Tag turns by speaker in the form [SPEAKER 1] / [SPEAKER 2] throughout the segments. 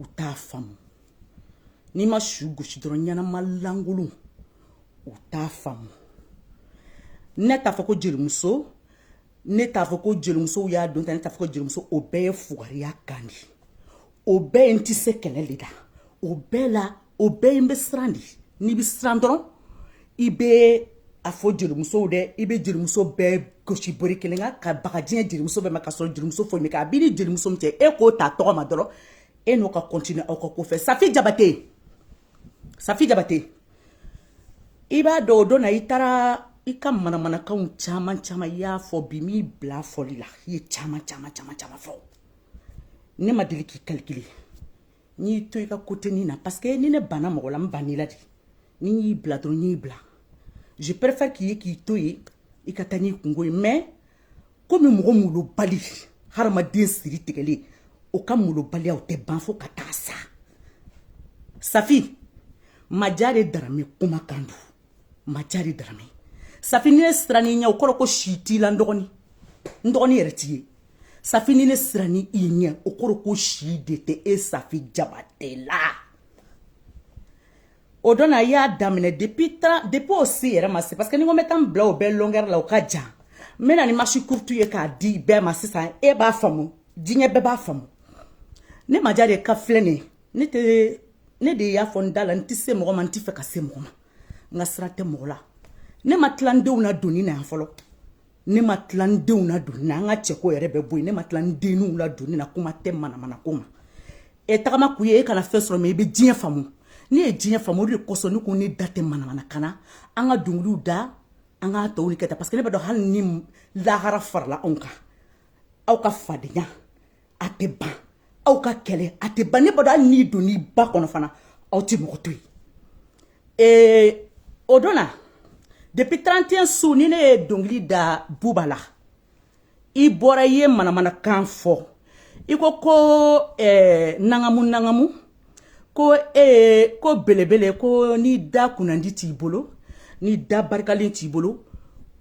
[SPEAKER 1] u t'a faamu n'i ma su gosi dɔrɔn ɲɛnama lankolon u t'a faamu ne t'a fɔ ko jelimuso ne t'a fɔ ko jelimusow y'a don ta ne t'a fɔ ko jelimuso o bɛɛ ye fugariya kan de o bɛɛ ye n tɛ se kɛlɛ de la o bɛɛ la o bɛɛ i bɛ siran de n'i bɛ siran dɔrɔn i bɛ a fɔ jelimusow dɛ i bɛ jelimuso bɛɛ gosi bere kelen kan ka baga diɲɛ jelimuso bɛɛ ma ka sɔrɔ jelimuso foyi min kɛ a b'i ni jelimuso min cɛ e k'o ta tɔgɔ ma dɔrɔn e n'o ka kɔntini aw ka ko fɛ safi jabate safi jabate i b'a dɔn o don na i taara i ka manamanakanw caman caman i y'a fɔ bi m'i bila fɔli la i ye caman caman caman caman fɔ ne ma deli k'i kalikili n y'i to i ka côté nin na parce que ni ne banna mɔgɔ la n banna i la de ni n y'i bila dɔrɔn n y'i bila je préfère k'i ye k'i to yen i ka taa n'i kunko ye mais komi mɔgɔ molobali haramuden siri tigɛlen o ka molobaliya o tɛ ban fo ka taa sa safi majare darame kuma kan don majare darame safi ni ne siranna i ɲɛ o kɔrɔ ko si t'i la n dɔgɔnin n dɔgɔnin yɛrɛ t'i ye safi ni ne siranna i ɲɛ o kɔrɔ ko si de tɛ e safi jabate la o don na i y'a daminɛ depuis tan depuis o se yɛrɛ ma se parce que ni n ko n bɛ taa n bila o bɛɛ longueur la o ka jan n bɛna ni masi kurutu ye k'a di bɛɛ ma sisan e b'a faamu diɲɛ bɛɛ b'a faamu ne majare ka filɛ nin ye ne tɛ ne de y'a fɔ n da la n tɛ se mɔgɔ ma n tɛ fɛ ka se mɔgɔ ma n ka sira tɛ mɔgɔ la ne ma tila n denw ladonni na yan fɔlɔ ne ma tila n denw ladonni na an ka cɛko yɛrɛ bɛ bɔ yen ne ma tila n denninw ladonni na kuma tɛ manamana ko ma e tagama kun ye e kana fɛn sɔrɔ mais i bɛ diɲɛ faamu ne ye diɲɛ faamu o de kosɔn ne ko ne da tɛ manamanakan na an ka dɔnkiliw da an ka tɔw ni kɛ ta parce que ne b'a dɔn hali ni lahara farala anw kan aw ka fadenya a tɛ ban aw ka kɛlɛ a tɛ ban ne b'a dɔn hali n'i donna i ba kɔnɔ fana aw tɛ mɔgɔ to yen ee o don na depuis 31 su ni ne ye dɔnkili da buba la i bɔra i ye manamanakan fɔ i ko ko ɛɛ nangamu nangamu ko ee ko belebele ko ni da kunnandi t'i bolo ni da barikalen t'i bolo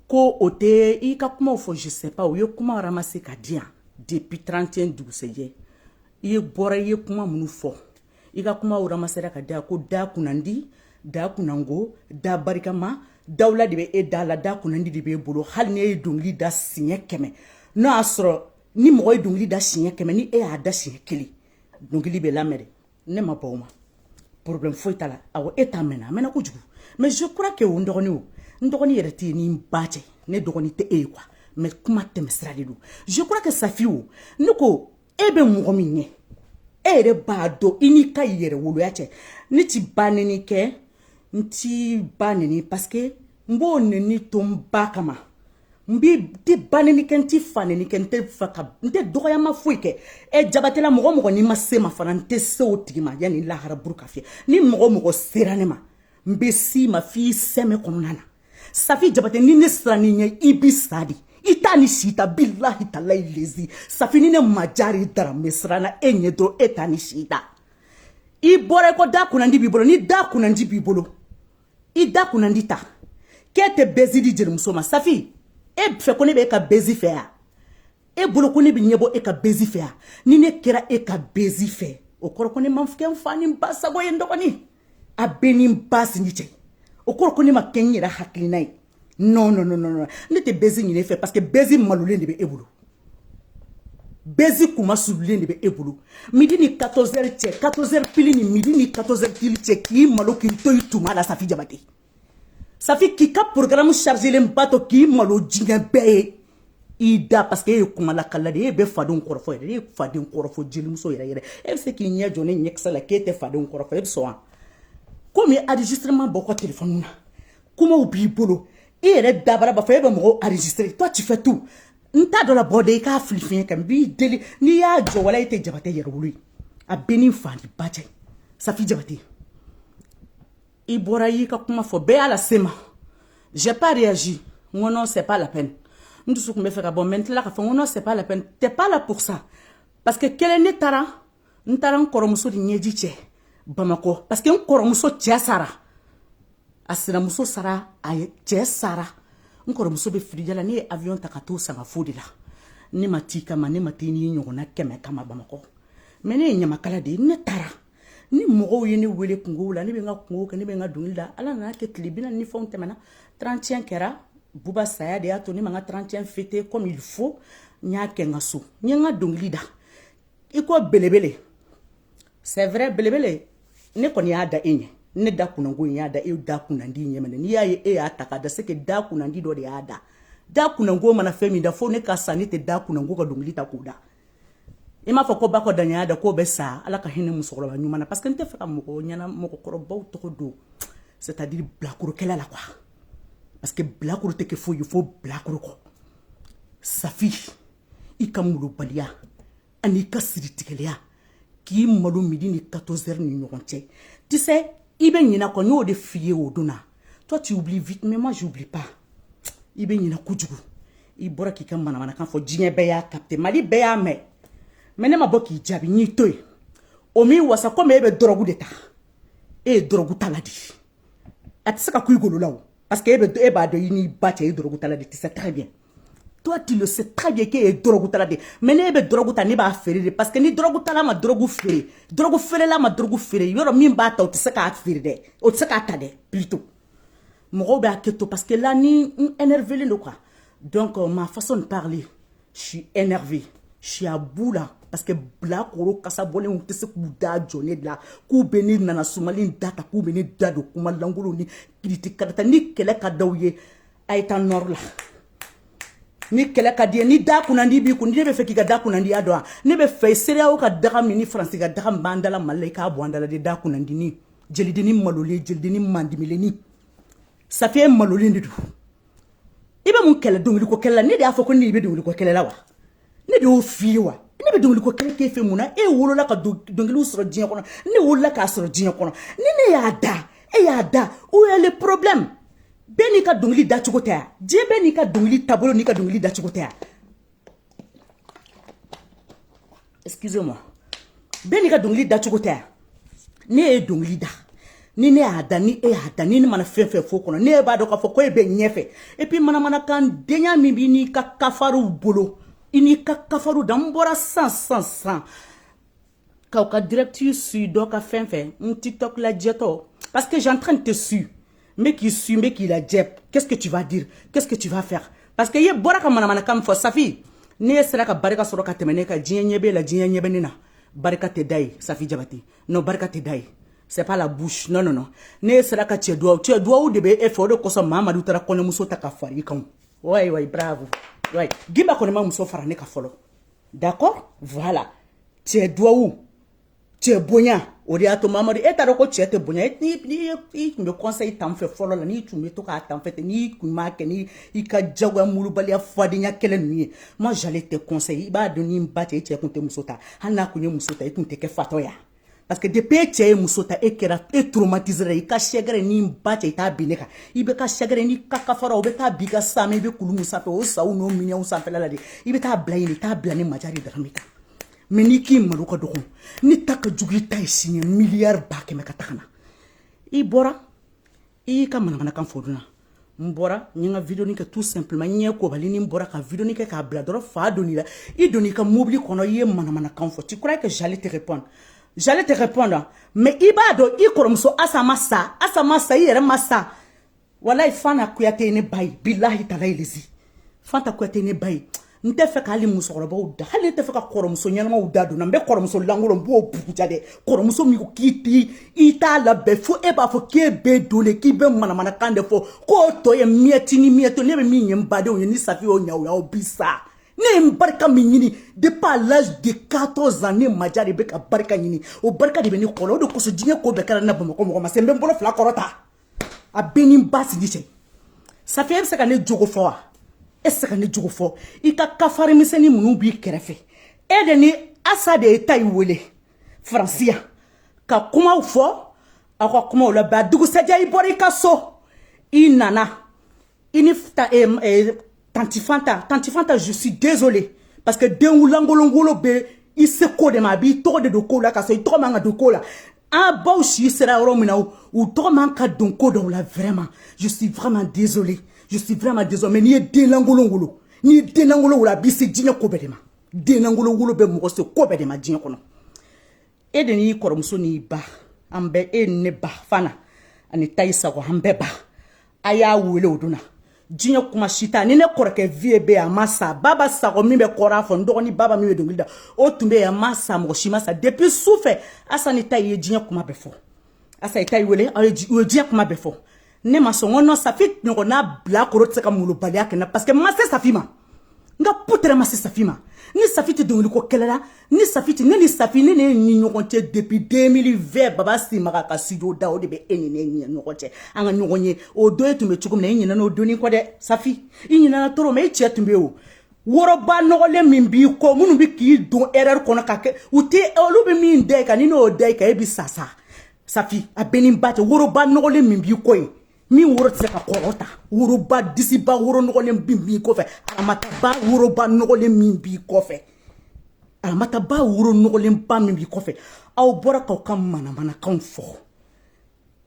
[SPEAKER 1] ko o tɛ i ka kuma fɔ zsɛp u ye kuma ma se ka diya depuis trente dugusɛjɛ i bɔra i ye kuma minnu fɔ i ka kuma ma sera ka da ko da kunnandi da kunko da barikama dawula de bɛ e da la da kunnandi de b'e bolo hali ni e ye dɔnkili da siɲɛ kɛmɛ n'o y'a sɔrɔ ni mɔgɔ ye dɔnkili da siɲɛ kɛmɛ ni e y'a da siɲɛ kelen dɔnkili bɛ lamɛn de ne ma ban o ma problème foyi t'a la awɔ e ta mɛnna a mɛnna kojugu mais je crois que o n dɔgɔnin o n dɔgɔnin yɛrɛ tɛ yen ni n ba cɛ ne dɔgɔnin tɛ e ye quoi mais kuma tɛmɛsira de don je crois que safi o ne ko e bɛ mɔgɔ min ɲɛ e yɛrɛ b'a dɔn i n'i ka yɛrɛwoloya cɛ ne t'i ba nɛni kɛ n t'i ba nɛni parce que n b'o nɛni to n ba kama n b'i tɛ ba nɛni kɛ n tɛ fa nɛni kɛ n tɛ fa ka n tɛ dɔgɔyama foyi kɛ ɛ jabatɛla mɔgɔ o mɔgɔ n'i ma se n ma fana n tɛ se o tigi ma yanni lahara buru ka fiyɛ ni mɔgɔ o mɔgɔ sera ne ma n bɛ s'i ma f'i sɛmɛ kɔnɔna na safi jabatɛ ni ne siranna i ɲɛ i bi sa de i t'a ni si ta bilahi talayi lezi safi ni ne majari dara n bɛ siranna e ɲɛ dɔrɔn e t'a ni si ta i bɔra i ko da kunnandi b'i bolo ni da kunnandi b'i bolo i da kunnandi ta k'e tɛ buzz di jelimuso ma safi e fɛ ko ne bɛ e ka buzz fɛ ya e bolo ko ne bɛ ɲɛbɔ e ka buzz fɛ ya ni ne kɛra e ka buzz fɛ o kɔrɔ ko ne ma kɛ n fa ni n ba sago ye n dɔgɔnin a bɛ n ni n ba sinji cɛ o kɔrɔ ko ne ma kɛ n yɛrɛ hakilina ye non non non non ne tɛ buzz ɲini e fɛ parce que buzz malolen de bɛ e bolo buzz kuma sululen de bɛ e bolo midi ni 14 heures cɛ 14 heures pile ni midi ni 14 heures pile cɛ k'i malo k'i to i tuma la safi jabate safi k'i ka programme chargelen ba to k'i malo diɲɛ bɛɛ ye i da parce que e ye kuma lakala de ye e bɛ fadenw kɔrɔfɔ yɛrɛ e ye faden kɔrɔfɔ jelimuso yɛrɛ yɛrɛ e bɛ se k'i ɲɛ jɔ ne ɲɛkisɛ la k'e tɛ fadenw kɔrɔfɔ e bɛ sɔn wa komi enregistrement bɔ kɔ telefɔni na kumaw b'i bolo i yɛrɛ dabara b'a fɔ e bɛ mɔgɔw enregistré toi tu fais tout n ta dɔ labɔ de i k'a fili fiɲɛ kan n b'i deli n'i y'a jɔ wala e tɛ jabate yɛrɛwolo ye a b'i n'i fa n'i ba cɛ safi jabate i bɔra i y'i ka kuma fɔ bɛɛ y'a lase n ma j'ai pas réagi n ko non c'est pas la peine n dusu tun bɛ fɛ ka bɔ mais n tilala k'a fɔ n ko non c'est pas la peine t'es pas là pour ça parce que kelen ne taara n taara n kɔrɔmuso de ɲɛji cɛ bamakɔ parce que n kɔrɔmuso cɛ sara a sinamuso sara a cɛ sara n kɔrɔmuso bɛ firiya la ne ye avion ta ka t'o sangafo de la ne ma t'i kama ne ma t'i n'i ɲɔgɔnna kɛmɛ kama bamakɔ mais ne ye ɲamakala de ye ne taara ni mɔgɔw ye ne wele kunkow la ne bɛ n ka kunkow kɛ ne bɛ n ka dongili da ala nan'a kɛ tile bi ni fɛnw tɛmɛna 31 kɛra buba saya de y'a to ne ma n ka 31 fêter comme il faut n y'a kɛ n ka so n ye n ka dongili da i ko belebele c'est vrai belebele ne kɔni y'a da e ɲɛ ne da kunnango in y'a da e da kunnandi ɲɛ minɛ n'i y'a ye e y'a ta k'a da c'est que da kunnandi dɔ de y'a da da kunnango mana fɛn min da fo ne ka sa ne tɛ da kunnango ka dɔnkili ta k'o da i m'a fɔ ko bakɔ daɲɔ y'a da k'o bɛ sa ala ka hinɛ musokɔrɔba ɲuman na parce que n tɛ fɛ ka mɔgɔ ɲɛna mɔgɔkɔrɔbaw tɔgɔ don c'est à dire bilakorokɛla la quoi parce que bilakoro tɛ kɛ foyi ye fo bilakoro kɔ safi i ka malobaliya an'i ka siritigɛlɛya k'i malo midi ni 14 heures ni ɲɔgɔn cɛ tu sais i bɛ ɲina kɔ n y'o de f'i ye o don na toi tu oublies vite mais moi j'oublie pas i bɛ ɲina kojugu i bɔra k'i ka manamanakan fɔ diɲɛ bɛɛ y'a capte mali bɛɛ y'a mɛn mais ne ma bɔ k'i jaabi n y'i to yen o m'i wasa komi e bɛ dɔrɔgu de ta e ye dɔrɔgu tala de a tɛ se ka kun i golo la o parce que e b'a dɔn i n'i ba cɛ i dɔrɔgu tala de tu sais très bien toi tu le sais très bien k'e ye dɔrɔgutala de mais ne tɛ dɔrɔgu ta ne b'a feere de parce que ni dɔrɔgutala ma dɔrɔgu feere dɔrɔgu feerela ma dɔrɔgu feere mɔgɔ min b'a ta o tɛ se k'a feere dɛ o tɛ se k'a ta dɛ plutôt mɔgɔw b'a hakɛ to parce que là ne énervelen don quoi donc euh, ma façon de parler je suis énervée je suis à bout là parce que bilakoro kasa bɔlenw tɛ se k'u da jɔ ne la k'u bɛ ne nana sumalen da ta k'u bɛ ne da don kuma lankolon ni kiriti karata ni kɛlɛ ka daw ye a ye taa nord la ni kɛlɛ ka di ni da kunnandi b'i kun ne b'a fɛ k'i ka da kunnandiya dɔn ne b'a fɛ cedeao ka daga min ni faransi ka daga min b'an dala mali i k'a bɔ an dala de da kunnandini jelidini malolen jelidini mandimilenni safiye malolen de don i bɛ mun kɛlɛ dɔnkili ko kɛlɛ la ne de y'a fɔ ko n'i bɛ dɔnkili ko kɛlɛ la wa ne de y'o f'i ye wa ne bɛ dɔnkili ko kɛlɛ k'e fɛ mun na e wolola ka dɔnkiliw sɔrɔ diɲɛ kɔnɔ ne wolola k'a sɔrɔ diɲɛ kɔnɔ ni ne y'a da e y'a da où est le problème bɛɛ n'i ka dɔnkili dacogo tɛ yan diɲɛ bɛɛ n'i ka dɔnkili taabolo n'i ka dɔnkili dacogo tɛ yan excusez moi bɛɛ n'i ka dɔnkili dacogo tɛ yan ne ye dɔnkili da ni ne y'a da ni e y'a da ni ne mana fɛn fɛn fɔ kɔnɔ ne e b'a dɔn k'a fɔ ko e bɛ ɲɛfɛ et puis manamanakan denya min b'i n'i ka kafariw bolo i n'i ka kafariw da n bɔra sisan sisan sisan k'aw ka direct suivre dɔ ka fɛn fɛn n tiktok lajɛtɔ parce que j'entrain de te su n bɛ k'i suivre n bɛ k'i lajɛ qu'est-ce que tu vas dire qu'est-ce que tu vas faire parce que e bɔra ka manamanakan min fɔ safi n'e sera ka barika sɔrɔ ka tɛmɛ ne kan diɲɛ ɲɛ b'e la diɲɛ ɲɛ bɛ ne na barika tɛ da ye safi jabate non barika tɛ da ye c'est pas la bouche non non non n'e sera ka cɛ duwawu cɛ duwawu de bɛ e fɛ o de kosɔn mamadu taara kɔɲɔmuso ta ka fara i kan wayi wayi bravo wayi gimba kɔni ma muso fara ne kan fɔlɔ d'accord voilà cɛ duwawu cɛ bonya o de y'a to mamadu e taara ko cɛ tɛ bonya e, i tun bɛ conseil ta n fɛ fɔlɔ la n'i tun bɛ to k'a ta n fɛ ten n'i tun b'a kɛ ni i ka jagoya murubaliya fadenya kɛlɛ ninnu ye ma jale tɛ conseil i b'a dɔn i n'i ba cɛ i cɛ tun tɛ muso ta hali n'a tun ye muso ta i tun tɛ kɛ fatɔ ye parce que depuis e cɛ ye muso ta e kɛra e traumatisera i ka sɛgɛrɛ ni ba cɛ i t'a bin ne kan i bɛ ka sɛgɛrɛ ni ka kafara o bɛ taa bi ka saama i bɛ kulu min sanfɛ o saw n'o minɛnw sanfɛla la de i bɛ taa bila yen i t'a bila ne maja de dara min kan mais n'i k'i malo ka dɔgɔn ne ta ka jugu i ta ye siɲɛ miliyari ba kɛmɛ ka taga na i bɔra i y'i ka manamanakan fɔ dun na n bɔra n ye n ka vidéonin kɛ tout simplement n ɲɛ kobalini n bɔra ka vidéonin kɛ k'a bila dɔrɔn fa donna i la i donna i ka mobili kɔnɔ i ye manamanakan fɔ tu crois que j'allais te répondre j'allais te répondre mais i b'a dɔn i kɔrɔmuso asa ma sa asa ma sa i yɛrɛ ma sa walayi fanta kuyate ye ne ba ye bilahi talayi lezi fanta kuyate ye ne ba ye n t'a fɛ ka hali musokɔrɔbaw da hali ne t'a fɛ ka kɔrɔmuso ɲɛnamaw da donna n bɛ kɔrɔmuso lankolon n b'o buguja dɛ kɔrɔmuso min ko k'i ti i t'a labɛn fo e b'a fɔ k'e bɛ don de k'i bɛ manamanakan de fɔ k'o tɔgɔ ye miyɛti ni miyɛto ne bɛ min ye n badenw ye ni safi y'o ɲa o y'aw bi sa ne ye n barika min ɲini depuis à l'âge de 14 ans ne maja de bɛ ka barika ɲini o barika de bɛ ne kɔrɔ o de kosɔn diɲɛ ko bɛɛ kɛra ne na bamakɔ mɔgɔ ma se n bɛ n bolo fila kɔrɔta a b'e n'i ba sinji cɛ safi e bɛ se ka ne jogo fɔ wa e se ka ne jogo fɔ i ka kafiri misɛnnin minnu b'i kɛrɛfɛ e de ni asa de ye tayi wele faransi a ka kumaw fɔ aw ka kumaw laban dugusajɛ i bɔra i ka so i nana i ni ta, eh, eh, tanti fanta tanti fanta je suis désolé parce que denlankolon wolo bɛ i se ko de ma a b'i tɔgɔ de don ko la ka sɔrɔ i tɔgɔ man ka don ko la an baw si sera yɔrɔ min na u tɔgɔ man ka don ko dɔw la vraiment je suis vraiment désolé je suis vraiment désolé mais n'i ye denlankolon wolo n'i ye denlankolon wolo a b'i se diɲɛ ko bɛɛ de ma denlankolon wolo bɛ mɔgɔ se ko bɛɛ de ma diɲɛ kɔnɔ e de n'i kɔrɔmuso n'i ba an bɛɛ e ni ne ba fana ani tayi sago an bɛɛ ba a y'a wele o donna diɲɛ kuma si t'a ni ne kɔrɔkɛ vieux bɛ yan a ma sa baba sago min bɛ kɔra fɔ n dɔgɔnin baba min bɛ dɔnkili da o tun bɛ yan a ma sa mɔgɔ si ma sa depuis su fɛ asa ni ta ye diɲɛ kuma bɛɛ fɔ asa ye tayi wele u ye diɲɛ kuma bɛɛ fɔ ne ma sɔn n ko non safi ɲɔgɔnna bilakoro tɛ se ka molobaliya kɛ n na parce que n ma se safi ma n ka ko tɛrɛ ma se safi ma ni safi tɛ dɔnkili ko kɛlɛ la ni safi tɛ ne ni safi ne ne ni ɲɔgɔn cɛ depuis 2020 baba simaga ka studio da o de bɛ e ni ne ni ɲɔgɔn cɛ an ka ɲɔgɔn ye o don e tun bɛ cogo min na i ɲinɛna o don in kɔ dɛ safi i ɲinɛna toro mɛ i cɛ tun bɛ o woroba nɔgɔlen min b'i kɔ minnu bɛ k'i don erreur kɔnɔ ka kɛ u tɛ olu bɛ min da i kan ni n'o da i kan e bɛ sa sa safi a b'e n'i ba cɛ woroba nɔgɔlen min b'i kɔ ye min woro tɛ se ka kɔrɔta woroba disiba woro nɔgɔlen min b'i kɔfɛ aramataba woroba nɔgɔlen min b'i kɔfɛ aramataba woro nɔgɔlenba min b'i kɔfɛ aw bɔra k'aw ka manamanakanw fɔ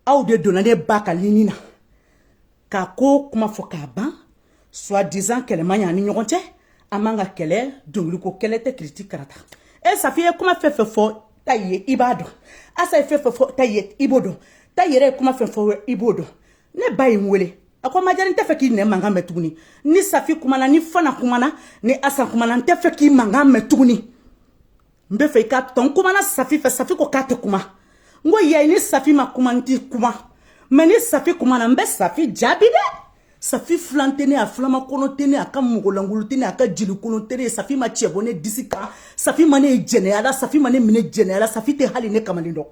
[SPEAKER 1] aw de donna ne ba ka lini na k'a ko kuma fɔ k'a ban soit disant kɛlɛ man ɲi an ni ɲɔgɔn cɛ an man ka kɛlɛ dɔnkiliko kɛlɛ tɛ kiriti karata e safi ye kuma fɛn fɛn fɔ ta ye i b'a dɔn asan ye fɛn fɛn fɔ ta ye i b'o dɔn ta yɛrɛ ye kuma fɛn fɔ i b'o dɔn ne ba ye n wele a ko majare n tɛ fɛ k'i mankan mɛn tuguni ni safi kumana ni fana kumana ni asan kumana n tɛ fɛ k'i mankan mɛn tuguni n bɛ fɛ i k'a to n kumana safi fɛ safi ko k'a tɛ kuma n ko yayi ni safi ma kuma n tɛ kuma mɛ ni safi kumana n bɛ safi jaabi dɛ safi filan tɛ ne a filama kɔnɔ tɛ ne a ka mɔgɔlankolon tɛ ne a ka jelikolon tɛ ne ye safi ma cɛ bɔ ne disi kan safi ma ne ye jɛnɛya la safi ma ne minɛ jɛnɛya la safi tɛ hali ne kamalen dɔn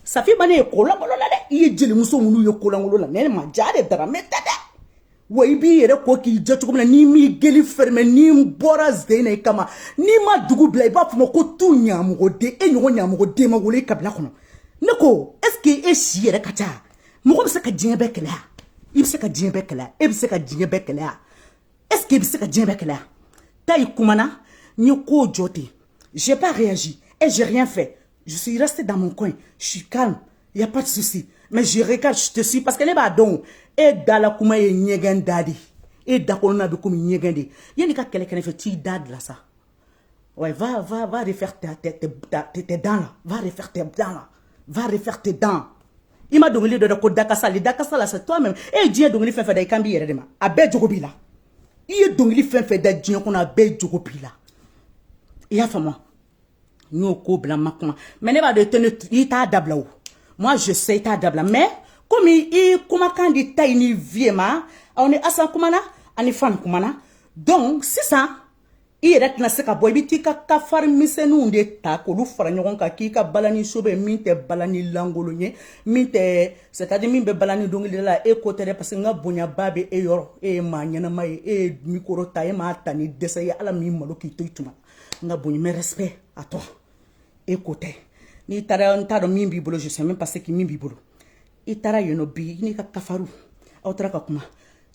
[SPEAKER 1] safi ma ne ye kolankolon la dɛ i ye jelimuso minnu ye kolankolon la ne majare darame tɛ dɛ wa i b'i yɛrɛ ko k'i jɛ cogo min na n'i m'i gueule fermer ni n bɔra zen na i kama n'i ma dugu bila i b'a fɔ n ma ko tu ɲamɔgɔden e ɲɔgɔn ɲamɔgɔden ma wolo i kabila kɔnɔ ne ko est ce que e si yɛrɛ ka ca mɔgɔ bɛ se ka diɲɛ bɛɛ kɛlɛya i bɛ se ka diɲɛ bɛɛ kɛlɛya e bɛ se ka diɲɛ bɛɛ kɛlɛya est ce que i bɛ se ka diɲɛ bɛɛ kɛlɛya ta i kumana n ye ko jɔ ten j'ai pas réagi et j'ai rien fait je suis restée dans mon coin je suis calme il y a pas de souci mais je regarde je te suis parce que ne b'a dɔn e dala kuma ye ɲɛgɛn da de e dakɔnɔna bɛ komi ɲɛgɛn de yanni i ka kɛlɛ kɛ ne fɛ t'i da dila sa ouais va va va refaire tes tes tes tes dents là va refaire tes dents là va refaire tes dents i ma dɔnkili dɔ da ko dakasa le dakasa là c'est toi même e ye diɲɛ dɔnkili fɛn fɛn da i kan b'i yɛrɛ de ma a bɛɛ jogo b'i la i ye dɔnkili fɛn fɛn da diɲɛ kɔnɔ a bɛɛ jogo b'i la i y'a faamu n y'o ko bila n ma kuma mɛ ne b'a dɔn i tɛna i t'a dabila o moi je sais i t'a dabila mɛ komi i kumakan di ta i ni vie ma aw ni asan kumana ani fana kumana donc sisan i yɛrɛ tɛna se ka bɔ i bɛ t'i ka kafari misɛnninw de ta k'olu fara ɲɔgɔn kan k'i ka balani show bɛ min tɛ balani lankolon ye min tɛ c'est à dire min bɛ balani dɔnkilida la e ko tɛ dɛ parce que n ka bonyaba bɛ e yɔrɔ e ye maa ɲɛnama ye e ye mikoro ta e m'a ta ni dɛsɛ ye ala min malo k'i to i tuma n ka bonya mes respects a tɔ e ko tɛ n'i taara n t'a dɔn min b'i bolo je sais même pas ce qui min b'i bolo i taara yen nɔ bi n'i ka kafaru aw taara ka kuma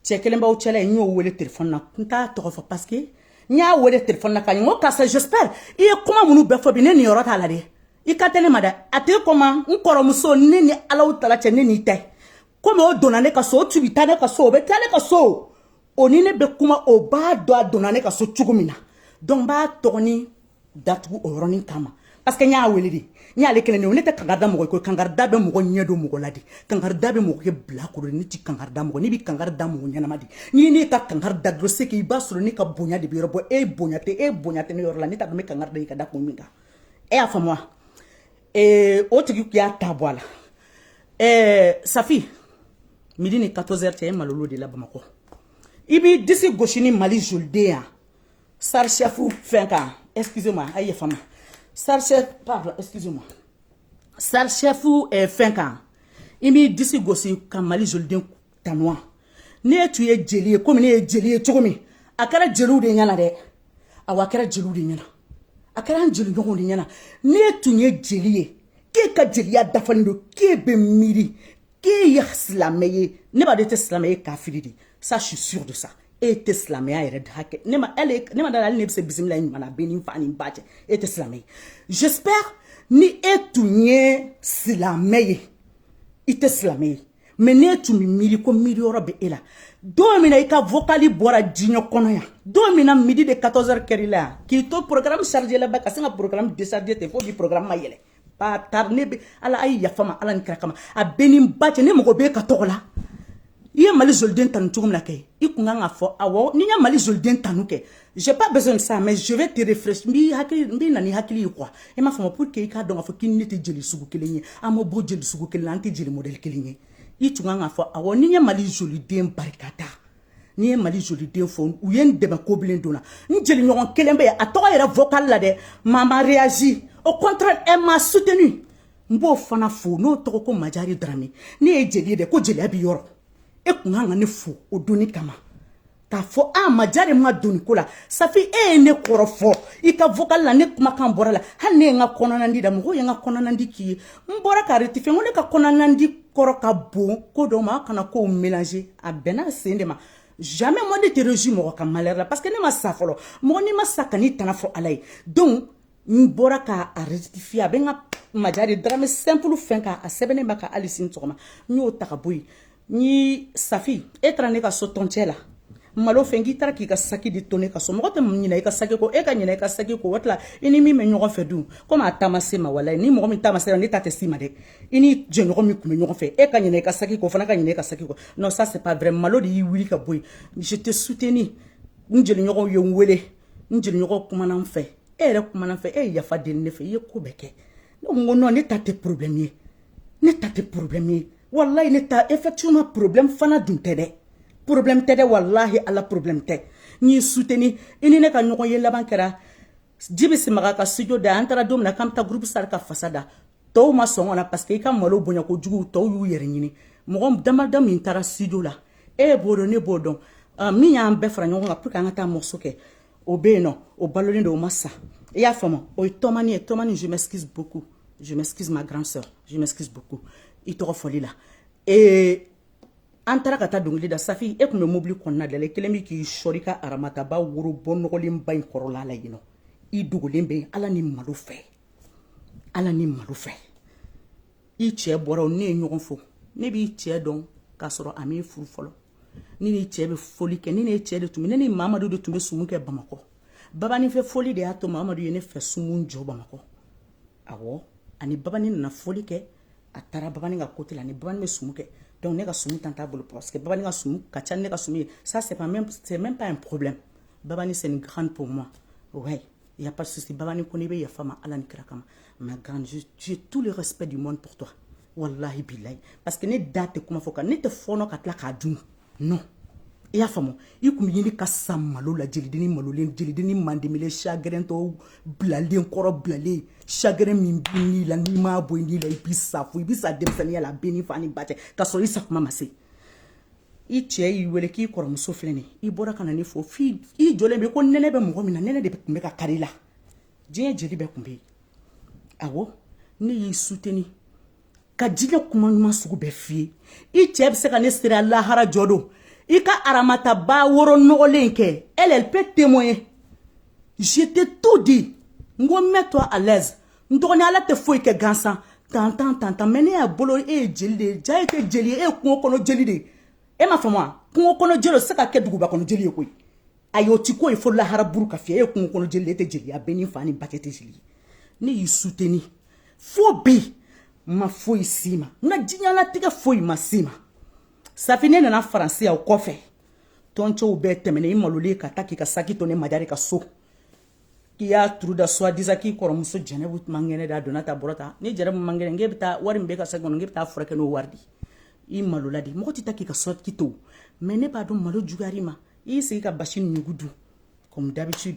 [SPEAKER 1] cɛ kelen b'aw cɛla yen n y'o wele telefɔni na n t'a tɔgɔ fɔ parce que n y'a wele telefɔni na ka ɲɛ n ko karisa j'espère i ye kuma minnu bɛɛ fɔ bi ne niyɔrɔ t'a la dɛ i kan tɛ ne ma dɛ a tɛ kɔma n kɔrɔmuso ne ni alahutala cɛ ne n'i tɛ komi o donna ne ka so o tun bɛ taa ne ka so o bɛ taa ne ka so o ni ne bɛ kuma o b'a dɔn a donna ne ka so cogo min na donc n b'a tɔgɔni datugu o yɔrɔnin kama parce que n y'a wele de n y'ale kelen de ne tɛ kankarida mɔgɔ kɔ kankarida bɛ mɔgɔ ɲɛ don mɔgɔ la de kankarida bɛ mɔgɔ kɛ bilakoro ne ti kankarida mɔgɔ ne bi kankarida mɔgɔ ɲɛnama de ni ne ka kankari da dɔrɔn c'est que i b'a sɔrɔ ne ka bonya de b'e yɔrɔ bon e bonya tɛ e bonya tɛ ne yɔrɔ la ne t'a dɔn n bɛ kankari da i ka da kun min kan e y'a faamu wa ee o tigi tun y'a ta bɔ a la ɛɛ safi midi ni 14 heures cɛ ye malolo de la bamakɔ i b'i disi gosi ni mali joliden yan sarisiyafu fɛn kan excuse moi a ye yafa n ma sarisiyɛ pardon excuse moi sarisiyafu eh, fɛn kan i b'i disi gosi ka mali joliden tan ne tun ye jeli ye komi ne ye jeli ye cogo min a kɛra jeliw de ɲɛna dɛ a wa kɛra jeliw de ɲɛna a kɛra an jeli ɲɔgɔn de ɲɛna ne tun ye jeli ye k'e ka jeliya dafalen don k'e bɛ miiri k'e ye silamɛ ye ne b'a dɔn e tɛ silamɛ ye kafiri de sa je suis sûre de ça e tɛ silamɛya yɛrɛ da hakɛ ne ma hali ne ma da a la hali n'e bɛ se bisimila ɲuman na bɛ ni fa ni ba cɛ e tɛ silamɛ ye j'espère ni e tun ye silamɛ ye i tɛ silamɛ ye mais ne tun bɛ miiri ko miiriyɔrɔ bɛ e la don min na i ka vokali bɔra diɲɛ kɔnɔ yan don min na midi ni 14 heures la yan k'i to porokaramu sarijɛla ba ka sin ka porokaramu desarije ten fo bi porokaramu ma yɛlɛ ba taari ne bɛ ala a ye yafa n ma ala ni kira kama a bɛ ni ba cɛ ne mago bɛ ka tɔgɔ la i ye mali zoliden tanu cogo min na kɛ i tun kan k'a fɔ awɔ n'i ye mali zoliden tanu kɛ J'ai pas besoin de ça, mais je vais te rafraîchir. N b'i hakili, n bɛ na n'i hakili ye quoi. E ma fama pour que i k'a dɔn k'a fɔ k'i ni ne tɛ jeli sugu kelen ye. An ma bɔ jeli sugu kelen na, an tɛ jeli modèle kelen ye. I tun kan k'a fɔ awɔ n'i ye Mali joliden barika ta. N'i ye Mali joliden fo, u ye n dɛmɛ ko bilen don na. N jeli ɲɔgɔn kelen bɛ yen, a tɔgɔ yɛrɛ vocal la dɛ. Mais a ma réagir. Au contraire, elle m'a soutenu. N b'o fana fo, n'o tɔgɔ ko Majare Darame. Ne ye jeli ye dɛ, ko jeliya b'i yɔrɔ. E tun kan ka ne fo o don in kama. k'a fɔ a ah, majare ma don nin ko la safi e ye ne kɔrɔfɔ i ka vocal la ne kumakan bɔra la hali ne ye n ka kɔnɔnandi da mɔgɔw ye n ka kɔnɔnandi k'i ye n bɔra k'a rectifier ko ne ka kɔnɔnandi kɔrɔ ka bon ko dɔ ma a kana kow mélange a bɛnna a sen de ma jamais moi ne tɛ réjouir mɔgɔ ka malheur la parce que ne ma sa fɔlɔ mɔgɔ n'i ma sa kan'i tana fɔ ala ye donc n bɔra k'a rectifier a bɛ n ka majare darame simple fɛn kan a sɛbɛnnen b'a kan hali sini sɔgɔma n t'o ta ka bɔ yen n ye safi e taara ne ka so tɔncɛ la malo fɛn k'i taara k'i ka saki de to ne ka so mɔgɔ tɛ ɲinɛ i ka saki kɔ e ka ɲinɛ i ka saki kɔ o tila i ni min bɛ ɲɔgɔn fɛ dun komi a taama se ma walayi ni mɔgɔ min taama sera ne ta tɛ s'i ma dɛ i ni jɛɲɔgɔn min tun bɛ ɲɔgɔn fɛ e ka ɲinɛ i ka saki kɔ o fana ka ɲinɛ i ka saki kɔ non ça c'est pas vrai malo de y'i wuli ka bɔ yen je t'ai soutenu n jeliɲɔgɔnw ye n wele n jeliɲɔgɔn kumana n fɛ e yɛrɛ kumana n fɛ e ye yafa deli ne fɛ i ye ko bɛɛ kɛ ne ko ko non ne ta tɛ problème ye ne ta tɛ problème ye walayi ne ta effectivement problème fana dun tɛ dɛ problème tɛ dɛ walahi ala problème tɛ n y'i soutenu i ni ne ka ɲɔgɔnye laban kɛra jibi simaga ka studio da an taara don min na k'an bɛ taa groupe sara ka fasa da tɔw ma sɔn ka na parce que i ka malo bonya kojugu tɔw y'u yɛrɛ ɲini mɔgɔ damada min taara studio la e b'o dɔn ne b'o dɔn ah, min y'an bɛɛ fara ɲɔgɔn kan pour que an ka taa morceau kɛ o bɛ yen nɔ o balolen don o ma sa i y'a faamu o ye tɔmani ye tɔmani je m'excuse beaucoup je m'excuse ma grande sœur je m'excuse beaucoup i tɔgɔ fɔli la ee an taara ka taa dɔnkili da safi e tun bɛ mobili kɔnɔna da la i kelen bɛ k'i sɔri ka aramataba woro bɔ nɔgɔlenba in kɔrɔla la yen nɔ i dogolen bɛ yen ala ni malo fɛ ala ni malo fɛ i cɛ bɔra ne ye ɲɔgɔn fo ne b'i cɛ dɔn k'a sɔrɔ a m'i furu fɔlɔ ne n'i cɛ bɛ fɔli kɛ ne n'i cɛ de tun bɛ ne ni mamadu de tun bɛ sumu kɛ bamakɔ babani fɛ fɔli de y'a to mamadu ye ne fɛ sumu jɔ bamakɔ awɔ ani babani nana fɔli kɛ a taara babani ka côté la ni babani bɛ sumu kɛ donc ne ka sumu temps t'a bolo parce que babani ka sumu ka ca ne ka sumu ye ça c'est pas même c'est même pas un problème babani c'est une grande pour moi ouais Il n'y a pas de souci. Babani ko n'i bɛ yafa n ma Ala ni kira kama. Ma grande, je, j'ai tout le respect du monde pour toi. Wallahi bilahi. Parce que ne da tɛ kuma fɔ ka ne tɛ fɔɔnɔ ka tila k'a dun. Non. I y'a faamu i tun bɛ ɲini ka sa malo la jelidennin malolen jelidennin mandemelen chagrintɔ bilalen kɔrɔ bilalen chagrin min b'i ni la n'i m'a bɔ i ni la i bɛ sa fo i bɛ sa denmisɛnninya la a bɛn i fa n'i ba cɛ k'a sɔrɔ i sa kuma ma se i cɛ y'i wele k'i kɔrɔmuso filɛ nin i bɔra ka na ne fo fi i jɔlen bɛ ko nɛnɛ bɛ mɔgɔ min na nɛnɛ de tun bɛ ka kari la diɲɛ jeli bɛɛ tun bɛ yen awɔ ne y'i suteni ka diɲɛ kuma ɲuman sugu bɛɛ f'i ye i cɛ bɛ se ka ne seereya lahara jɔ don i ka aramataba woro nɔgɔlen kɛ elle peut témoigner je t'ai tout dit n ko mets-toi à l'aise n dɔgɔnin ala tɛ foyi kɛ gansan tantan tantan mais ne y'a bolo e ye jeli de ye ja ye kɛ jeli ye e ye kungo kɔnɔ jeli de ye e ma faamu wa kungo kɔnɔ jeli o se ka kɛ duguba kɔnɔ jeli ye koyi ayi o tɛ ko ye fo lahara buru ka fiyɛ e ye kungo kɔnɔ jeli de e tɛ jeliya bɛɛ ni fa n'i ba kɛ tɛ jeli ye ne y'i suteni fo bi ma foyi si ma n ka diɲɛlatigɛ foyi ma si ma safi ne nana faransi yan o kɔfɛ tɔncɛw bɛɛ tɛmɛna i malolen ka taa k'i ka saki to ne madari ka so k'i y'a turu da soi-disant k'i kɔrɔmuso jɛnɛbu man kɛnɛ da donna ta bɔra ta ni jɛnɛbu man kɛnɛ k'e bɛ taa wari min b'i ka saki in kɔnɔ k'e bɛ taa a furakɛ n'o wari de ye i malola de mɔgɔ tɛ taa k'i ka sɔrɔtigi to mais ne b'a dɔn malo juguyara i ma i y'i sigi ka basi nugu dun comme d'habitude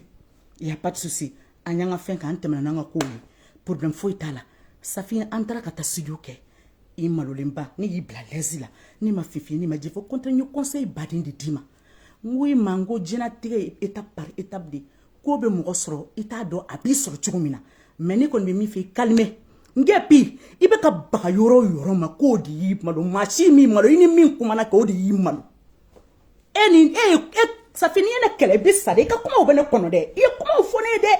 [SPEAKER 1] il y a pas de souci an y'an ka fɛn k'an tɛmɛna n'an ka kow ye problème foyi t'a la safi an taara ka taa studio kɛ i malolenba ne y'i bila à l'aise la ne ma fin fɔ ne ma jɛ fɔ au contraire n ye conseil baden de d'i ma n ko i ma n ko diɲɛlatigɛ ye étape par étape de ko bɛ mɔgɔ sɔrɔ i t'a dɔn a b'i sɔrɔ cogo min na mais ne kɔni bɛ min fɛ i kalime n kɛ bi i bɛ ka baga yɔrɔ o yɔrɔ ma k'o de y'i malo maa si m'i malo i ni min kumana kɛ o de y'i malo e ni e e safi n'i ye ne kɛlɛ i bɛ sa dɛ i ka kumaw bɛ ne kɔnɔ dɛ i ye kumaw fɔ ne ye dɛ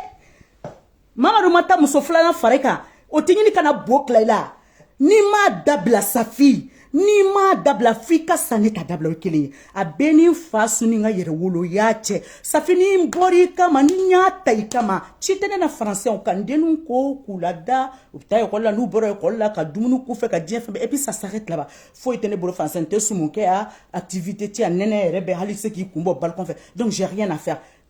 [SPEAKER 1] mamadu ma taa muso filanan fari kan o tɛ ɲini kana bo tila i la n'i m'a dabila safi n'i m'a dabila f'i ka sanni ka dabila o kelen ye a bɛɛ ni fa suni ka yɛrɛ wolo y'a cɛ safi ni n bɔra i kama ni n y'a ta i kama ci tɛ ne na faransi fo ka n denw ko k'u lada u bɛ taa ekɔli la n'u bɔra ekɔli la ka dumuni k'u fɛ ka diɲɛ fɛn bɛɛ et puis ça s'arrête là-bas foyi tɛ ne bolo faransi n tɛ sumu kɛ yan activité tɛ yan nɛnɛ yɛrɛ bɛ hali se k'i kun bɔ balcon fɛ donc j'ai rien à faire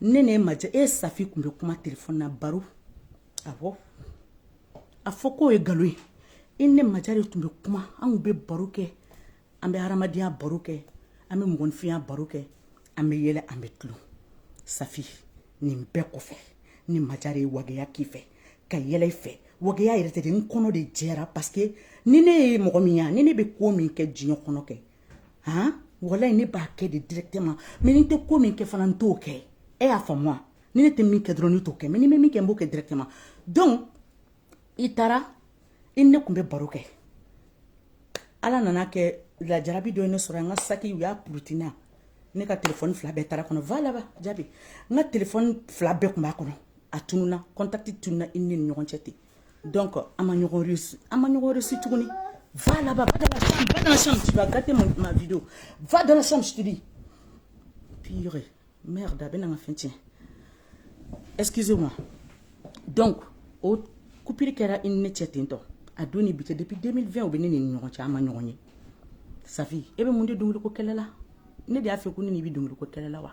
[SPEAKER 1] ne ne ma e safi tun bɛ kuma telefɔni na baro a fɔ a fɔ k'o ye nkalon ye i ne ma de tun bɛ kuma anw bɛ baro kɛ an bɛ hadamadenya baro kɛ an bɛ mɔgɔninfinya baro kɛ an bɛ yɛlɛ an bɛ tulon safi nin bɛɛ kɔfɛ ni ma de ye waya k'i fɛ ka yɛlɛ fɛ waya yɛrɛ tɛ n kɔnɔ de jɛra paseke ni ne ye mɔgɔ min ye ni ne bɛ ko min kɛ diɲɛ kɔnɔ kɛ han walayi ne b'a kɛ de directement mais ni n tɛ ko min kɛ fana n t'o kɛ e y'a faamu wa ni ne tɛ min kɛ dɔrɔn ne t'o kɛ mais ni n bɛ min kɛ n b'o kɛ directement donc i taara i ni ne tun bɛ baro kɛ ala nana kɛ lajarabi dɔ ye ne sɔrɔ n ka saki u y'a puruti n na ne ka telefɔni fila bɛɛ taara a kɔnɔ va là-bas jabi n ka telefɔni fila bɛɛ tun b'a kɔnɔ a tununa kɔntakiti tununa i ni ne ni ɲɔgɔn cɛ ten donc an ma ɲɔgɔn resi an ma ɲɔgɔn resi tuguni va là-bas va dans la chambre va dans la chambre tu vas gâter ma, ma vidéo va dans la chambre je te dis pire merde a bɛ na n ka fɛn tiɲɛ excusez moi donc o coupure kɛra i ni ne cɛ ten tɔ a don ni bi cɛ depuis 2020 o bɛ ne ni ɲɔgɔn cɛ an ma ɲɔgɔn ye safi e bɛ mun de dɔnkiliko kɛlɛ la ne de y'a fɔ ko ne n'i bɛ dɔnkiliko kɛlɛ la wa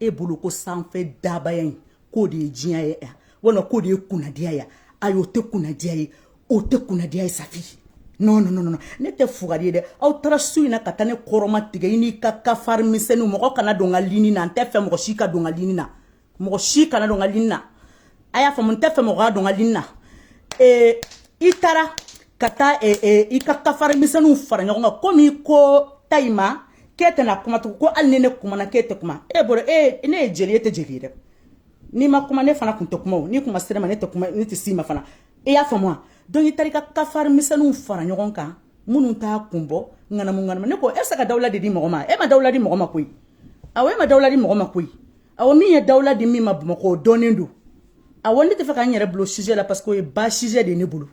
[SPEAKER 1] e bolo ko sanfɛ dabaya in k'o de ye diɲɛ ye yan walima k'o de ye kunnadiya ye ayi o tɛ kunnadiya ye o tɛ kunnadiya ye safi non non non non ne tɛ fugari ye dɛ aw taara su in na ka taa ne kɔrɔma tigɛ i n'i ka kafari misɛnninw mɔgɔ kana don n ka lini na n tɛ fɛ mɔgɔ si ka don n ka lini na mɔgɔ si kana don n ka lini na a y'a faamu n tɛ fɛ mɔgɔ ka don n ka lini na ee i taara ka taa i ka kafari misɛnninw fara ɲɔgɔn kan komi ko tayi ma k'e tɛna kuma tugun ko hali ni ne kumana k'e tɛ kuma e bolo e ne ye jeli ye e tɛ jeli ye dɛ n'i ma kuma ne fana kun tɛ kuma o n'i kuma sira ma ne tɛ kuma ne tɛ s'i ma fana i y'a faamu wa donc i taara i ka kafari misɛnninw fara ɲɔgɔn kan minnu t'a kun bɔ ŋanamu ŋanamu ne ko e bɛ se ka dawula de di mɔgɔ ma e ma dawula di mɔgɔ ma koyi awɔ e ma dawula di mɔgɔ ma koyi awɔ min ye dawula di min ma bamakɔ o dɔnnen don awɔ ne tɛ fɛ ka n yɛrɛ bila sujet la parce que o ye bas sujet de ye ne bolo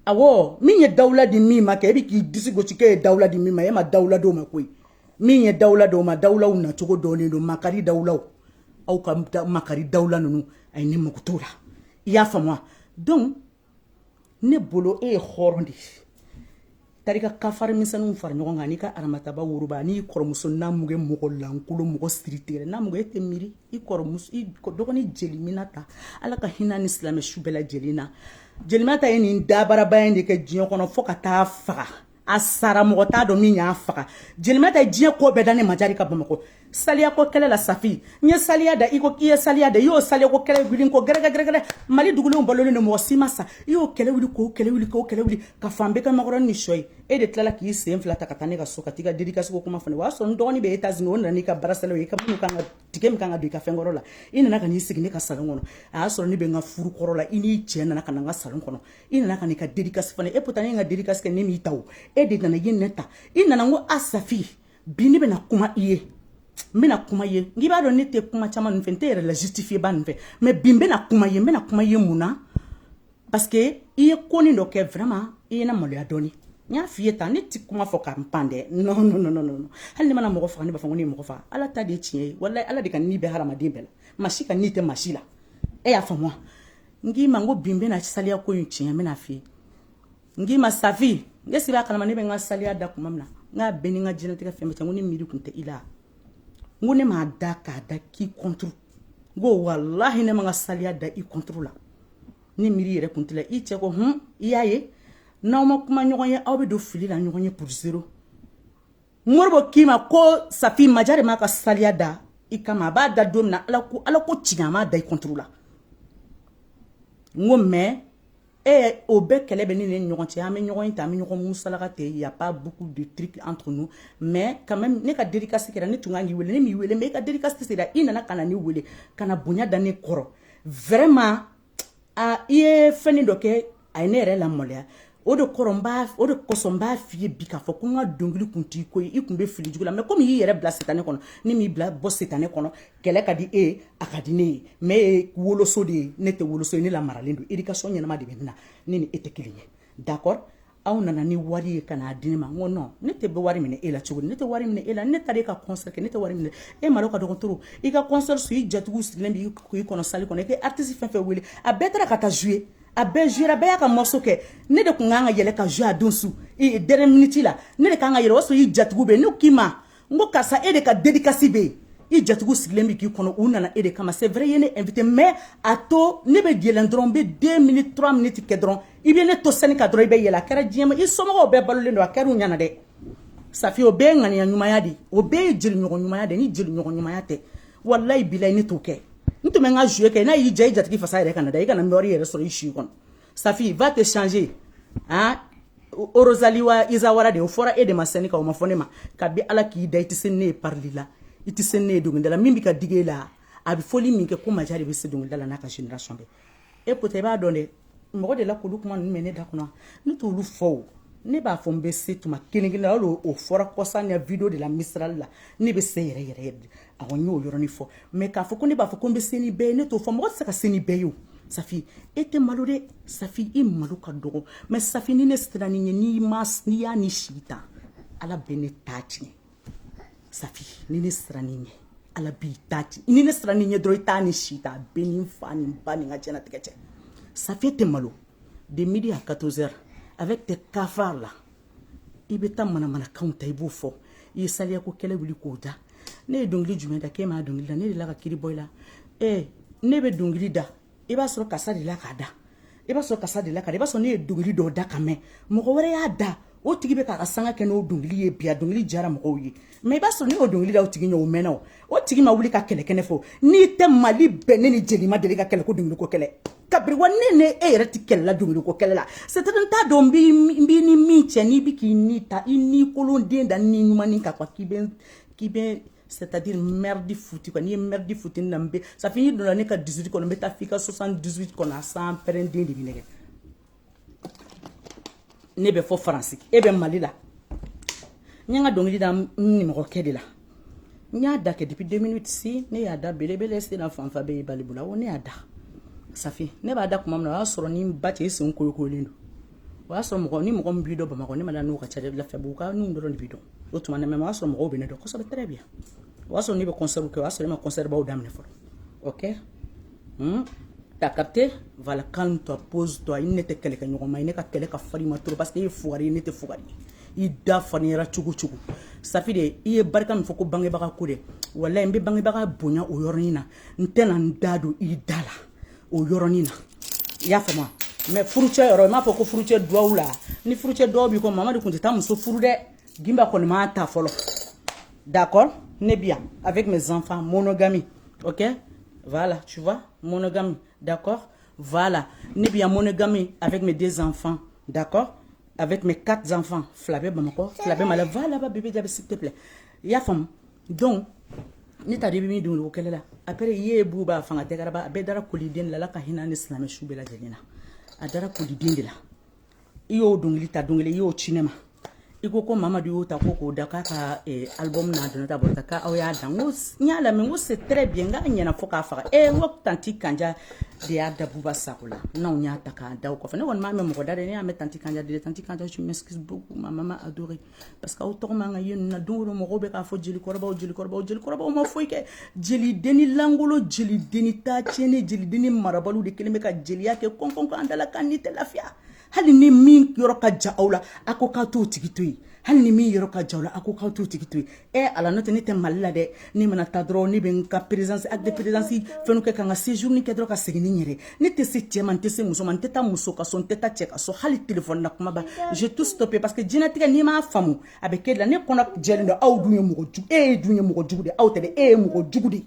[SPEAKER 1] awɔ min ye dawula di min ma kɛ e bɛ k'i disi gosi k'e ye dawula di min ma e ma dawula d'o ma koyi min ye dawula d'o ma dawulaw nacogo dɔnnen don makari dawulaw aw ka makari dawula ninnu a ye ne mago t'o la i y'a faamu wa donc ne bolo e ye hɔrɔn de ye taara i ka kafari misɛnninw fara ɲɔgɔn kan n'i ka aramataba woroba n'i kɔrɔmuso n'a mugu mɔgɔ lankolon mɔgɔ siri tigɛlen n'a mugu e tɛ miiri i kɔrɔmuso i dɔgɔnin jeliminata ala ka hinɛ a ni silamɛ su bɛɛ lajɛlen na jeliminata ye nin dabaraba in de kɛ diɲɛ kɔnɔ fo ka t'a faga a sara mɔgɔ t'a dɔn min y'a faga jelimɛ tɛ diɲɛ ko bɛɛ da ne majarɛ ka bamakɔ saliya ko kɛlɛ la safi n ye saliya da i ko i ye saliya da i y'o saliya ko kɛlɛ wuli ko gɛrɛgɛ gɛrɛgɛrɛ mali dugulenw balolen don mɔgɔ si ma sa i y'o kɛlɛ wuli k'o kɛlɛ wuli k'o kɛlɛ wuli ka fan bɛɛ ka makɔrɔni ni sɔ ye e de tilala k'i sen fila ta ka taa ne ka so ka t'i ka dedikasiko kuma fɔ n ye o y'a sɔrɔ n dɔgɔnin bɛ etats unis o nana n'i ka barasɛlɛw ye i ka minnu kan ka tigɛ min kan ka don i ka fɛnkɔrɔ la i nana ka n'i sigi ne ka salon kɔnɔ a y'a sɔrɔ ne bɛ n ka furu kɔrɔ la i n'i cɛ nana ka na n ka salon kɔnɔ i nana ka n'i ka dedikasi fɔ ne ye pourtant ne ka dedikasi kɛ ne m'i ta o e de nana ye ne ta i nana n ko a safi bi ne bɛna kuma i ye n bɛna kuma ye n'i b'a dɔn ne tɛ kuma caman nin fɛ n tɛ yɛrɛ la justifiyeba nin fɛ mais bi n bɛna kuma ye n bɛna kuma ye mun na parce que i ye konin dɔ kɛ vraiment i ye n lamaloya dɔɔni n b'a f'i ye tan ne tɛ kuma fɔ ka n pan dɛ non non non non non hali ne mana mɔgɔ faga ne b'a fɔ ko ne ye mɔgɔ faga ala ta de ye tiɲɛ ye walayi ala de ka ni bɛ hadamaden bɛɛ la maa si ka ni tɛ maa si la e y'a faamu wa n k'i ma n ko bi n bɛna saliya ko in tiɲɛ n bɛn'a f'i ye n k'i ma safi n sigi a kalama ne bɛ n ka saliya da kuma min na n k'a bɛɛ ni n ka diɲɛlatigɛ fɛn bɛɛ cɛ n ko ne miiri kun tɛ i la n ko ne m'a da k'a da k'i contre n ko walahi ne ma n ka saliya da i contre la ne miiri yɛrɛ kun t'i la i cɛ ko hun i y'a ye n'aw ma kuma ɲɔgɔn ye aw bɛ don fili la ɲɔgɔn ye pour zéro modibo k'i ma ko safi majarɛ m'a ka saliya da i kama a b'a da don min na ala ko ala ko tiɲɛ a m'a da i contre la n ko mais e o bɛɛ kɛlɛ bɛ ne ni ɲɔgɔn cɛ an bɛ ɲɔgɔn in ta an bɛ ɲɔgɔn musalaka tɛ y a pas beaucoup de trucs entre nous mais quand même ne ka dédicace kɛra ne tun kan k'i wele ne m'i wele mais i ka dédicace sera i nana ka na ne wele ka na bonya da ne kɔrɔ vraiment aa i ye fɛn dɔ kɛ a ye ne yɛrɛ lamaloya o de kɔrɔ o de kosɔn n b'a f'i ye bi k'a fɔ ko n ka dɔnkili kun t'i ko ye i kun bɛ fili jugu la mais comme i y'i yɛrɛ bila sitanɛ kɔnɔ ni m'i bila bɔ sitanɛ kɔnɔ kɛlɛ ka di e ye a ka di ne ye mais e ye woloso de ye ne tɛ woloso ye ne lamaralen don éducation ɲɛnama de bɛ n na ne ni e tɛ kelen ye d'accord aw nana ni wari ye ka n'a di ne ma n ko non ne tɛ bɛ wari minɛ e la cogo di ne tɛ wari minɛ e la ne taara e ka concert kɛ ne tɛ wari minɛ e malo ka dɔgɔn trop i ka concert su i jatigiw sigilen bɛ k'i kɔnɔ salle kɔnɔ i ye artiste fɛn o fɛn wele a bɛɛ taara ka taa jouer a bɛɛ jouer a bɛɛ y'a ka morceau kɛ ne de tun kan ka yɛlɛ ka jouer a don su dernière minute la ne de kan ka yɛlɛ o y'a sɔrɔ i jatigiw bɛ yen ne k'i ma n ko karisa e de ka dedikasi bɛ yen i jatigiw sigilen bɛ k'i kɔnɔ u nana e de kama c'est vrai i ye ne invité mais a to ne bɛ yɛlɛn dɔrɔn n bɛ deux minutes trois minutes kɛ dɔrɔn i bɛ ne to scène kan dɔrɔn i bɛ yɛlɛ a kɛra diɲɛ ma i somɔgɔw bɛɛ balolen don a kɛra u ɲɛna dɛ safi o bɛɛ ye ŋaniya ɲumanya de ye o bɛɛ ye jeliɲɔgɔn ɲumanya de ye ni jeliɲɔgɔn ɲumanya tɛ walayi bilayi ne t'o kɛ n tun bɛ n ka jouer kɛ n'a y'i diya i jatigi fasa yɛrɛ kana da i kana nɔɔrɔ i yɛrɛ sɔrɔ i si kɔnɔ Safi va te changer hein Orozaliwa Izawara de o fɔra e de ma sɛni ka o ma fɔ ne ma kabi Ala k'i da i tɛ se ne ye parili la i tɛ se ne ye dɔnkilida la min bɛ ka digi e la a bɛ fɔli min kɛ ko maja de bɛ se dɔnkilida la n'a ka génération bɛɛ e pota i b'a dɔn dɛ mɔgɔ delila k'olu kuma ninnu mɛn ne da kɔnɔ ne t'olu fɔ o ne b'a fɔ n bɛ se tuma kelen kelen na o fɔra kɔsa in video de la misirali la ne bɛ se yɛrɛ yɛrɛ yɛrɛ dɛ a ko n y'o yɔrɔnin fɔ mɛ k'a fɔ ko ne b'a fɔ ko n bɛ se ni bɛɛ ye ne t'o fɔ mɔgɔ tɛ se ka se ni bɛɛ ye o safi e tɛ malo dɛ safi i malo ka dɔgɔ mɛ safi ni ne sera n'i ye n'i ma n'i y'a ni sigi ta ala bɛ ne ta tiɲɛ safi ni ne sera n'i ye ala b'i ta tiɲɛ ni ne sera n'i ye dɔrɔn i t'a ni si ta bɛɛ n'i fa n'i ba n'i ka diɲɛnatigɛ cɛ safi tɛ malo de midi à 14 heures avec tes cafards là i bɛ taa manamanakanw ta i b'o fɔ i ye saliyako kɛlɛ wuli k'o da ne ye dɔnkili jumɛn da k'e m'a dɔnkili da ne delila ka kiri bɔ i la ee ne bɛ dɔnkili da i b'a sɔrɔ karisa delila k'a da i b'a sɔrɔ karisa delila ka i b'a sɔrɔ ne ye dɔnkili dɔw da ka mɛn mɔgɔ wɛrɛ y'a da o tigi bɛ k'a ka sanga kɛ n'o dɔnkili ye bi a dɔnkili diyara mɔgɔw ye mɛ i b'a sɔrɔ ne y'o dɔnkili da o tigi ɲɛ o mɛnna o o tigi ma wuli ka kɛlɛ kɛ ne fɛ n'i tɛ mali bɛɛ ne ni jeli ma deli ka kɛlɛ ko dɔnkiliko kɛlɛ kabiri wa ne ne e yɛrɛ tɛ kɛlɛ la dɔnkiliko kɛlɛ la c'est-à-dire n t'a dɔn n b'i ni min cɛ n'i bɛ k'i ni ta i ni kolon den da ni ɲumanni ka quoi k'i bɛ k'i bɛ c'est-à-dire merde foutu quoi n'i ye merde foutu na n bɛ safi n'i donna ne ka 18 kɔnɔ n bɛ taa f'i ka 78 kɔnɔ a san pɛrɛnden de bɛ nɛgɛ ne bɛ fo faransi e bɛ mali la n ye n ka dɔnkili da n nimɔgɔkɛ de la n y'a da kɛ depuis deux mille dix ne y'a da belebele sena fanfa bɛ ye balibula o ne y'a da safi ne b'a da kuma min na o y'a sɔrɔ n'i ba cɛ i sen koyokoyolen don o y'a sɔrɔ mɔgɔ ni mɔgɔ min b'i dɔn bamakɔ ne m'a dɔn n'o ka ca dɛ lafiyabuguka ninnu dɔrɔn de b'i dɔn o tuma na mɛ o y'a sɔrɔ mɔgɔw bɛ ne dɔn kosɛbɛ très bien o y'a sɔrɔ ne bɛ concert kɛ o y'a sɔrɔ ne ma concert baw daminɛ fɔlɔ ok hmm? t'as capté voilà calme toi pose toi i ni ne tɛ kɛlɛkɛɲɔgɔnma ye ne ka kɛlɛ ka farin i ma trop parce que i ye fugari ye ne tɛ fugari ye i da farinyara cogo o cogo safi de i ye barika min fɔ ko bangebaga ko dɛ walayi n bɛ bangebaga bonya o yɔrɔnin na n tɛna n da don i da la o yɔrɔnin na i y'a faamu mɛ furucɛ yɔrɔ i m'a fɔ ko furucɛ duwawu la ni furucɛ duwawu b'i kɔ mamadu kun tɛ taa muso furu dɛ Gimba kɔni m'a ta fɔlɔ d'accord ne bi yan avec mes enfants monogamie ok voilà tu vois monogamie d'accord voilà ne bi yan monogamie avec mes deux enfants d'accord avec mes quatre enfants fila bɛ bamakɔ fila bɛ mali va là-bas bébé jaabi s'il te plaît i y'a faamu donc ne t'a dɔn i bɛ min dɔn o kɛlɛ la après i ye bu b'a fanga dɛgɛrɛba a bɛɛ dara koliden de la ala ka hinɛ ni silamɛ su bɛɛ lajɛlen na a dara koliden de la i y'o dɔnkili ta dɔnkili i y'o ci ne ma i ko ko mamadu y'o ta ko k'o da k'a ka eh, album n'a donna ta bɔta k'aw y'a da n ko n y'a lamɛn n ko c'est très bien n k'a ɲɛna fo k'a faga e n ko tanti kanja de y'a da buba sako la n'anw y'a ta k'a da o kɔfɛ ne kɔni m'a mɛn mɔgɔ da dɛ ne y'a mɛn tanti kanja da tanti kanja je m'excuse beaucoup ma maman adorée parce que aw tɔgɔ man ka ye nin na don don mɔgɔw bɛ k'a fɔ jelikɔrɔbaw jelikɔrɔbaw jelikɔrɔbaw ma foyi kɛ jelidenni lankolon jelidenni ta tiɲɛnen jelidenni marabaliw de kɛlen bɛ ka jeliya kɛ kɔnkɔnkɔ an da la k'an ni tɛ lafiya hali ni min yɔrɔ ka jan aw la a ko k'aw t'o tigi to yen hali ni min yɔrɔ ka jan aw la a ko k'aw t'o tigi to yen ɛ eh, ala n'o tɛ ne tɛ mali la dɛ ne mana taa dɔrɔn ne bɛ n ka présence acte de présence fɛnw kɛ ka n ka séjourni kɛ dɔrɔn ka segin ni n yɛrɛ ne tɛ se cɛ ma n tɛ se muso ma n tɛ taa muso ka so n tɛ taa cɛ ka so hali telefɔni na kuma ban j'ai tout stoppé parce que diɲɛnatigɛ n'i m'a faamu a bɛ k'e da la ne kɔnɔ jɛlen don aw dun ye mɔgɔ jugu e ye dun ye mɔgɔ jugu de aw tɛ dɛ e ye mɔgɔ jugu de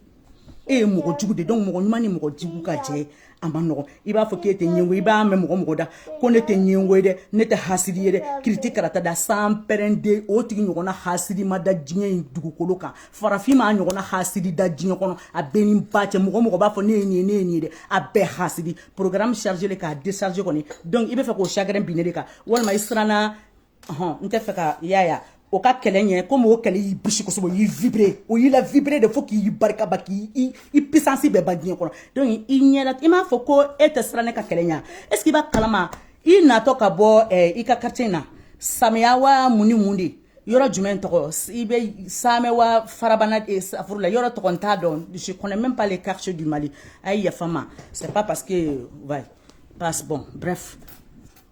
[SPEAKER 1] e ye mɔgɔ jugu de donc mɔgɔ ɲuman ni mɔgɔ jugu ka jɛ a man nɔgɔ i b'a fɔ k'e tɛ ɲɛngo i b'a mɛn mɔgɔ mɔgɔ da ko ne tɛ ɲɛngo ye dɛ ne tɛ hasidi ye dɛ kiriti karata da san pɛrɛnden o tigi ɲɔgɔnna hasidi ma da diɲɛ in dugukolo kan farafin m'a ɲɔgɔnna hasidi da diɲɛ kɔnɔ a bɛɛ ni ba cɛ mɔgɔ mɔgɔ b'a fɔ ne ye nin ye ne ye nin ye dɛ a bɛɛ hasidi programme chargé le k'a décharger kɔni donc i b'a fɛ k'o chagrin bin ne de kan walima i siranna ɔhɔn n t'a fɛ ka i y'a ye a o ka kɛlɛ ɲɛ komi o kɛlɛ y'i bisi kosɛbɛ o y'i vibrer o y'i lavibrer de fo k'i barika ban k'i i i puissance bɛɛ ban diɲɛ kɔnɔ donc i ɲɛ la i m'a fɔ ko e tɛ siran ne ka kɛlɛ ɲɛ est ce que i b'a kalama i natɔ ka bɔ eh, i ka quartier na saamɛ wa mun ni mun de yɔrɔ jumɛn tɔgɔ i bɛ saamɛ wa farabana eh, safuru la yɔrɔ tɔgɔ n t'a dɔn je connais même pas les quartiers du mali a ye yafa n ma c'est pas parce que ouais passe bon bref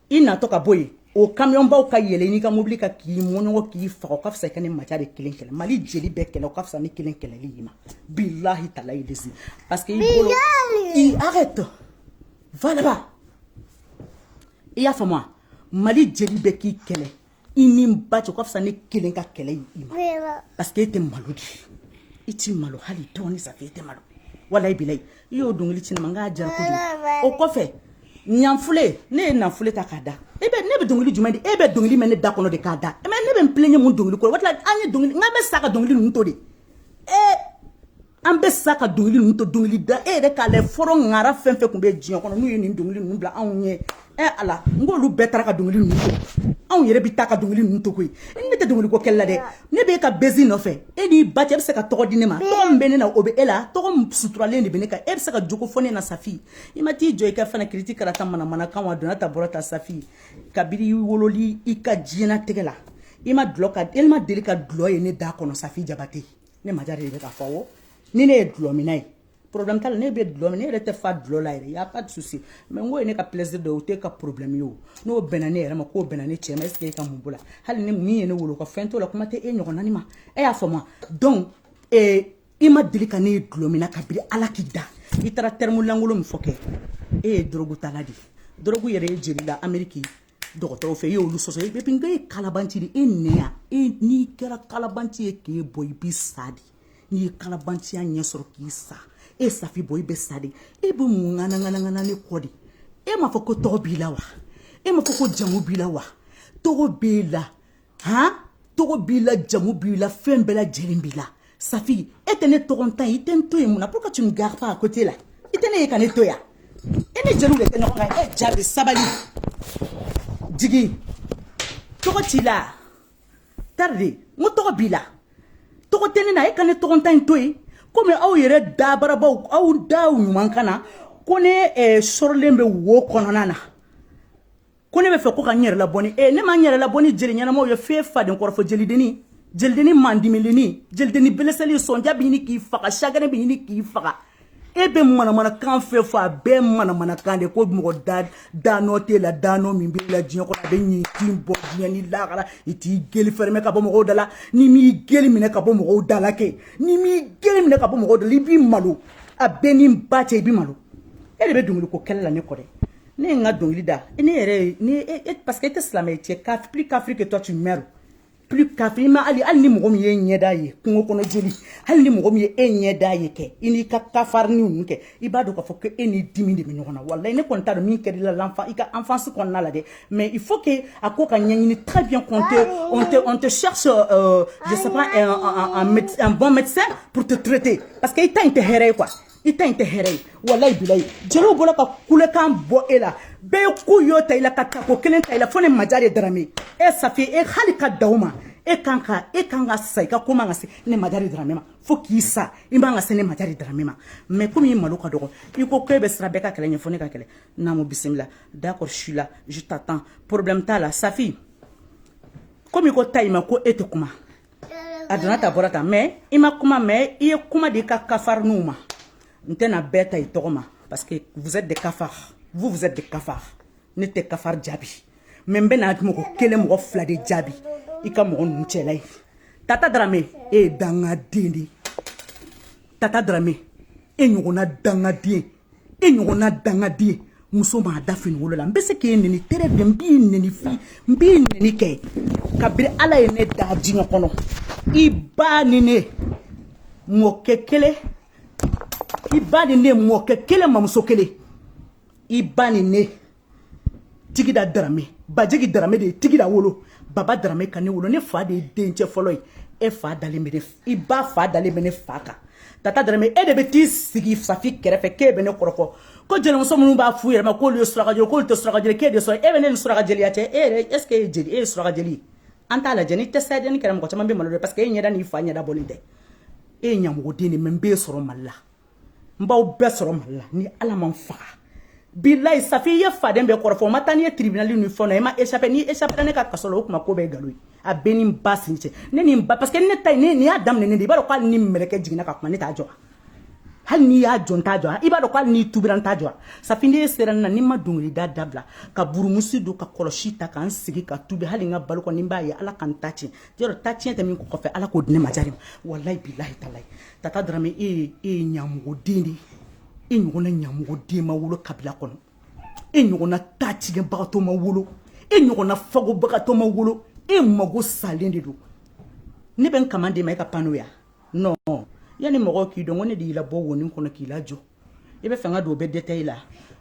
[SPEAKER 1] i natɔ ka bɔ yen o kamiyɔnbaw ka yɛlɛn i ka mobili kan k'i mɔɲɔnkɔ k'i faga o ka fisa i ka ne maja de kelen kɛlɛ mali jeli bɛɛ kɛlɛ o ka fisa ne kelen kɛlɛli y'i ma bilahi talayi lazim parce que i bolo i arrête va là-bas i y'a faamu wa mali jeli bɛɛ k'i kɛlɛ i n'i ba cɛ o ka fisa ne kelen ka kɛlɛ ye i ma parce que e tɛ malo dɛ i tɛ malo hali dɔɔni safi e tɛ malo walayi bilayi i y'o dɔnkili ci ne ma n k'a diyara kojugu o kɔfɛ nanfule ne ye nanfule ta k'a da e bɛ ne bɛ dɔnkili jumɛn da e bɛ dɔnkili mɛn ne da kɔnɔ de k'a da mais ne bɛ n plaigner mun dɔnkili kɔrɔ o de la an ye dɔnkili n k'an bɛ sa ka dɔnkili ninnu to de ee an bɛ sa ka dɔnkili ninnu to dɔnkili da e yɛrɛ k'a lɛ fɔlɔ ŋara fɛn fɛn tun bɛ diɲɛ kɔnɔ n'u ye nin dɔnkili ninnu bila anw ɲɛ ɛ ala n k'olu bɛɛ taara ka dɔnkili ninnu to anw yɛrɛ bɛ taa ka dɔnkili ninnu to koyi ne tɛ dɔnkili ko kɛlɛ la dɛ ne bɛ n ka bezi nɔfɛ e n'i ba cɛ bɛ se ka tɔgɔ di ne ma tɔgɔ min bɛ ne na o bɛ e la tɔgɔ suturalen de bɛ ne kan e bɛ se ka jogo fɔ ne na safi i ma t'i jɔ i ka fana kiriti karata manamana kan wa donna ta bɔra ta safi kabiri i wololi i ka diɲɛnatigɛ la i ma dulɔ ka e ma deli ka dulɔ ye ne da kɔnɔ safi jabate ne majare de bɛ k'a fɔ wo ni ne ye dulɔmina ye problème t'a la ne bɛ dulɔ min ne yɛrɛ tɛ fa dulɔ la yɛrɛ y'a pas de souci mais n ko ye ne ka plaisir dɔ ye o tɛ ka problème ye o n'o bɛnna ne yɛrɛ ma k'o bɛnna ne cɛ ma est ce que e ka mun b'o la hali ni min ye ne wolo ka fɛn t'o la kuma tɛ e ɲɔgɔnna ni ma e y'a faamu donc ee i ma deli ka ne ye dulɔ min na kabiri ala k'i da i taara terme lankolon min fɔ kɛ e ye dorogu tala de ye dorogu yera e jeli la ameriki dɔgɔtɔrɔw fɛ e y'olu sɔsɔ e bɛ e ye kalabanci de e nɛ yan e n'i kɛra kalabanci ye k'e bɔ i bɛ sa de n'i ye kalabanciya ɲɛ sɔrɔ k'i sa e safi bɔ i bɛ sa de e bɛ mun ŋanaŋanaŋana ne kɔ de e m'a fɔ ko tɔgɔ b'i la wa e m'a fɔ ko jamu b'i la wa tɔgɔ b'e la han tɔgɔ b'i la jamu b'i la fɛn bɛɛ lajɛlen b'i la safi e tɛ ne tɔgɔntan ye i tɛ n to yen mun na pourquoi tu me garde pas à côté la i tɛ ne ye ka ne to yan e ni jeliw de tɛ ɲɔgɔn kan e jaabi sabali jigi tɔgɔ t'i la tarde n ko tɔgɔ b'i la tɔgɔ tɛ ne na e ka ne tɔgɔntan in to yen komi aw yɛrɛ dabarabaw aw daw ɲuman ka na ko ne eh, sɔrɔlen bɛ wo kɔnɔna na ko ne b'a fɛ ko ka n yɛrɛ labɔ ni ee ne ma n yɛrɛ labɔ ni jeli ɲɛnamaw ye fee faden kɔrɔfɔ jelidenni jelidenni mandimilenni jelidenni beleselen sɔnja bɛ ɲini k'i faga chagrin bɛ ɲini k'i faga e bɛ manamanakan fɛ fɔ a bɛɛ manamanakan de ko mɔgɔ da danɔ t'e la danɔ min b'e la diɲɛ kɔnɔ a bɛ ɲin tin bɔ diɲɛ ni lakara i t'i gueule fermer ka bɔ mɔgɔw da la n'i m'i gueule minɛ ka bɔ mɔgɔw da la kɛ n'i m'i gueule minɛ ka bɔ mɔgɔw da la i b'i malo a bɛɛ ni ba cɛ i b'i malo e de bɛ dɔnkili ko kɛlɛ la ne kɔ dɛ ne ye n ka dɔnkili da ne yɛrɛ ye ni parce que e tɛ silamɛ cɛ plus kafiri que toi tu meurs plus kafiri ma hali hali ni mɔgɔ min y'e ɲɛda ye kungo kɔnɔ joli hali ni mɔgɔ min ye e ɲɛda ye kɛ i n'i ka kafariniw ninnu kɛ i b'a dɔn k'a fɔ ko e n'i dimi de bɛ ɲɔgɔn na walayi ne kɔni t'a dɔn min kɛr'i la l'enfant i ka enfance kɔnɔna la dɛ mais il faut que a ko ka ɲɛɲini très bien qu'on te on te on te cherche euh, je sais pas un, un, un, un bon médecin pour te traiter parce que i ta in tɛ hɛrɛ ye quoi i ta in tɛ hɛrɛ ye walayi bilayi jeliw bɔra ka kulekan bɔ e la bɛɛ ye ko y'o ta i la ka tako kelen ta i la fo ne majare darame e safi e hali ka daw ma e kan ka e kan ka sa i ka ko man kan ka se ne majare darame ma fo k'i sa i man kan ka se ne majare darame ma mais komi i malo ka dɔgɔ i ko ko e bɛ siran bɛɛ ka kɛlɛ ɲɛ fo ne ka kɛlɛ n'a mo bisimila d'accord je suis là je t'attends problème t'a la safi komi i ko ta i ma ko e tɛ kuma a donna tan a bɔra tan mais i ma kuma mais i ye kuma di i ka kafariniw ma n tɛna bɛɛ ta i tɔgɔ ma parce que vous êtes des cafards vous vous êtes des cafards ne tɛ cafard jaabi mais n bɛna mɔgɔ kelen mɔgɔ fila de jaabi i ka mɔgɔ ninnu cɛla ye tata darame e ye dangaden de ye tata darame e ɲɔgɔnna dangaden e ɲɔgɔnna dangaden muso m'a da fini wolo la n bɛ se k'e neni tere de n b'i neni fi n b'i neni kɛ kabiri ala ye ne da diɲɛ kɔnɔ i ba ni ne mɔkɛ kelen i ba ni ne mɔkɛ kelen mamuso kelen i ba ni ne tigida darame bajigi darame de ye tigida wolo baba darame ka ne wolo ne fa de ye dencɛ fɔlɔ ye e fa dalen bɛ ne i ba fa dalen bɛ ne fa kan tata darame e de bɛ t'i sigi safi kɛrɛfɛ k'e bɛ ne kɔrɔfɔ ko jelimuso minnu b'a f'u yɛrɛ ma k'olu ye surakajeli k'olu tɛ surakajeli k'e de sɔrɔ e bɛ ne ni surakajeliya cɛ e yɛrɛ est ce que e ye jeli e ye surakajeli ye an t'a lajɛ ni test ADN kɛra mɔgɔ caman bɛ malo dɛ parce que e ɲɛda n'i fa ɲɛda bɔlen tɛ e ye ɲamɔgɔden de mais n b'e sɔrɔ mali la n b'aw bɛɛ sɔrɔ mali la ni ala ma n faga bilayi safi i ye faden bɛɛ kɔrɔfɔ u ma taa n'i ye tribunal ni fɛn na i ma échappé n'i échappé ne ka kaso la o kuma ko bɛɛ nkalon ye a bɛ ne ni n ba sin cɛ ne ni n ba parce que ne ta ye ni n y'a daminɛ ne de i b'a dɔn ko hali ni mɛlɛkɛ jiginna ka kuma ne t'a jɔ hali n'i y'a jɔ n t'a jɔ i b'a dɔn ko hali n'i tubira n t'a jɔ safi n'e sera ne na ni n ma dongilida dabila ka burumusi don ka kɔlɔsi ta ka n sigi ka tubi hali n ka balo kɔni n b'a ye ala ka n ta tiɲɛ yɔrɔ ta tiɲɛ tɛ min kɔfɛ ala k'o di ne ma jari ma walayi bilahi talayi Tata darame e ye ɲamɔgɔden de ye e ɲɔgɔn ɲamɔgɔden ma wolo kabila kɔnɔ e ɲɔgɔnna tatigɛbagatɔ ma wolo e ɲɔgɔnna fagobagatɔ ma wolo e mago salen de don ne bɛ n ka di ma e ka pan n'o yan yanni mɔgɔ k'i dɔn ne de y'i labɔ wonin kɔnɔ k'i lajɔ i b'a fɛ n ka don o bɛɛ détail la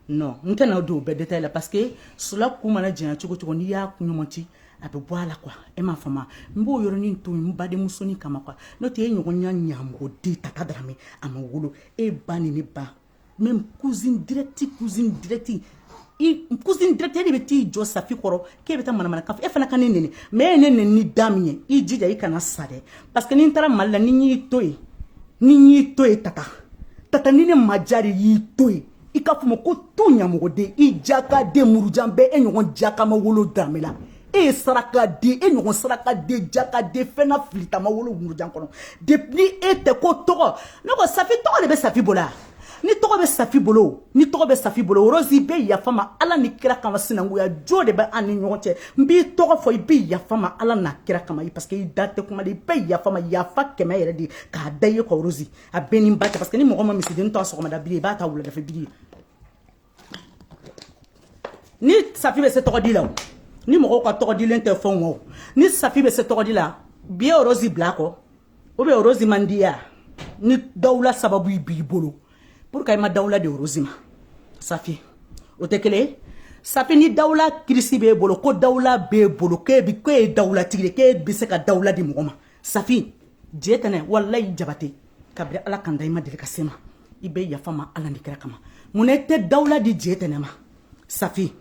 [SPEAKER 1] non n tɛna don o bɛɛ détail la parce que sula ku mana janya cogo o cogo n'i y'a ku ɲɔmɔti a bɛ bɔ a la quoi e m'a faamu n b'o yɔrɔnin to n badenmusonin kama quoi n'o tɛ e ɲɔgɔnna ɲamɔgɔden tata darame a ma wolo e ba ni ne ba même cousine directe cousine directe cousine directe e de bɛ t'i jɔ safi kɔrɔ k'e bɛ taa manamana kan e fana ka ne neni mais e ye ne neni ni da min ye i jija i kana sa dɛ parce que ni n taara mali la ni n y'i to yen ni n y'i to yen tata tata ni ne ma diya de y'i to yen i ka fama ko to ɲamɔgɔden i jaka den murujan bɛɛ e ɲɔgɔn jaka ma wolo danbe la e ye saraka den e ɲɔgɔn saraka den jaka den fɛnna filita ma wolo murujan kɔnɔ depuis ni e tɛ ko tɔgɔ ne ko safi tɔgɔ de bɛ safi bolo yan ni tɔgɔ bɛ safi bolo ni tɔgɔ bɛ safi bolo orozi i bɛ yafa n ma ala ni kira kama sinankuya jo de bɛ an ni ɲɔgɔn cɛ n b'i tɔgɔ fɔ i bɛ yafa n ma ala n'a kira kama parce que i da tɛ kuma i bɛ yafa n ma yafa kɛmɛ yɛrɛ de k'a da i ye quoi orozi a bɛ n ni n ba cɛ parce que ni mɔgɔ ma misiden to sɔgɔmada biri i b'a to wuladafɛ biri ye ni safi bɛ se tɔgɔ di la o ni mɔgɔw ka tɔgɔ dilen tɛ fɛnw o ni safi bɛ se tɔgɔ di la bi ye orozi bila kɔ o bɛ orozi mandiya ni dawula sababu b'i bolo pourquoi i ma dawula di orozi ma safi o tɛ kelen ye safi ni dawula kirisi b'e bolo ko dawula b'e bolo k'e bi k'e ye dawulatigi de k'e bɛ se ka dawula di mɔgɔ ma safi jetɛnɛ walayi jabate kabiri ala k'an da i ma deli ka se n ma i bɛ yafa n ma ala ni kira kama munna i tɛ dawula di jetɛnɛ ma safi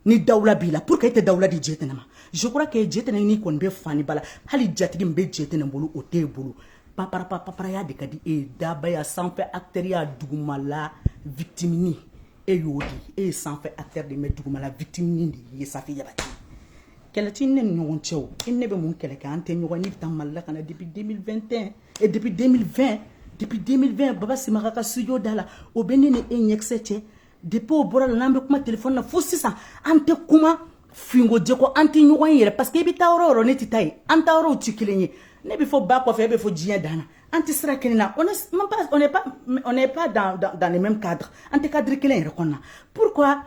[SPEAKER 1] ni dawula b'i la pourquoi e tɛ dawula di jetɛnɛ ma je crois que jetɛnɛ n'i kɔni bɛ fani bala hali jatigi min bɛ jetɛnɛ bolo o t'e bolo paparapa paparaya de ka di e ye dabaya sanfɛ actɛriya dugumala victimini e y'o de ye sanfɛ acteur de ye mais dugumala victime de ye Safi Jabate kɛlɛ t'i ni ne ni ɲɔgɔn cɛ o i ni ne bɛ mun kɛlɛ kɛ an tɛ ɲɔgɔn ne bɛ taa Mali la ka na depuis 2021 et depuis 2020 depuis 2020 Baba Simaga ka studio da la o bɛ ne ni e ɲɛkisɛ cɛ depuis o bɔra la n'an bɛ kuma téléphone na fo sisan an tɛ kuma finko jɛko an tɛ ɲɔgɔn ye yɛrɛ parce que i bɛ taa yɔrɔ o yɔrɔ ne tɛ taa yen an taa yɔrɔw tɛ kelen ye ne bɛ fo ba kɔfɛ e bɛ fo diɲɛ dan na an tɛ sira kelen na on est même pas on n'est pas on n'est pas dans dans, dans le même cadre an tɛ cadre kelen yɛrɛ kɔnɔna pourquoi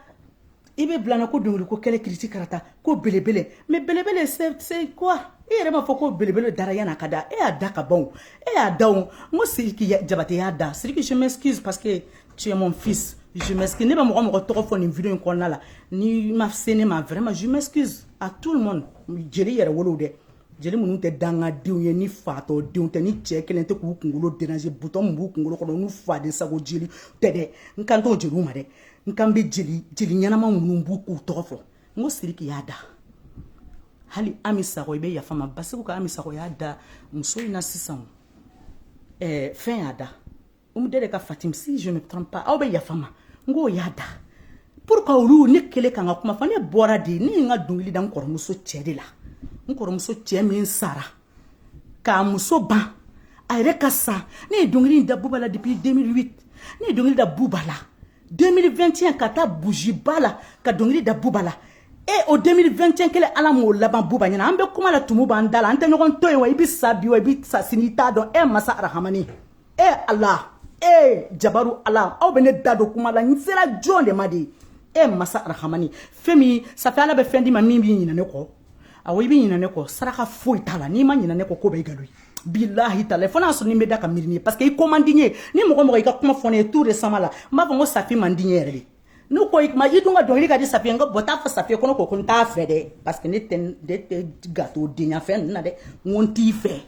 [SPEAKER 1] i bɛ bila n na ko dɔnkili ko kɛlɛ kiriti karata ko belebele mais belebele c'est c'est quoi i yɛrɛ b'a fɔ ko belebele dara yan'i k'a da e y'a da ka ban o e y'a da o n ko sidiki jabate y'a da sidiki je m'excuse parce que tu es mon fils je m'excuse ne bɛ mɔgɔ o mɔgɔ tɔgɔ fɔ nin video in kɔnɔna la n'i ma se ne ma vraiment je m'excuse à tout le monde jeli yɛrɛwolow dɛ jeli minnu tɛ dangadenw ye ni fatɔ denw tɛ ni cɛ kɛlen tɛ k'u kunkolo denanse bouton min b'u kunkolo kɔnɔ n'u fadensago jeli tɛ dɛ n kan t'o jeliw ma dɛ n kan bɛ jeli jeli ɲɛnama minnu b'u k'u tɔgɔ fɔ n ko siriki y'a da hali ami sako i bɛ yafa n ma baseku ka ami sako y'a da muso in na sisan ɛɛ fɛn y'a da umu dede ka fatim si je ne trompe pas aw bɛ yafa n ma n k'o y'a da pourquoi olu ne kelen kan ka kuma fɔ ne bɔra de ne ye n ka dɔnkili da n kɔrɔmuso cɛ de la n kɔrɔmuso cɛ min sara k'a muso ban a yɛrɛ ka sa ne ye dɔnkili da buba la depuis 2008 ne ye dɔnkili da buba la 2021 ka taa bujiba la ka dɔnkili da buba la e o 2021 kelen ala m'o laban buba ɲɛ na an bɛ kuma la tumu b'an da la an tɛ ɲɔgɔn to yen wa i bɛ sa bi wa i bɛ sa sini i t'a dɔn e masa arahamani e ala e jabaru ala aw bɛ ne da don kuma la n sera jɔn de ma de ye e masa arahamani fɛn min safi ala bɛ fɛn d'i ma min b'i ɲinɛ ne kɔ awɔ i bɛ ɲinɛ ne kɔ saraka foyi t'a la n'i ma ɲinɛ ne kɔ ko bɛ i galo ye bilahi talahi fo n'a sɔrɔ ni bɛ da ka miiri ye parce que i ko man di n ye ni mɔgɔ o mɔgɔ y'i ka kuma fɔ ne ye tout récemment la n b'a fɔ n ko safi man di n ye yɛrɛ de n'u ko i kuma i dun ka dɔnkili ka di safi ye n ko bon taa fɔ safi ye ko ne ko ko n t'a fɛ dɛ parce que ne tɛ ne tɛ gatodenya fɛn ninnu na dɛ n ko n t'i fɛ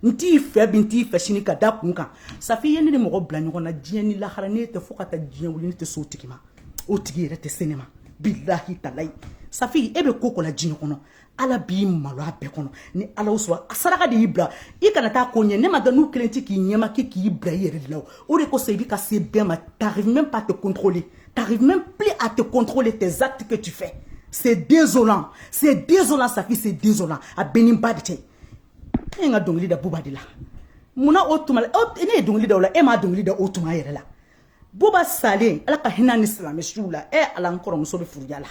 [SPEAKER 1] n t'i fɛ bi n t'i fɛ sini ka da kun kan safi i ye ne ni mɔgɔ bila ɲɔgɔn na diɲɛ ni lahara ne tɛ fo ka taa diɲɛ wuli ne tɛ s'o tigi ma o tigi yɛrɛ tɛ se ne ma bilahi talahi safi e bɛ ko o ko la diɲɛ kɔnɔ ala b'i malo a bɛɛ kɔnɔ ni ala sɔrɔ a saraka de y'i bila i kana taa ko ɲɛ ne m'a dɔn n'u kɛlen tɛ k'i ɲɛma kɛ k'i bila i yɛrɛ de la o o de kosɔn i bɛ ka se bɛɛ ma t'arrives même pas à te contrôler t'arrives même plus à te contrôler tes actes que tu fais c'est désolant c'est désolant safi c'est désolant a b'e n'i ba de cɛ e ye n ka dɔnkili da buba de la munna o tuma la ne ye dɔnkili da o la e ma dɔnkili da o tuma yɛrɛ la buba salen ala ka hinɛ ni silamɛ suw la e ala n kɔrɔmuso bɛ firiya la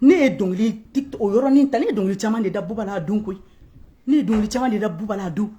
[SPEAKER 1] ne ye dɔnkili o yɔrɔnin ta ne ye dɔnkili caman de da buba la a don koyi ne ye dɔnkili caman de da buba la a don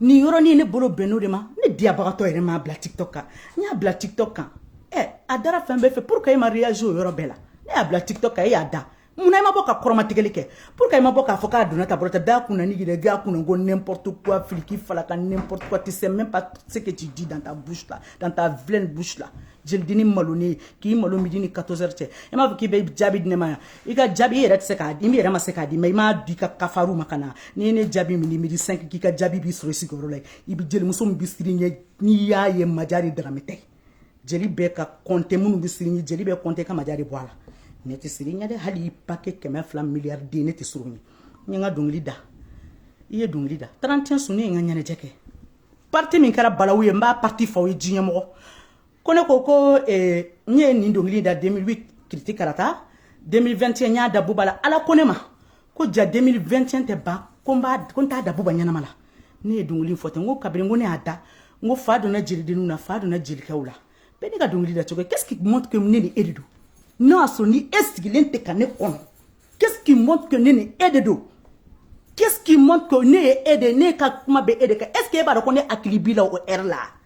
[SPEAKER 1] nin yɔrɔnin ne bolo bɛnno de ma ne diyabagatɔ yɛrɛ m'a bila tiktok kan n y'a bila tiktok kan ɛ a dara fɛn bɛɛ fɛ pourquoi e ma réagir o yɔrɔ bɛɛ la ne y'a bila tiktok kan e y'a da mun na i ma bɔ ka kɔrɔmatigɛli kɛ pourquoi i ma bɔ k'a fɔ k'a donna ta bolo tɛ bɛɛ kun na n'i yɛrɛ bɛɛ kun na ko n'importe quoi filiki falaka n'importe quoi tu sais même pas ce que tu dis dans ta bouche là dans ta vilaine bouche là jelidennin malonen k'i malo midi ni 14 heures cɛ i m'a fɔ k'i bɛ jaabi di ne ma yan i ka jaabi i yɛrɛ tɛ se k'a di i yɛrɛ ma se k'a di mɛ i m'a di ka kafaru ma ka na n'i ye ne jaabi midi midi 5 k'i ka jaabi b'i sɔrɔ i sigiyɔrɔ la i bɛ jelimuso min bɛ siran i ɲɛ n'i y'a ye majare darame tɛ jeli bɛɛ ka kɔnte minnu bɛ siran i ɲɛ jeli bɛɛ kɔnte ka majare bɔ a la ne tɛ siran i ɲɛ dɛ hali i pake kɛmɛ fila miliyari den ne tɛ siran i ɲɛ n ye n ka dɔnkili da i ye dɔnkili da tarantiyɛn su ne ye n ka ɲɛnajɛ kɛ parti min kɛra balawu ye n b'a parti faw ye diɲɛmɔgɔ ko ne ko ko eh, n ye nin dɔnkili da 2008 kiriti karata 2021 n y'a da buba la ala ko ne ma ko ja 2021 tɛ ban ko n b'a ko n t'a da buba ɲɛnama la ne ye dɔnkili fɔ ten n ko kabiri n ko ne y'a da n ko fa donna jelidenninw na fa donna jelikɛw la bɛɛ ne ka dɔnkili da cogo qu'est-ce qui montre que ne ni e de don n'o y'a sɔrɔ ni e sigilen tɛ ka ne kɔnɔ qu'est-ce qui montre que ne ni e de don qu'est-ce qui montre que ne ye e de ne ka kuma bɛ e de kan est-ce que e b'a dɔn ko ne hakili b'i la o heure la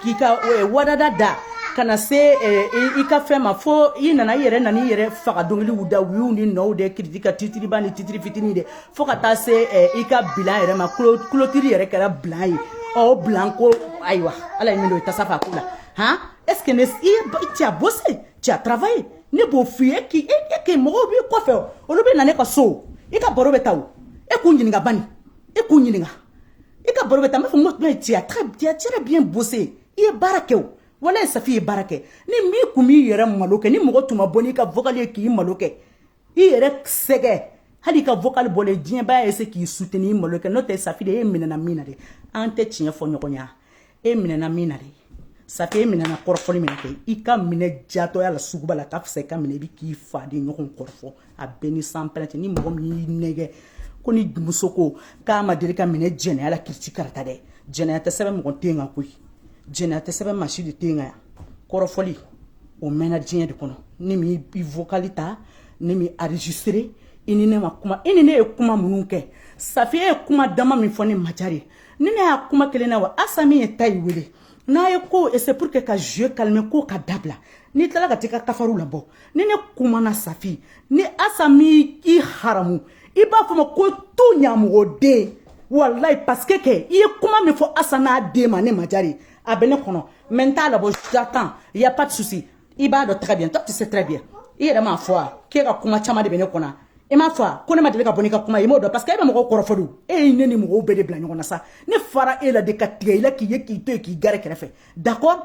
[SPEAKER 1] k'i ka eh, wadada da ka na se eh, i ka fɛn ma fo i nana i yɛrɛ nana i yɛrɛ faga dɔnkiliw da wiw ni nɔw de kiriti ka titiriba ni titiri fitini de fo ka taa se eh, i ka bilan yɛrɛ ma clôture yɛrɛ kɛra bilan ye o bilan ko ayiwa ala ye min don i tasa fa ko la han est-ce que ne i c'est bossé c'est travaillé ne b'o f'i ye k'i e e k'i mɔgɔw b'i kɔfɛ olu bɛ na ne ka so i ka baro bɛ ta o e k'u ɲininka bani e k'u ɲininka i ka baro bɛ taa n b'a fɔ n ko tuma tu as très bien très bien bossé i ye baara kɛ o walayi safi ye baara kɛ ni min kun m'i yɛrɛ malo kɛ ni mɔgɔ tun ma bɔ n'i ka vocal ye k'i malo kɛ i yɛrɛ sɛgɛ hali i ka vocal bɔlen diyanyebaa ye se k'i soutenir malo kɛ n'o tɛ safi de e minɛna min na dɛ an tɛ tiɲɛ fɔ ɲɔgɔn ye e minɛna min na dɛ safi e minɛna kɔrɔfɔli min na kɛ i ka minɛ jatɔya la suguba la ka fisa i ka minɛ i bɛ k'i fadenɲɔgɔn kɔrɔfɔ a bɛɛ ni san pɛrɛntɛ ni mɔgɔ min y'i nɛgɛ ko ni muso ko k'a ma deli ka minɛ jɛnɛya la kiriti karata dɛ jɛnɛya tɛ sɛbɛn mɔgɔ ten kan koyi jɛnɛya tɛ sɛbɛn maa si de ten kan yan kɔrɔfɔli o mɛnna diɲɛ de kɔnɔ ne m'i vocal ta ne m'i enregistrer i ni ne ma kuma i ni ne ye kuma minnu kɛ safi ye kuma dama min fɔ ne majare ni ne y'a kuma kelen na wa asa min ye ta ye wele n'a ye ko c'est pour que ka jeu calme ko ka dabila n'i tilala ka t'i ka kafaru labɔ ni ne kumana safi ni asa m'i haramu i b'a fɔ n ma ko to ɲamɔgɔ den walayi parce que kɛ i ye kuma min fɔ asa n'a den ma ne majari a bɛ ne kɔnɔ mais n t'a labɔ j'attends y a pas de souci i b'a dɔn très bien toi tu sais très bien i yɛrɛ m'a fɔ wa k'e ka kuma caman de bɛ ne kɔnɔ i m'a fɔ wa ko ne ma deli ka bɔ n'i ka kuma ye i m'o dɔn parce que e bɛ mɔgɔw kɔrɔfɔ de e ye ne ni mɔgɔw bɛɛ de bila ɲɔgɔn na sa ne fara e la de ka tigɛ i la k'i ye k'i to yen k'i gɛrɛ kɛrɛfɛ d'accord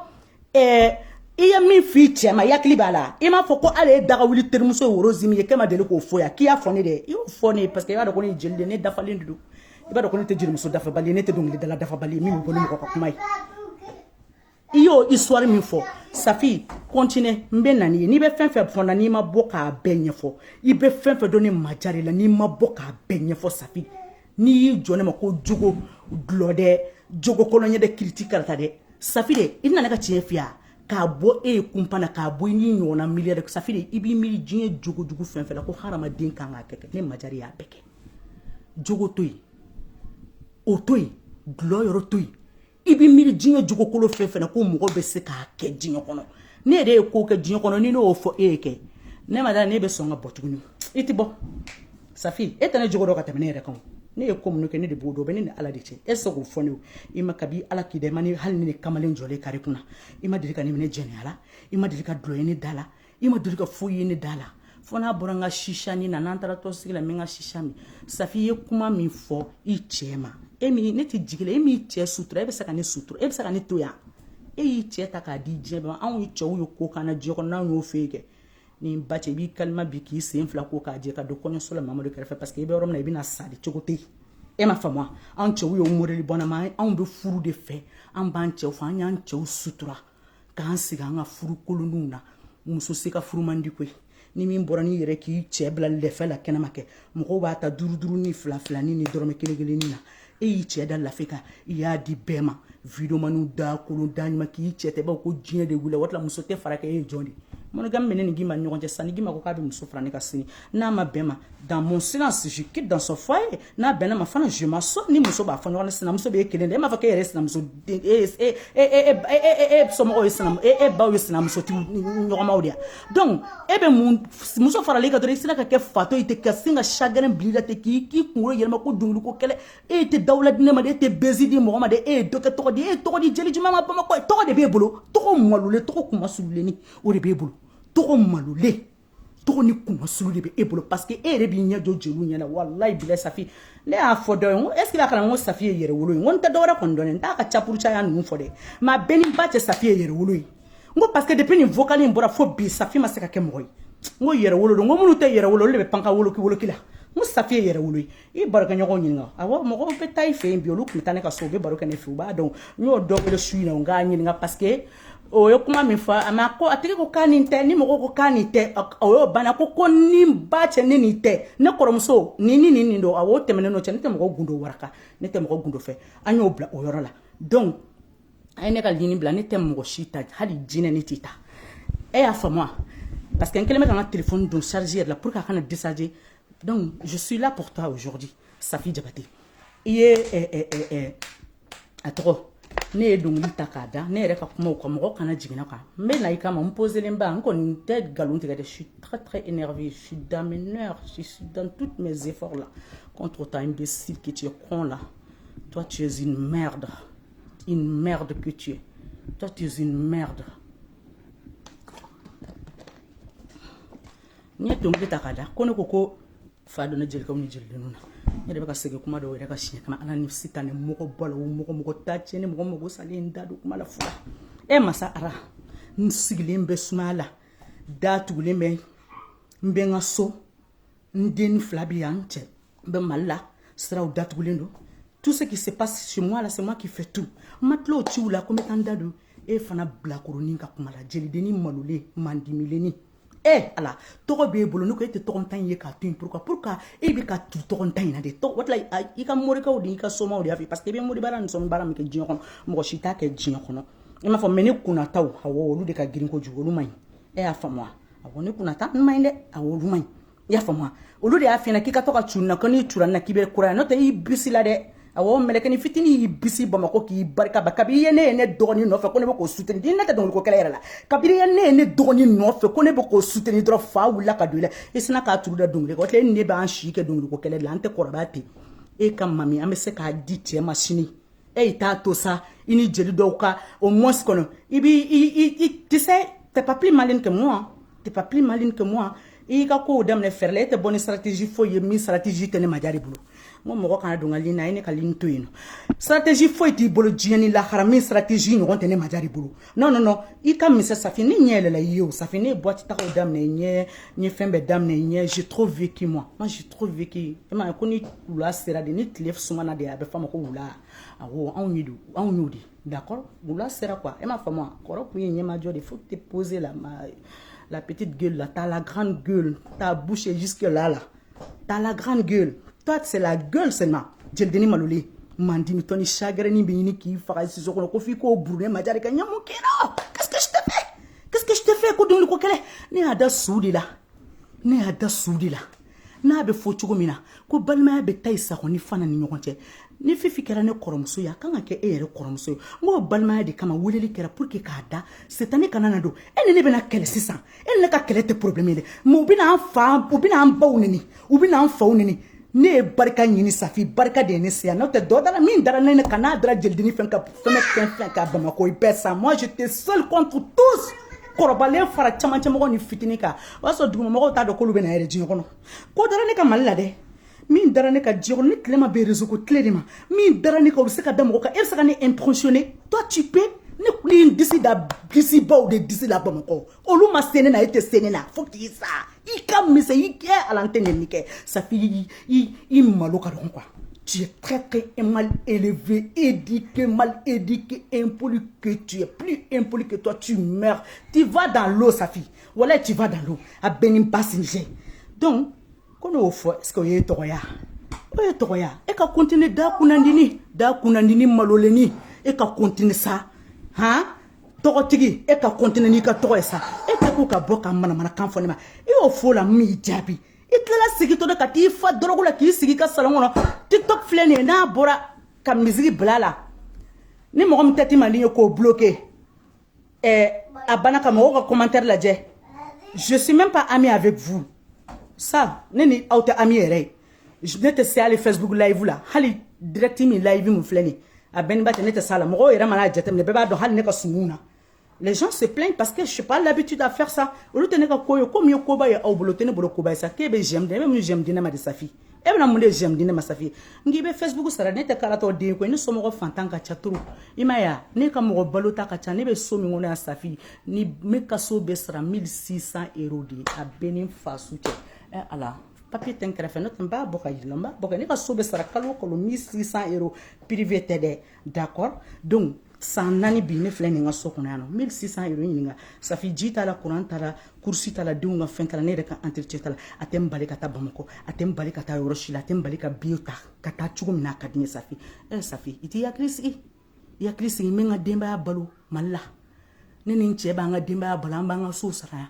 [SPEAKER 1] ɛɛ i ye min f'i cɛ ma i hakili b'a la i m'a fɔ ko hali ye dagawuli terimuso ye woro zimi ye k'e ma deli k'o fɔ yan k'i y'a fɔ ne de i y'o fɔ ne ye parce que i b'a dɔn ko ne ye jeli de ye ne dafalen de don i b'a dɔn ko ne tɛ jelimuso dafabali ye ne tɛ dɔnkilidala dafabali ye min bɛ bɔ ni mɔgɔ ka kuma ye i y'o histoire min fɔ safi continue n bɛ na n'i ye n'i bɛ fɛn fɛn fɔ n na n'i ma bɔ k'a bɛɛ ɲɛfɔ i bɛ fɛn fɛn dɔn ne maja de la n'i ma bɔ k'a bɛɛ ɲɛfɔ safi n'i y'i jɔ ne ma ko jogo dulɔ dɛ jogo kɔlɔn ɲɛ dɛ kiriti karata dɛ safi de i nana ka tiɲɛ fiya k'a bɔ e ye kunpa na k'a bɔ i n'i ɲɔgɔnna milliard dɛ safi de i b'i miiri diɲɛ jogo jugu fɛn fɛn la ko hadamaden kan k'a kɛ ne maja de y'a bɛɛ kɛ jogo to yen o to yen dulɔ yɔrɔ to yen i bɛ miiri diɲɛ jogokolon fɛn fɛn ko mɔgɔ bɛ se k'a kɛ diɲɛ kɔnɔ ne yɛrɛ ye ko kɛ diɲɛ kɔnɔ ni ne y'o fɔ e ye kɛ ne ma da e bɛ sɔn ka bɔ tuguni i tɛ bɔ safi e tɛ ne jogo dɔn ka tɛmɛ ne yɛrɛ kan ne ye ko minnu kɛ ne de b'o dɔn o bɛ ne ni ala de cɛ e sɔn k'o fɔ ne i ma kabi ala k'i da i ma ne hali ne kamalen jɔlen kari kunna i ma deli ka ne minɛ jɛnɛya la i ma deli ka dɔlɔ ye ne da la i ma deli ka foyi ye ne da la fo n'a bɔra n ka chicha nin na n'an taara tɔnsigi la n bɛ n ka chicha min safi ye kuma min fɔ i cɛ ma e min ne tɛ jigi la e m'i cɛ sutura e bɛ se ka ne sutura e bɛ se ka ne to yan e y'i cɛ ta k'a di diɲɛ bɛɛ anw ye cɛw ye ko k'an na diɲɛ kɔnɔ n'anw y'o fɔ kɛ ni ba cɛ i b'i kalima bi k'i sen fila ko k'a jɛ ka don kɔɲɔso la mamadu kɛrɛfɛ parce que i bɛ yɔrɔ min na i bɛna sa de cogo tɛ yen e ma faamuya anw cɛw y'o morili bɔnna ma anw bɛ furu de fɛ an b'an cɛw fɛ an y'an cɛw sutura k'an sigi an ka furu kolonninw na muso se ka furu man di koyi ni min bɔra n'i yɛrɛ k'i cɛ bila lɛfɛ la kɛnɛma kɛ mɔgɔw b'a ta duuruduuru ni fila filani ni dɔrɔmɛ kelen kelenni na e y'i cɛ da lɛfɛ kan i y'a di bɛɛ ma videomaniw da kolon da ɲuman k'i cɛ tɛ baw ko diɲɛ de wuli waati la muso tɛ fara kɛ e ye jɔn de monogamie bɛ ne ni gima ɲɔgɔn cɛ sa ni gima ko k'a bɛ muso fara ne kan sini n'a ma bɛn n ma dans mon silence je quitte dans son foyer n'a bɛnna n ma fana je m'assois ni muso b'a fɔ ɲɔgɔn sinamuso b'e kelen de e m'a fɔ k'e yɛrɛ sinamuso den e e e e e somɔgɔw ye sinamuso e e baw ye sinamusotigiw ɲɔgɔnmaw de ye donc e bɛ mun muso faralen kan dɔrɔn i sera ka kɛ fato ye ten ka sin ka chagrin bil'i la ten k'i k'i kunkolo yɛlɛma ko dɔnkili ko kɛlɛ e tɛ dawula di ne ma de e tɛ buzz di mɔgɔ ma de e ye dɔ kɛ tɔgɔ di e ye tɔgɔ di jeli jumɛn ma bamakɔ tɔgɔ de b'e bolo tɔgɔ malolen tɔgɔ kunmasuulilenni o de b'e bolo tɔgɔ malolen tɔgɔ ni kunmasuli de bɛ e bolo parce que e yɛrɛ b'i ɲɛ jɔ jeliw ɲɛna walayi bilayi safi ne y'a fɔ dɔ ye n ko est ce que a kana n ko safi ye yɛrɛwolo ye n ko n tɛ dɔwɛrɛ kɔni dɔn n t'a ka capuru caya ninnu fɔ dɛ mais a bɛɛ ni ba cɛ safi ye yɛrɛwolo ye n ko parce que depuis nin vocal in bɔra fo bi safi ma se ka kɛ mɔgɔ ye n ko yɛrɛwolo don n ko minnu tɛ yɛrɛwolo olu de bɛ panka woloki woloki la n ko safi ye yɛrɛwolo ye i barokɛɲɔgɔn ɲininka awɔ mɔgɔw bɛ taa i fɛ yen bi olu tun bɛ taa ne ka so u bɛ baro kɛ ne fɛ u b'a dɔn n y'o dɔ wele su in na u k'a ɲininka parce que o ye kuma min fɔ a ma ko a tigi ko k'a nin tɛ ni mɔgɔw ko k'a nin tɛ o y'o banna ko ko ni ba cɛ ne nin tɛ ne kɔrɔmuso ni ni nin nin don awɔ o tɛmɛnen n'o cɛ ne tɛ mɔgɔ gundo waraka ne tɛ mɔgɔ gundo fɔ an y'o bila o yɔrɔ la donc a ye ne ka lini bila ne tɛ mɔgɔ si ta hali jinɛ ne t'a ta e y'a faamu wa parce que n kɛlen bɛ ka n ka telefɔni don charge yɛrɛ la pour que a kana décharger Donc, je suis là pour toi aujourd'hui, Safi Diabaté. Il est, est, eh, est, eh, est, eh, à trop. ne ye dongili ta k'a da ne yɛrɛ ka kumaw kan mɔgɔ kana jigin a kan n bɛ na i kama n poselenba n kɔni tɛ nkalon tigɛ dɛ je suis très très énervé je suis dans mes nerfs je suis dans toutes mes efforts là contre toi imbécile que tu es con là toi tu es une merde une merde que tu es toi tu es une merde n ye dɔnkili ta k'a da ko ne ko ko fa donna jelikɛw ni jelidenw na ne de bɛ ka segin kuma dɔw yɛrɛ kan siɲɛ kana ala ni sitanɛ mɔgɔ balo mɔgɔ mɔgɔ ta tiɲɛ ni mɔgɔ mɔgɔ salen da don kuma la fura e masa ara n sigilen bɛ sumaya la da tugulen bɛ n bɛ n ka so n den fila bɛ yan n cɛ bɛ mali la siraw datugulen don tout ce qui se passe chez moi là c'est moi qui fais tout n ma tila o ciw la ko n bɛ taa n da don e fana bilakoronin ka kuma la jelidennin malolen mandimilennin ɛ ala tɔgɔ b'e bolo ne ko e tɛ tɔgɔntan in ye k'a to yen pourquoi pourquoi e bɛ ka tu tɔgɔntan in na de tɔgɔ wala i ka morikɛw de i ka somaw de y'a fɔ parce que i bɛ moribaara ni somabaara min kɛ diɲɛ kɔnɔ mɔgɔ si t'a kɛ diɲɛ kɔnɔ i m'a fɔ mais ne kunnataw awɔ olu de ka girin kojugu olu man ɲi e y'a faamu wa awɔ ne kunnataw man ɲi dɛ awɔ olu man ɲi i y'a faamuya olu de y'a f'e ɲɛna k'i ka to ka cun n na ko n'i cunna n na k'i bɛ kura n'o tɛ i bisila dɛ awɔ mɛlɛkɛni fitini y'i bisi bamakɔ k'i barika ba kabi i ye ne ye ne dɔgɔni nɔfɛ ko ne bɛ k'o suteni di ne tɛ dɔnkili ko kɛlɛ yɛrɛ la kabiri i ye ne ye ne dɔgɔni nɔfɛ ko ne bɛ k'o suteni dɔrɔn fa wulila ka don i la i sina k'a turu da dɔnkili kɔ tile ne b'an si kɛ dɔnkili ko kɛlɛ de la an tɛ kɔrɔbaya ten e ka mami an bɛ se k'a di cɛ ma sini e i t'a to sa i ni jeli dɔw ka o mosi kɔnɔ i b'i i tu sais t'es pas plus malin que moi t'es pas plus malin que moi i y'i ka kow daminɛ fɛɛrɛ la e tɛ bɔ ni stratégie foyi ye min stratégie tɛ ne majarɛ bolo n ko mɔgɔ kana don n ka lini na a ye ne ka lini to yen non stratégie foyi t'i bolo diɲɛ ni lahara min stratégie ɲɔgɔn tɛ ne majarɛ bolo non non non i ka misɛn safi ne ɲɛ yɛlɛla i ɲɛ o safi ne ye boite tagaw daminɛ i ɲɛ n ye fɛn bɛɛ daminɛ i ɲɛ j'ai trop vécu moi moi j'ai trop vécu i e m'a ye ko ni wula sera de ni tile sumana de a bɛ f'a ma ko wula awɔ anw ye don anw y'o de d'accord wula sera quoi e m'a faamu wa kɔrɔ kun ye ɲɛmajɔ de faut te poser la ma la petite gueule la t'as la grande gueule ta bouche jusque là la T'as la grande gueule. Toi, c'est la gueule, c'est ma. Jelidennin malolen. Maa dimitɔnin chagreni bini k'i faga siso kɔnɔ kofi ko brune majari ka nyamu kino. Qu'est-ce que je te fais? Qu'est-ce que je te fais ko doni ko kele? Ne ada sudi la. Ne ada sudi la. n'a bɛ fɔ cogo min na ko balimaya bɛ tayi sa kɔni fana ni ɲɔgɔn cɛ ni fifi kɛra ne kɔrɔmuso ye a kan ka kɛ e yɛrɛ kɔrɔmuso ye n b'o balimaya de kama weleli kɛra pour que k'a da setani kana na don e ni ne bɛna kɛlɛ sisan e ni ne ka kɛlɛ tɛ problème ye dɛ mais u bɛna an fa u bɛna an baw neni u bɛna an faw neni ne ye barika ɲini safi barika de ye ne se yan n'o tɛ dɔ dara min dara ne kan n'a dara jelidennin fɛn ka fɛn fɛn fɛn kan bamakɔ i bɛ sa moi j'étais seul contre tous kɔrɔbalen fara camancɛmɔgɔ ni fitini kan o y'a sɔrɔ dugumamɔgɔw t'a dɔn k'olu bɛ na yɛrɛ diɲɛ kɔnɔ ko dara ne kan mali la dɛ min dara ne kan diɲɛ kɔnɔ ne tile ma bɛn réseau ko tile de ma min dara ne kan o bɛ se ka da mɔgɔ kan e bɛ se ka ne impressionner toi tu peux ne tun ye n disi da disibaw de disi la bamakɔ olu ma se ne na e tɛ se ne na fo k'i sa i ka misɛn i kɛ ala n tɛ neni kɛ safi i i i malo ka dɔgɔn quoi tu es très très mal élevé, éduqué, mal éduqué, impoli que tu es, plus impoli que toi, tu meurs. Tu vas dans l'eau, Safi. Voilà, tu vas dans l'eau. À Benin Passinje. Donc, ko n'o fɔ est ce que o ye tɔgɔya o ye tɔgɔya e ka kontine da kunnandini da kunnandini malolenni e ka kontine sa han tɔgɔtigi e ka kontine n'i ka tɔgɔ ye sa e tɛ ko ka bɔ ka manamanakan fɔ ne ma i y'o f'o la min y'i jaabi i tilala sigitɔ de ka t'i fa dɔrɔgu la k'i sigi i ka salon kɔnɔ tiktok filɛ nin ye n'a bɔra ka miziki bila a la ni mɔgɔ min tɛ t'i mandi ye k'o bloke eh, a banna ka mɔgɔw ka commentaire lajɛ je suis même pas ami avec vous ça ne ni aw tɛ ami yɛrɛ ye ne tɛ se hali facebook live la hali direct min live min filɛ nin a bɛɛ ni ba tɛ ne tɛ s'a la mɔgɔw yɛrɛ mana a jateminɛ bɛɛ b'a dɔn hali ne ka sumuw na les gens se plaignent parce que je suis pas l'habitude à faire ça olu tɛ ne ka ko ye ko min ye koba ye aw bolo tɛ ne bolo koba ye sa k'e bɛ j'aime dɛ e bɛ mun j'aime di ne ma de safi e bɛna mun de j'aime di ne ma safi n k'i bɛ facebook sara ne tɛ karatɔ den koyi ne somɔgɔ fantan ka ca trop i ma ya ne ka mɔgɔ balota ka ca ne bɛ so min kɔnɔ yan safi ni ne ka so bɛ sara 1600 euro de ye a bɛ ni faso cɛ ɛ eh, ala papiye tɛ n kɛrɛfɛ ne tun b'a bɔ ka yira i la n b'a bɔ ka ne ka so bɛ sara kalo o kalo 1600 euro privé tɛ dɛ d'accord don san naani bi ne filɛ n ka so kɔnɔ yan nɔ mille six cents euros ɲininka safi ji t'a la kuran t'a la courses t'a la denw ka fɛn t'a ne yɛrɛ ka entretien t'a la a tɛ n bali ka taa bamakɔ a tɛ n bali ka taa yɔrɔ si la a tɛ n bali ka biye ta ka taa cogo min na a ka di ne safi ɛ safi i t'i hakili sigi i hakili sigi n bɛ n ka denbaya balo mali la ne ni n cɛ b'an ka denbaya balo an b'an ka sow sara yan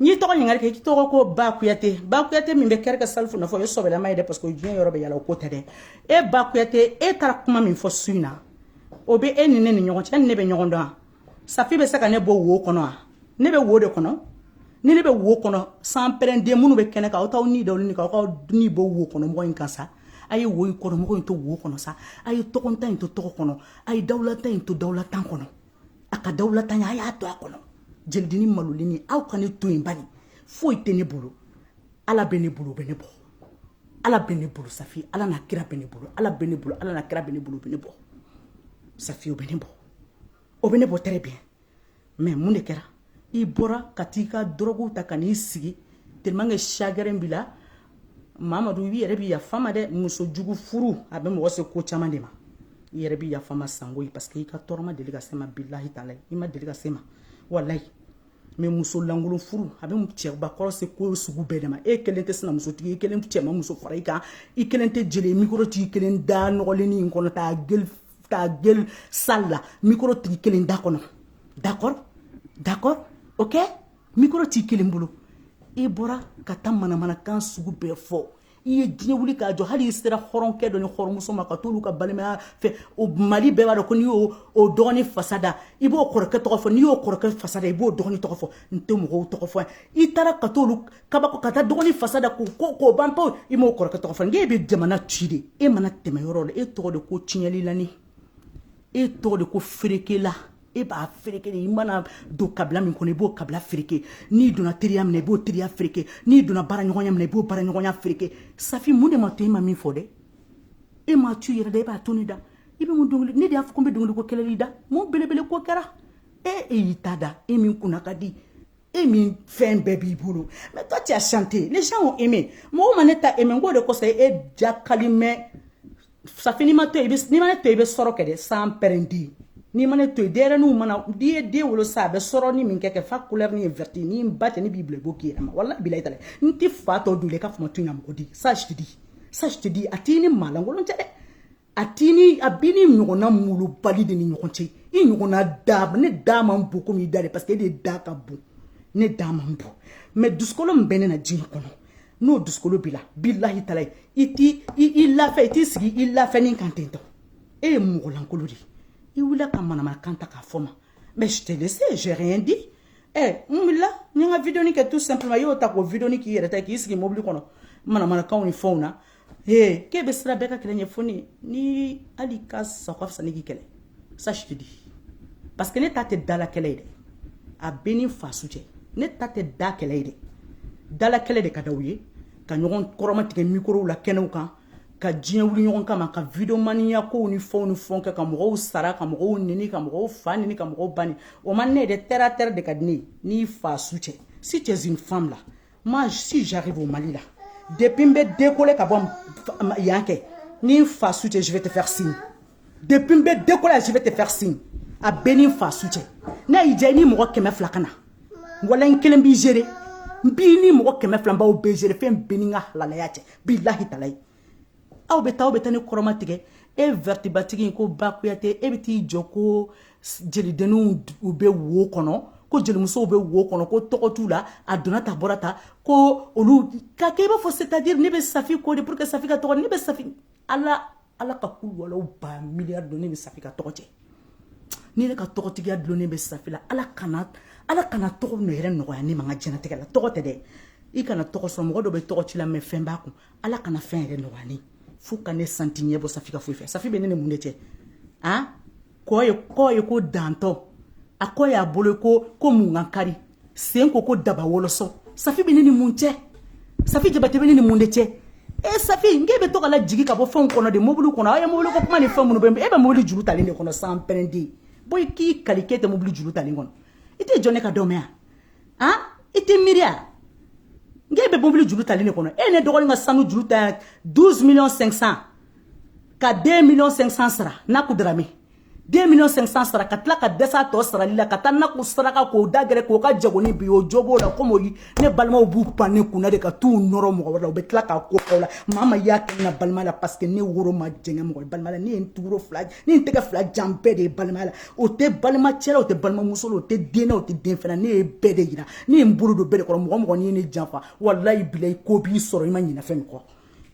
[SPEAKER 1] n'i tɔgɔ ɲininkali kɛ i tɔgɔ ko ba kuyate ba kuyate min bɛ kɛrɛ ka salifu nɔfɛ o ye sɔbɛlama ye dɛ parce que diɲɛ yɔrɔ bɛ yala o ko tɛ dɛ e ba kuyate e taara kuma min fɔ su in na o bɛ e ni ne ni ɲɔgɔn cɛ ne bɛ ɲɔgɔn dɔn safi bɛ se ka ne bɔ wo kɔnɔ wa ne bɛ wo de kɔnɔ ni ne bɛ wo kɔnɔ sanpɛrɛnden minnu bɛ kɛnɛ kan aw t'aw ɲɛda wuli kan aw k'aw ɲɛ bɔ wo kɔnɔmɔgɔ in kan sa a ye wo kɔnɔmɔgɔ in to wo kɔnɔ sa a ye tɔgɔntan in to tɔgɔ kɔnɔ a ye dawulantan in to dawulantan kɔnɔ a ka dawulantanya a y'a to a kɔnɔ jelidennin malolen in aw ka ne to yen bani foyi tɛ ne bolo ala bɛ ne bolo bɛ ne bɔ ala bɛ ne bolo safi ala n'a kira bɛ ne bolo ala bɛ ne bolo ala n'a kira bɛ ne bolo bɛ ne bɔ safi o bɛ ne bɔ o bɛ ne bɔ très bien mais mun de kɛra i bɔra ka taa i ka dɔrɔguw ta ka n'i sigi tellement que chagrin b'i la Mamadu i yɛrɛ b'i yafa n ma dɛ muso jugu furu a bɛ mɔgɔ se ko caman de ma i yɛrɛ b'i yafa n ma sango ye parce que i ka tɔɔrɔ ma deli ka se n ma bilahi taala i ma deli ka se n ma walayi mais muso lankolon furu a bɛ cɛbakɔrɔ se ko sugu bɛɛ de ma e kelen tɛ sinamusotigi i kelen cɛ ma muso fara i kan i kelen tɛ jeli mikoro t'i kelen da nɔgɔlennin in kɔnɔ ta gueule ta gueule sale là micro t'i kelen da kɔnɔ d'accord d'accord ok micro t'i kelen bolo i bɔra ka taa manamanakan sugu bɛɛ fɔ i ye diɲɛ wuli k'a jɔ hali i sera hɔrɔnkɛ dɔ ni hɔrɔnmuso ma ka t'olu ka balimaya fɛ o mali bɛɛ b'a dɔn ko n'i y'o o dɔgɔnin fasa da i b'o kɔrɔkɛ tɔgɔ fɔ n'i y'o kɔrɔkɛ fasa da i b'o dɔgɔnin tɔgɔ fɔ n tɛ mɔgɔw tɔgɔ fɔ yan i taara ka t'olu kabako ka taa dɔgɔnin fasa da k'o ko k'o ban pewu i m'o kɔrɔkɛ tɔgɔ fɔ n'e bɛ jamana ci de e mana tɛmɛ yɔrɔ la e tɔgɔ de ko tiɲɛlilanin e tɔgɔ de ko ferekela e b'a fereke de i mana don kabila min kɔnɔ i b'o kabila fereke n'i donna teriya min na i b'o teriya fereke n'i donna baaraɲɔgɔnya min na i b'o baaraɲɔgɔnya fereke safi mun de ma to e ma min fɔ dɛ e m'a tu yɛrɛ da e b'a to ne da i bɛ mun dɔnkili ne de y'a fɔ ko n bɛ dɔnkili ko kɛlɛli da mun belebele ko kɛra e e y'i ta da e min kunna ka di e min fɛn bɛɛ b'i bolo mais toi tu as chanté les gens ont aimé mɔgɔw ma ne ta aimé n k'o de kosɔn e jakali mɛn safi n'i ma n to yen n'i ma ne to yen i bɛ sɔrɔ kɛ dɛ sanpɛrɛnden n'i ma ne to yen denyɛrɛninw mana n'i ye den wolo sa a bɛ sɔrɔ ni min kɛ kɛ fa couleur ni ye verte ni n ba tɛ ne b'i bila i b'o k'i yɛrɛ ma walahi bilayi tala n tɛ fa tɔ dun dɛ i ka fama to yen ka mɔgɔ di ça je te dis ça je te dis a t'i ni maalankolon cɛ dɛ a t'i ni a b'i ni ɲɔgɔnna malobali de ni ɲɔgɔn cɛ i ɲɔgɔnna da ne da man bon komi i da de parce que e de da ka bon ne da man bon mɛ dusukolo min bɛ ne na diɲɛ kɔnɔ n'o dusukolo b'i la bilahi talayi i t'i i lafɛ i t'i sigi i lafɛnin kan ten tɔ e ye mɔgɔlankolon de ye i wulila ka manamanakan ta k'a fɔ ma mais je te laisse j'ai rien dit ɛ n wulila n ye n ka vidéoni kɛ tout simplement i y'o ta k'o vidéoni k'i yɛrɛ ta k'i sigi mobili kɔnɔ manamanakanw ni fɛnw na Ee k'e bɛ siran bɛɛ ka kɛlɛ ɲɛ fɔ ne ni hali ka sa ka fisa ni k'i kɛlɛ sa si tɛ di parce que ne ta tɛ dala kɛlɛ ye dɛ a bɛ ni n fa su cɛ ne ta tɛ da kɛlɛ ye dɛ dala kɛlɛ de ka di aw ye ka ɲɔgɔn kɔrɔmatigɛ mikorow la kɛnɛw kan ka diɲɛ wuli ɲɔgɔn kama ka videomaniya kow ni fɛnw ni fɛnw kɛ ka mɔgɔw sara ka mɔgɔw nɛni ka mɔgɔw fa nɛni ka mɔgɔw ba nɛni o man ne yɛrɛ terre à terre de ka di ne ye n'i fa su cɛ si t'es une femme là moi si j'arrive au mali là depuis n bɛ décoller ka bɔ yan kɛ ni n fa su cɛ je vais te faire signe depuis n bɛ décoller je vais te faire signe a bɛ ni n fa su cɛ n'a y'i diya i ni mɔgɔ kɛmɛ fila ka na wala n kelen b'i gérer n b'i ni mɔgɔ kɛmɛ fila n b'aw bɛɛ gérer fɛn bɛ ni n ka halalaya cɛ bilahi talayi aw bɛ taa aw bɛ taa ne kɔrɔmatigɛ e vɛrɛtibatigi in ko ba kuyate e bɛ t'i jɔ ko jelidenninw u bɛ wo kɔnɔ ko jelimusow bɛ wo kɔnɔ ko tɔgɔ t'u la a donna ta bɔra ta ko olu ka kɛ i b'a fɔ c'est-à-dire ne bɛ safi kɔ de pour que safi ka tɔgɔ ne bɛ safi ala ala ka k'u walaw ba miliyari don ne bɛ safi ka tɔgɔ cɛ ni ne ka tɔgɔtigiya dulonnen bɛ safi la ala kana ala kana tɔgɔ nɔ yɛrɛ nɔgɔya ne ma n ka diɲɛnatigɛ la tɔgɔ tɛ dɛ i kana tɔgɔ sɔrɔ mɔgɔ dɔ bɛ tɔgɔ ci la mɛ fɛn b'a kun ala kana fɛn yɛrɛ nɔgɔya n ye fo ka ne sa n tɛ ɲɛbɔ safi ka foyi fɛ safi bɛ ne ni mun de cɛ a kɔ ye kɔ ye ko dantɔ a kɔ y'a bolo ko ko mun ka kari sen ko ko daba wɔlɔsɔ safi bɛ ne ni mun cɛ safi jabate bɛ ne ni mun de cɛ e safi n k'e bɛ to ka lajigin ka bɔ fɛnw kɔnɔ de mobili kɔnɔ aw ye mobili ko kuma ni fɛn minnu bɛ e bɛ mobili juru talen de kɔnɔ sanpɛrɛn den bɔ i k'i kali k'e tɛ mobili juru talen kɔnɔ i tɛ jɔ ne ka dɔn mɛn yan han i tɛ miiri a nka e bɛ mobili juru talen kɔnɔ e ye n dɔgɔnin ka sanu juru ta 12 millions 500 ka 2 millions 500 sara n'a ko dara min 2 millions 500 sara ka tila ka dɛsɛ a tɔ sarali la ka taa n'a ko saraka k'o da gɛrɛ k'o ka jagonin bin o jo b'o la komi o ye ne balimaw b'u pan ne kun na de ka t'u nɔrɔ mɔgɔ wɛrɛ la u bɛ tila k'a ko aw la maa ma y'a kɛ na balima la parce que ne woro ma jɛngɛ mɔgɔ balima la ne ye n tuguro fila ne ye n tɛgɛ fila jan bɛɛ de ye balima la o tɛ balimacɛ la o tɛ balimamuso o tɛ den o tɛ den fana ne ye bɛɛ de jira ne ye n bolo don bɛɛ de kɔrɔ mɔgɔ o mɔgɔ n'i ne janfa walayi bilayi ko b'i sɔrɔ i ma ɲinɛ fɛn min kɔ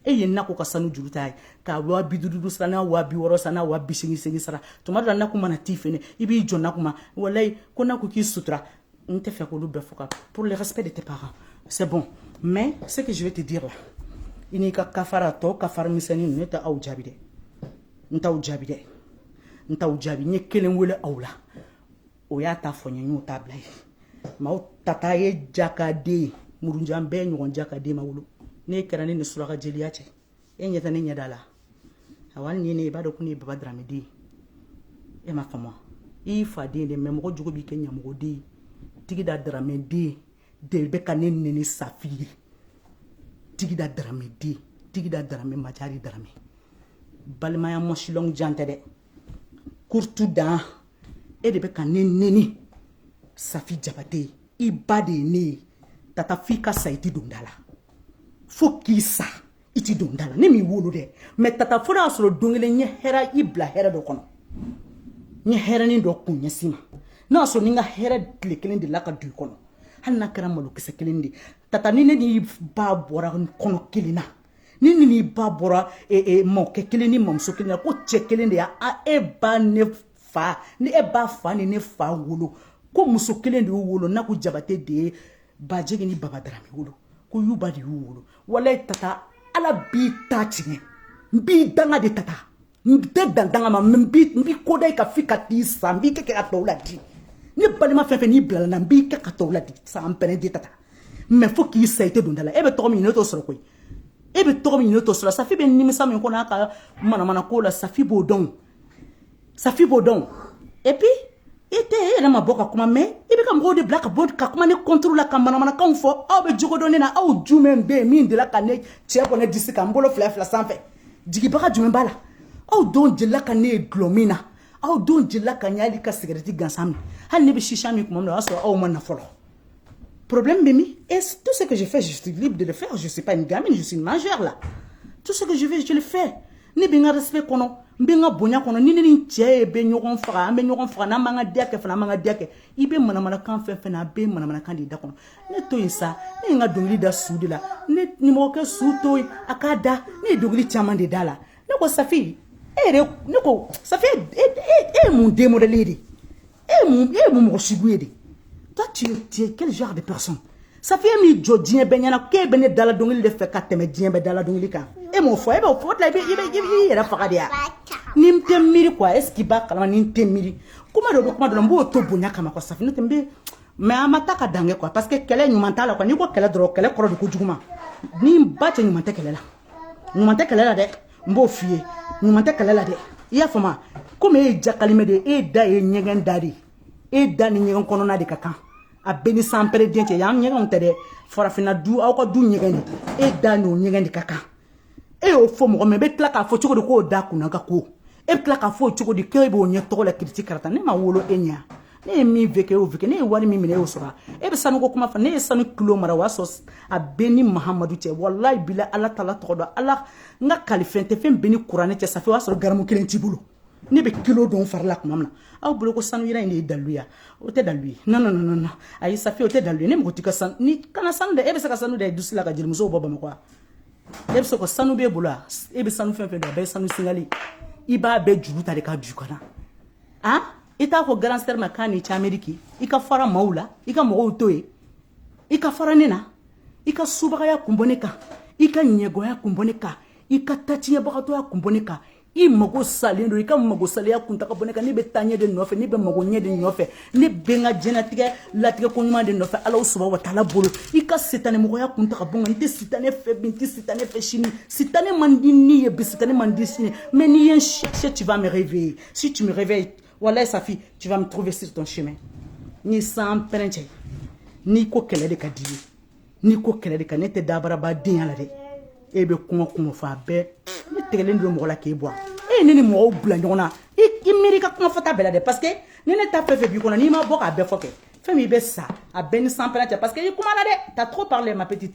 [SPEAKER 1] e ye na ko ka sanu juru ta ye ka waa bi duuru sara n'a waa bi wɔɔrɔ sara n'a waa bi segin segin sara tuma dɔ la na ko mana t'i fɛ i b'i jɔ na kuma walayi ko na ko k'i sutura n tɛ fɛ k'olu bɛɛ fɔ ka pour le respect de tes parents c'est bon mais ce que je vais te dire là i n'i ka kafara tɔ kafara misɛnnin ninnu ne tɛ aw jaabi dɛ n t'aw jaabi dɛ n t'aw jaabi n ye kelen wele aw la o y'a ta fɔ n ye n y'o ta bila ye maaw tata ye jakaden ye murunjan bɛɛ ɲɔgɔn jakaden ma wolo ne kɛra ne ni suraka jeliya cɛ e ɲɛ tɛ ne ɲɛda la awa hali ni ne i b'a dɔn ko ne ye baba darame den ye e ma faamu i y'i fa den de mɛ mɔgɔ jugu b'i kɛ ɲamɔgɔden ye tigida darame den ye de bɛ ka ne neni safi ye tigida darame den tigida darame majari darame balimaya mɔsilɔn jan tɛ dɛ kurtu dan e de bɛ ka ne neni safi jabate ye i ba de ye ne ye tata f'i ka sa i tɛ don da la fo k'i sa i tɛ don da la ne m'i wolo dɛ mɛ tata fo y'a sɔrɔ don kelen ɲɛ hɛrɛ i bila hɛrɛ dɔ kɔnɔ ɲɛ hɛrɛnin dɔ kun ɲɛsin ma n'a sɔrɔ ni n ka hɛrɛ tile kelen de la ka du kɔnɔ hali n'a kɛra malokisɛ kelen de tata ni ne n'i ba bɔra kɔnɔ kelen na ni ne n'i ba bɔra e, e, mɔkɛ kelen ni mamuso kelen na ko cɛ kelen de y'a e ba ne fa ni e ba fa ni ne fa wolo ko muso kelen de y'u wolo n'a ko jabate de ye baji ni baba darame wolo ko yuba de y'u wolo walayi tata ala b'i ta tiɲɛ n b'i danga de tata n tɛ dan danga ma n b'i koda i ka fi ka t'i san n b'i kɛ kɛ ka tɔw ladi ne balima fɛn fɛn n'i bilala na n b'i kɛ ka tɔw ladi san pɛnɛ di tata mɛ fo k'i sa i tɛ don da la e bɛ tɔgɔ min ne t'o sɔrɔ koyi e bɛ tɔgɔ min ne t'o sɔrɔ safi bɛ nimisa min kɔnɔ a ka manamana ko la safi b'o dɔn safi b'o dɔn et puis e tɛ e yɛrɛ ma bɔ ka kuma mais i bɛ ka mɔgɔw de bila ka bɔ ka kuma ne contre la ka manamanakanw fɔ aw bɛ jogo dɔn ne na aw jumɛn bɛ yen min delila ka ne cɛ bɔ ne disi kan n bolo fila fila sanfɛ jigibaga jumɛn b'a la aw jɔn delila ka ne ye dulɔ min na aw jɔn delila ka n ye hali ka sigarɛti gansan min hali ne bɛ sisa min tuma min na o y'a sɔrɔ aw ma na fɔlɔ Problème bɛ min, et tout ce que je fais, je suis libre de le faire. Je ne suis pas une gamine, je suis une majeure là. Tout ce que je veux, je le fais. Ne bɛ n ka respect kɔnɔ n bɛ n ka bonya kɔnɔ ni ne ni n cɛ ye bɛ ɲɔgɔn faga an bɛ ɲɔgɔn faga n'an b'an ka diya kɛ fana an b'an ka diya kɛ i bɛ manamanakan fɛn fɛn na a bɛ manamanakan de da kɔnɔ ne to yen sa ne ye n ka dɔnkili da su de la ne nimɔgɔkɛ su to yen a k'a da ne ye dɔnkili caman de da la ne ko safi e yɛrɛ ne ko safi e e e ye mun de modèle de ye e ye mun e ye mun mɔgɔ sugu ye de toi tu es tu es quel genre de personne safi e min jɔ diɲɛ bɛɛ ɲɛna k'e bɛ ne dala dɔnkili de fɛ ka tɛmɛ diɲɛ bɛɛ dala dɔnkili kan e m'o fɔ e b'o fɔ o de la i bɛ i bɛ i bɛ i yɛrɛ faga de ya ni n tɛ miiri quoi est ce que i b'a kalama ni n tɛ miiri kuma dɔ bɛ kuma dɔ la n b'o to bonya kama quoi safi n'o tɛ n bɛ mɛ an ma taa ka dan kɛ quoi parce que kɛlɛ ɲuman t'a la quoi n'i ko kɛlɛ dɔrɔn kɛlɛ kɔrɔ de ko juguman ni n ba cɛ ɲuman tɛ kɛlɛ la. ɲuman tɛ kɛlɛ la dɛ n b'o f'i ye ɲuman tɛ kɛlɛ la dɛ i y'a faamu komi e ye jakalimɛ de ye e da ye ɲɛgɛn da de ye e da ni ɲɛgɛn kɔnɔna de ka kan a bɛ n ni sanpɛrɛn cɛ yan ɲɛgɛnw tɛ dɛ farafinna du aw ka du ɲɛgɛn de e da n'o ɲɛgɛn de ka kan e y'o fɔ mɔgɔ min bɛ tila k'a fɔ cogo di k'o da kunna ka ko e bɛ tila k'a fɔ cogo di k'e b'o ɲɛ tɔgɔ la kiriti karata ne ma wolo e ɲɛ ne ye min vécu o vécu ne ye wari min minɛ e y'o sɔrɔ e bɛ sanuko kuma fɔ ne ye sanu kilo mara o y'a sɔrɔ a bɛ n ni mahamadu cɛ walayi bila ala taala tɔgɔ don ala n ka kalifɛn tɛ fɛn bɛ n ni kuranɛ cɛ safi o y'a sɔrɔ garamu kelen t'i bolo ne bɛ kilo don fari la tuma min na aw bolo ko sanu yira in de ye dalu ye o tɛ dalu ye non non non non ayi safi o tɛ dalu ye ne mago t'i ka sanu n'i kanna sanu dɛ e bɛ se ka sanu da i dusu la ka jelimusow bɔ bamakɔ wa e bɛ se ka sanu b'e bolo wa e bɛ sanu fɛn fɛn don a bɛɛ ye sanu singali i b'a bɛɛ juru ta de k'a don i kan na an. i t'a fɔ grande sœur ma k'a ni cameriki i ka fara maaw la i ka mɔgɔw to ye i ka fara ne na i ka subagaya kun bɔ ne kan i ka ɲɛngoya kun bɔ ne kan i ka tatiɲɛbagatɔya kun bɔ ne kan i mago salen don i ka mago saleya kun ta ka bɔ ne kan ne bɛ taaɲɛ de nɔfɛ ne bɛ magoɲɛ de nɔfɛ ne bɛ n ka diɲɛnatigɛ latigɛ ko ɲuman de nɔfɛ ala subahana wa taala bolo i ka sitanɛmɔgɔya kun ta ka bɔ n kan n tɛ sitanɛ fɛ bi n tɛ sitanɛ fɛ sini sitanɛ man di ne ye bi sitanɛ man di sini mais n'i ye n sɛ tu vas me réveiller Si tu me réveilles, walayi Safi, tu vas me trouver sur ton chemin. N ni sanpɛrɛn cɛ, n'i ko kɛlɛ de ka di i ye, n'i ko kɛlɛ de ka ne tɛ dabaraba denya la dɛ. E bɛ kuma kuma fɔ a bɛɛ, ne tigɛlen don mɔgɔ la k'e bɔ. E ne ni mɔgɔw bila ɲɔgɔn na, i i miiri ka kuma fɔta bɛɛ la dɛ parce que ni ne ta fɛn fɛn b'i kɔnɔ n'i ma bɔ k'a bɛɛ fɔ kɛ, fɛn min i bɛ sa a bɛ n ni sanpɛrɛn cɛ parce que i kumana dɛ, t'as trop parlé ma petite.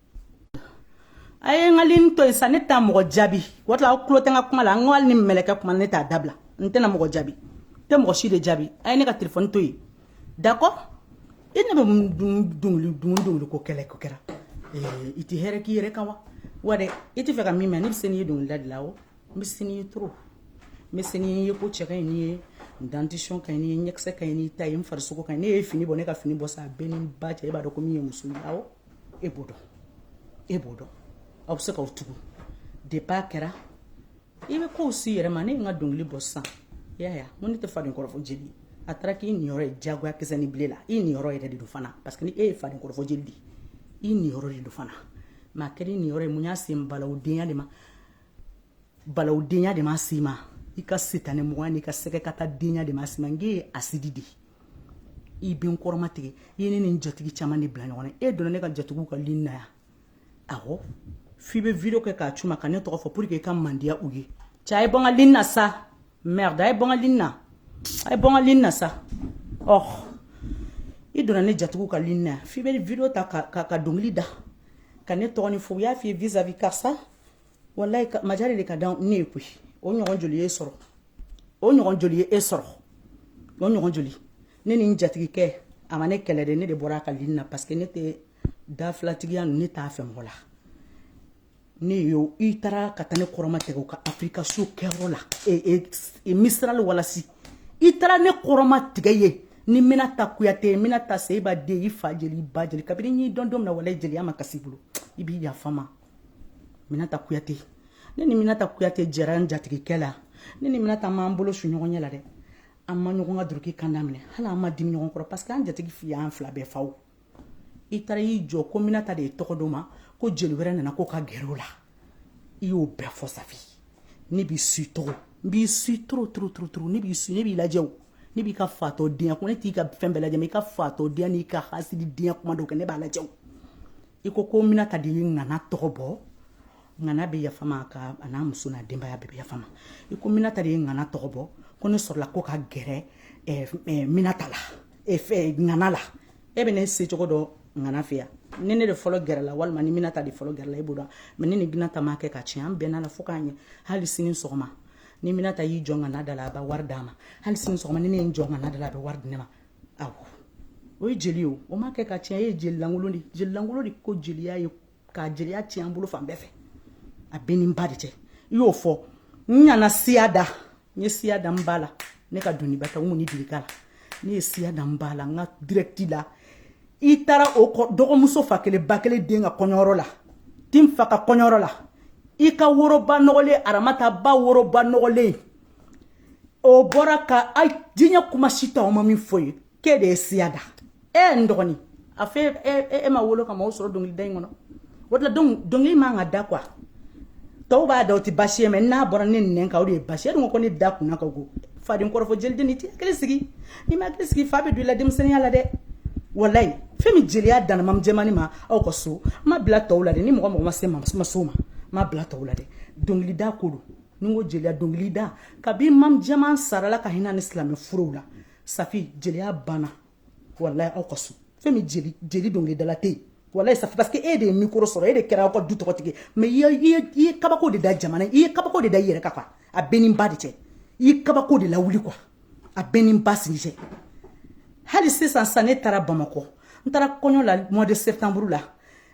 [SPEAKER 1] a ye n ka lini to yen sa ne tɛ mɔgɔ jaabi o tila aw tulo tɛ n ka kuma la n ko hali ni mɛlɛkɛ kuma ne t'a dabila n tɛna mɔgɔ jaabi n tɛ mɔgɔ si de jaabi a ye ne ka telefɔni to yen d'accord i ne bɛ dunguli dunguli dunguli ko kɛlɛ ko kɛra i tɛ hɛrɛ k'i yɛrɛ kan wa wa dɛ i t'a fɛ ka min mɛn ne bɛ se n'i ye dɔnkilida de la o n bɛ se n'i ye trop n bɛ se n'i ye n cɛ ka ɲi n'i ye n dentition ka ɲi n'i ye ɲɛkisɛ ka ɲi n'i ta ye n farisogo ka ɲi ne ye fini bɔ ne ka fini bɔ sa a bɛ n ni n ba cɛ e b'a dɔn ko nin ye muso ye awɔ e b'o dɔn e b'o dɔn aw bɛ se k'aw tugu depi a kɛra i bɛ kow si yɛrɛ ma ne ye n ka dɔnkili bɔ sisan i y'a ye n ko ne tɛ faden kɔrɔfɔ jeli a taara k'i niyɔrɔ ye diyagoya kisɛ ni bile la i niyɔrɔ yɛrɛ de don fana parce que ni e ye faden kɔrɔfɔ jeli de ye i niyɔrɔ de don fana mɛ a kɛra i niyɔrɔ ye mun y'a se balawudenya de ma balawudenya de ma se i ma i ka sitanɛ mɔgɔya n'i ka sɛgɛnbaatɔ denya de ma se i ma n k'e ye hasidi de ye i bɛ n kɔrɔma tigɛ i ye ne ni n jatigi caman de bila ɲɔgɔn na e donna ne ka jatigiw ka lini na yan awɔ f'i bɛ video kɛ k'a ci u ma ka ne tɔgɔ fɔ pour que i ka mandiya u ye cɛ a ye bɔ n ka lini na sa merde a ye bɔ n ka lini na a ye bɔ n ka lini na sa ɔh i donna ne jatigiw ka lini na yan f'i bɛ video ta ka, ka, ka dɔnkili da ka ne tɔgɔ ni fɔ u y'a f'i ye vis à vis karisa ala ma jeliya di ka dan ne ye koyi o ɲɔgɔn joli y'e sɔrɔ o ɲɔgɔn joli ye e sɔrɔ o ɲɔgɔn joli ne ni n jatigikɛ a ma ne kɛlɛ de ne de bɔra a ka lini na parce que ne tɛ dafilatigiya ninnu ne t'a fɛ mɔgɔ la ne yo i taara ka taa ne kɔrɔma tigɛ u ka afirika so kɛyɔrɔ la e, e, e, misirali walasi i taara ne kɔrɔma tigɛ ye ni minata kuyate ye minata seyiba den i fa jeli i ba jeli kabini n y'i dɔn don min na walayi jeliya ma kasi i bolo i bɛ yafa n ma minata kuyate ne ni minata kuyate jɛra n jatigikɛ la ne ni minata m'an bolo su ɲɔgɔn ɲɛ la dɛ an ma ɲɔgɔn ka duruki kanda minɛ hali an ma dimi ɲɔgɔn kɔrɔ parce que an jatigi fi y'an fila bɛɛ faw i taara y'i jɔ ko minata de ye tɔgɔ d'o ma ko jeli wɛrɛ nana kɔ ka gɛrɛ o la i y'o bɛɛ fɔ ça fait ne b'i su trop n b'i su trop trop trop trop ne b'i su ne b'i lajɛ o ne b'i ka fatɔ denya ko ne t'i ka fɛn bɛɛ lajɛ i ka fatɔ denya n'i ka hasidi denya kuma dɔ kɛ ne b'a lajɛ o i ko ko minata de ye ŋana tɔgɔ bɔ ŋana bɛ yafa n ma ka a n'a muso n'a denbaya bɛ yafa n ma i ko minata de ye ŋana tɔgɔ bɔ ko ne sɔrɔla kɔ ka gɛrɛ eh, eh, minata la eh, ŋana la e bɛ ne secogo dɔn ŋana fɛ yan ni ne de fɔlɔ gɛrɛla walima ni minata de fɔlɔ gɛrɛla e b'o dɔn mɛ ne ni minata ma kɛ ka tiɲɛ an bɛnna la fo k'a ɲɛ hali sini sɔgɔma ni minata y'i jɔ ŋana da la a bɛ wari d'a ma hali sini sɔgɔma ni ne ye n jɔ ŋana da la a bɛ wari di ne ma awɔ o ye jeli ye o o ma kɛ ka tiɲɛ e ye jelilankolon de jelilankolon de ko jeliya ye k'a jeliya tiɲɛ an bolo fan bɛɛ fɛ a bɛ ni ba de cɛ i y'o fɔ n ɲana siya da n ye siya da n ba la ne ka doniba tɛ n kɔni delika la ne ye siya da n ba la n ka dirɛkiti la i taara o kɔ dɔgɔmuso fa kelen ba kelen den ka kɔɲɔyɔrɔ la tin fa ka kɔɲɔyɔrɔ la i ka woroba nɔgɔlen aramata ba woroba nɔgɔlen o bɔra ka a diɲɛ kuma si ta o ma min fɔ ye k'e de ye siya da e ye n dɔgɔnin a fɛ e ma wolo ka mam sɔrɔ dɔnkilida in kɔnɔ o de la dɔnkili man ka da quoi tɔw b'a da o tɛ basi ye mais n'a bɔra ne nɛn kan o de ye basi ye e dun ko ne da kunna ka go faden kɔrɔfɔ jeliden n'i tɛ hakili sigi n'i ma hakili sigi fa bɛ don i la denmisɛnninya la dɛ walayi fɛn min jeliya danna mam jɛmani ma aw ka so ma bila tɔw la dɛ ni mɔgɔ mɔgɔ ma se ma ma ma ma bila tɔw la dɛ dɔnkilida ko don n'i ko jeliya dɔnkilida kabi mam jɛman sara ala ka hinɛ ni silamɛ furew la safi jeliya banna walayi aw ka so fɛn min jeli jeli dɔnkilidala tɛ yen walayi safi parce que e de ye mikoro sɔrɔ e de kɛra aw ka du tɔgɔtigi mais i ye i ye kabako de da jamana i ye kabako de da i yɛrɛ kan a b'e n'i ba de cɛ i ye kabako de lawuli quoi a b'e n'i ba sigi cɛ hali sisan sisan ne taara bamakɔ n taara kɔɲɔ la mois de septembre la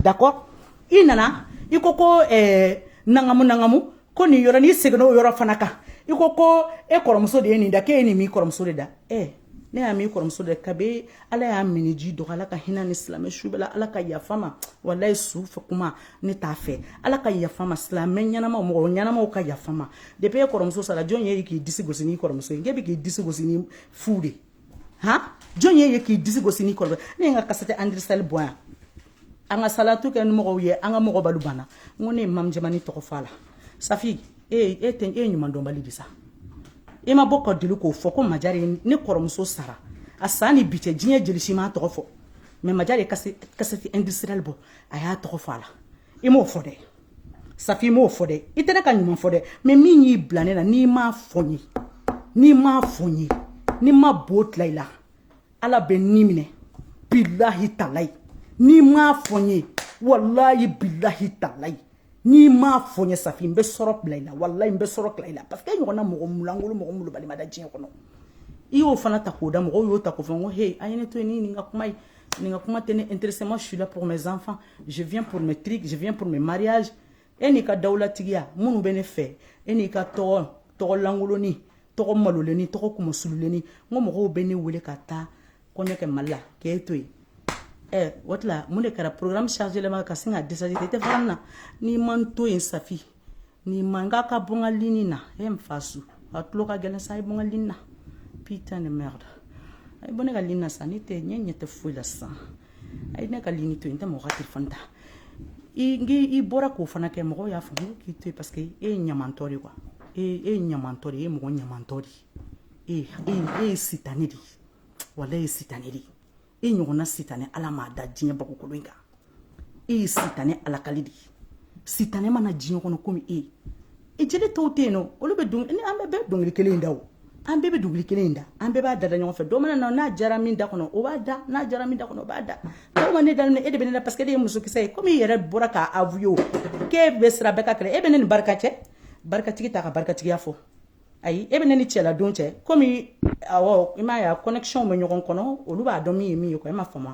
[SPEAKER 1] D'accord i nana i ko ko nankamu nankamu ko nin yɔrɔ n'i seginna o yɔrɔ fana kan i ko ko e kɔrɔmuso de ye nin da e ye nin kɔrɔmuso de da ɛ ne y'a kɔrɔmuso de ka ala y'a minniji dɔgɔ ala ka hinɛ ni silamɛ su bɛɛ ala ka yafa ma walayi su fɛ kuma ne t'a fɛ ala ka yafa ma silamɛ ɲɛnama mɔgɔ ɲɛnamaw ka yafa ma de bɛ e kɔrɔmuso sara jɔn ye k'i disi gosi kɔrɔmuso in e bɛ k'i disi gosi fu de han jɔn ye ye k'i disi gosi n'i kɔlɔbɛ ne ye n ka cassette industrielle bɔ yan an ka salatu kɛ ni mɔgɔw ye an ka mɔgɔ balu banna n ko ne ye mami jɛmani tɔgɔ fɔ a la safi e e tɛ e ye ɲuman dɔnbali de sa i ma bɔ ka deli k'o fɔ ko majari ye ne kɔrɔmuso sara a san ni bi cɛ diɲɛ jeli si m'a tɔgɔ fɔ mais majari ye cassette industrielle bɔ a y'a tɔgɔ fɔ a la i m'o fɔ dɛ safi i m'o fɔ dɛ i tɛ ne ka ɲuman fɔ dɛ mais min y'i bila ne la n'i m'a fɔ n ye n'i m'a fɔ n ye ni n ma bo tila i la ala bɛ ni minɛ bilahi talayi n'i m'a fɔ n ye walayi bilahi talayi n'i m'a fɔ n ye safi n bɛ sɔrɔ bila i la walayi n bɛ sɔrɔ tila i la parce que e ɲɔgɔnna mɔgɔ mulangolo mɔgɔ malobali ma da diɲɛ kɔnɔ i y'o fana ta k'o da mɔgɔw y'o ta k'o fɔ n ko he a ye ne to yen ni nin ka kuma ye nin ka kuma tɛ ne intéressé moi je suis là pour mes enfants je viens pour mes trucs je viens pour mes mariages e n'i ka dawulatigiya minnu bɛ ne fɛ e n'i ka tɔgɔ tɔgɔ lankolonnin tɔgɔ malolennin tɔgɔ kumasululenni n ko mɔgɔw bɛ ne wele ka taa kɔɲɔ kɛ mali la k'e to yen ɛ o tila mun de kɛra programme chargé lama ka sin ka décharger i tɛ fara n na n'i ma n to yen safi n'i man kan ka bɔ n ka ligne na e n fa su a tulo ka gɛlɛn sa i bɔ n ka ligne na putain de merde a ye bɔ ne ka ligne na sa ne tɛ ɲɛ ɲɛ tɛ foyi la sisan a ye ne ka ligne to yen n tɛ mɔgɔ ka telefɔni ta i i bɔra k'o fana kɛ mɔgɔw y'a faamu k'i to yen parce que e ye ɲamantɔ de ye quoi e e ye ɲamantɔ de ye e ye mɔgɔ ɲamantɔ de ye e e e ye sitanɛ de ye wala e ye sitanɛ de ye e ɲɔgɔnna sitanɛ ala m'a da diɲɛ bagokolo in kan e ye sitanɛ alakali de ye sitanɛ ma na diɲɛ kɔnɔ komi e ye e jeli tɔw tɛ yen nɔ olu bɛ dɔnkili an bɛɛ bɛ dɔnkili kelen in da o an bɛɛ bɛ dɔnkili kelen in da an bɛɛ b'a dada ɲɔgɔn fɛ dɔ mana na n'a diyara min da kɔnɔ o b'a da n'a diyara min da kɔnɔ o b'a da dɔw ma ne daminɛ e de bɛ ne la parce que e de ye musokisɛ ye komi i yɛrɛ bɔra k'a avouer o k'e bɛ sira bɛɛ ka kɛlɛ e bɛ ne ni barika cɛ barikatigi t'a ka barikatigiya fɔ ayi e bɛ ne ni cɛla don cɛ komi awɔ i m'a ye a connexion bɛ ɲɔgɔn kɔnɔ olu b'a dɔn min ye min ye quoi e ma faamu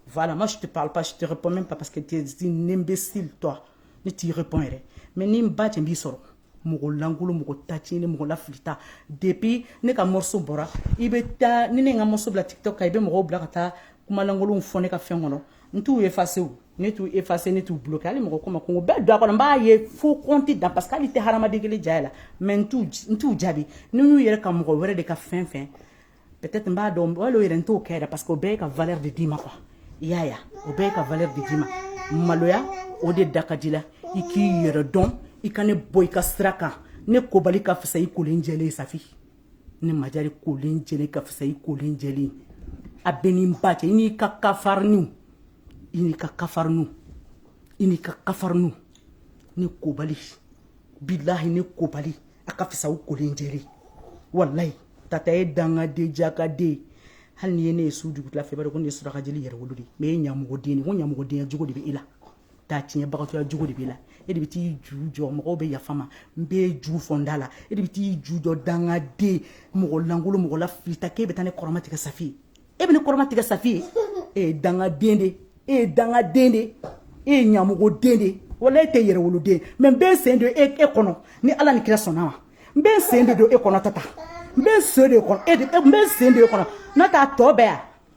[SPEAKER 1] voilà moi je te parle pas je te réponds même pas parce que tu es une imbécile toi ne t'i répond yɛrɛ mais ni n ba cɛ b'i sɔrɔ mɔgɔ lankolo mɔgɔ tacini mɔgɔ lafilita depuis ne ka morceau bɔra i bɛ taa ni ne ye n ka morceau bila tiktok kan i bɛ mɔgɔw bila ka taa kuma lankolonw fɔ ne ka fɛn kɔnɔ n t'u effacer ne t'u effacer ne t'u bloquer hali mɔgɔ kuma kun o bɛɛ don a kɔnɔ n b'a ye fo kɔnti dan parce que hali tɛ hadamaden kelen ja la mais n t'u jaabi n'i y'u yɛrɛ ka mɔgɔ wɛrɛ de ka fɛn fɛn peut-être n b'a dɔn wali o yɛrɛ n t'o kɛ yɛrɛ parce que o bɛɛ ye ka valeur de d'i ma quoi i y'a ye o bɛɛ ye ka valeur de d'i ma maloya o de da ka d'i la i k'i yɛrɛ dɔn i ka ne bɔ i ka sira kan ne kobali ka fisa i kolen jɛlen safi ni ma kolen jɛlen ka fisa i kolen jɛlen a bɛ ni ba cɛ n'i ka kafarinw i n'i ka kafarinw i n'i ka kafarinw ne kobali bilayi ne kobali a ka fisa aw kolen jɛlen walayi tata ye dangaden jakaden hali n'i ye ne ye su dugutila fɛ i b'a ko ne ye surakajɛ yɛrɛwolo de mɛ ye ɲamɔgɔden ko ɲamɔgɔdenya jugu de bɛ e la taa tiɲɛbagatɔya jugu de b'i la e de bɛ t'i ju jɔ mɔgɔw bɛ yafa ma n bɛ ju fɔ n da la e de bɛ t'i ju jɔ dangaden mɔgɔ lankolo mɔgɔ lafilita k'e bɛ taa ne kɔrɔmatigɛ safi ye e bɛ ne kɔrɔmatigɛ safi ye e ye dangaden de e ye dangaden de e ye ɲamɔgɔden de wala e tɛ yɛrɛwoloden mɛ n bɛ sen don e e kɔnɔ ni ala ni kira sɔnn'a ma n bɛ sen de don e kɔnɔ tata n bɛ so de kɔnɔ e n bɛ sen de e kɔnɔ n'a t'a tɔ bɛɛ yan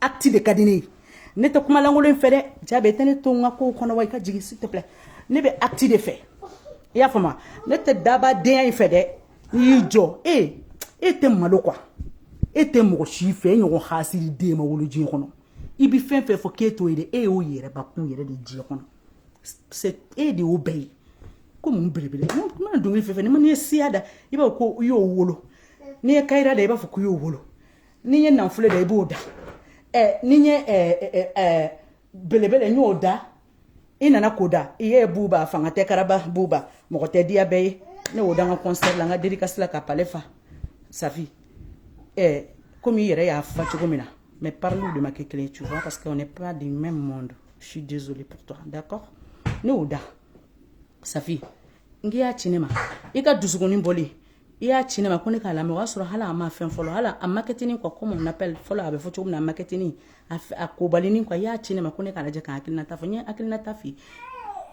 [SPEAKER 1] acte de ka di ne ye ne tɛ kuma lankolon in fɛ dɛ jaabi tɛ ne to n ka kow kɔnɔ wa i ka jigin s'il te plaît ne bɛ acte de fɛ i y'a faamuya ne tɛ dabadenya in fɛ dɛ n'i y'i jɔ e e tɛ malo quoi e tɛ mɔgɔ si fɛ e ɲɔgɔn hasididen ma wolo diɲɛ kɔnɔ i bɛ fɛn fɛn fɔ k'e t'o ye dɛ e y'o yɛrɛ bakun yɛrɛ de diɲɛ kɔnɔ e de y'o bɛɛ ye ko mun belebele n mana dɔnkili fɛn fɛn n'i ma n'i ye siya da i b'a fɔ ko i y'o wolo n'i ye kayira da i b'a fɔ ko i y'o wolo n'i ye nafolo da i b'o da ɛ n'i ye ɛ ɛ belebele n y'o da i nana ko da i ye buba fanga tɛ karaba buba mɔgɔ tɛ diya bɛɛ ye ne y'o da n ka concert la n ka dédicace la ka palais fa safi ɛ komi i yɛrɛ y'a fa cogo min na mais pariliw de ma kɛ kelen ye tu vois parce que on n'est pas du même monde je suis désolée pour toi d'accord ne y'o da safi n k'i y'a ci ne ma i ka dusukun bɔli i y'a ci ne ma ko ne k'a lamɛn o y'a sɔrɔ hali a ma fɛn fɔlɔ hali a makɛtinin quoi comment on appelle fɔlɔ a bɛ fɔ cogo min na a makɛtinin a f- a kobalinin quoi i y'a ci ne ma ko ne k'a lajɛ ka hakilinata fɔ n ye hakilinata f'i ye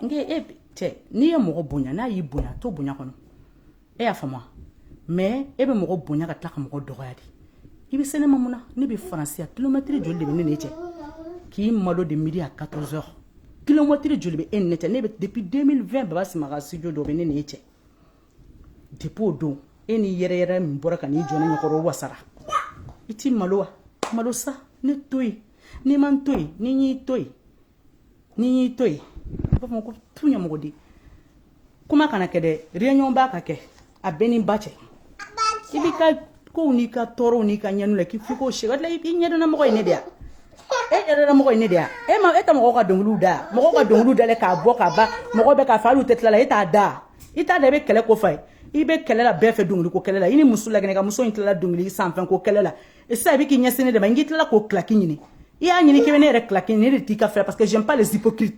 [SPEAKER 1] n ke e cɛ n'i ye mɔgɔ bonya n'a y'i bonya to bonya kɔnɔ e y'a faamu wa mais e bɛ mɔgɔ bonya ka tila ka mɔgɔ dɔgɔya de i bɛ se ne ma mun na ne bɛ faransi yan kilomɛtiri joli de bɛ ne n'e cɛ k'i malo de midi à 14 heures kilomɛtiri joli bɛ e ni ne cɛ ne bɛ depuis 2020 baba simaga studio dɔ bɛ ne n'e cɛ depuis don e ni yɛrɛ yɛrɛ min bɔra ka n'i jɔ ne ɲɛkɔrɔ wasara i ti malo wa malo sa ne to yen n'i ma n to yen ni y'i to yen ni y'i to yen a b'a fɔ ko tu ɲɛmɔgɔ di kuma kana kɛ dɛ réunion ba ka kɛ a bɛɛ ni ba cɛ i b'i ka ko n'i ka tɔɔrɔw n'i ka ɲɛnu la k'i f'i k'o sɛgɛ la i ɲɛdɔnna mɔgɔ ye ne de yan e ɲɛdɔnna mɔgɔ ye ne de yan e ma e tɛ mɔgɔw ka dɔnkiliw da mɔgɔw ka dɔnkiliw dalen k'a bɔ k'a ban mɔgɔ bɛ k'a fɔ hali u tɛ tila la e t'a da i t'a da i bɛ kɛlɛ ko fa ye i bɛ kɛlɛ la bɛɛ fɛ dɔnkiliko kɛlɛ la i ni muso lagine ka muso in tilala dɔnkili sanfɛn ko kɛlɛ la sisan i bɛ k'i ɲɛsin ne de ma n k'i tilala k'o kilaki ɲini i y'a ɲini k'i bɛ ne yɛrɛ kilaki ne de t'i ko fɛ parce que j'aime pas les hypocrites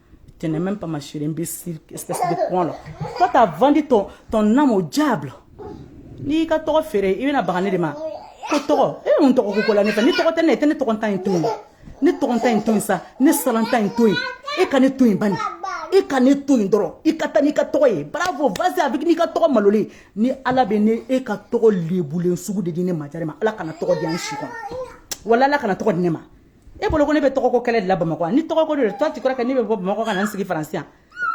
[SPEAKER 1] Tu n'es même pas ma chérie, imbécile, espèce de con là. Toi, t'as vendu ton, ton âme au diable. N'i ka tɔgɔ feere i bɛna baga ne de ma ko tɔgɔ e bɛ mun tɔgɔ ko ko la ne fɛ ni tɔgɔ tɛ ne ye i tɛ ne tɔgɔntan in to yen ne tɔgɔntan in to yen sa ne salan tan in to yen e ka ne to yen bani e ka ne to yen dɔrɔn i ka taa n'i ka tɔgɔ ye bravo vas y avec n'i ka tɔgɔ malolen ni ala bɛna e ka tɔgɔ lebulen sugu de di ne majare ma ala kana tɔgɔ di an si kɔnɔ wala ala kana tɔgɔ di ne ma e bolo ko ne bɛ tɔgɔko kɛlɛ de la bamakɔ ni tɔgɔko de don toi tu crois que ne bɛ bɔ bamakɔ ka na n sigi faransi yan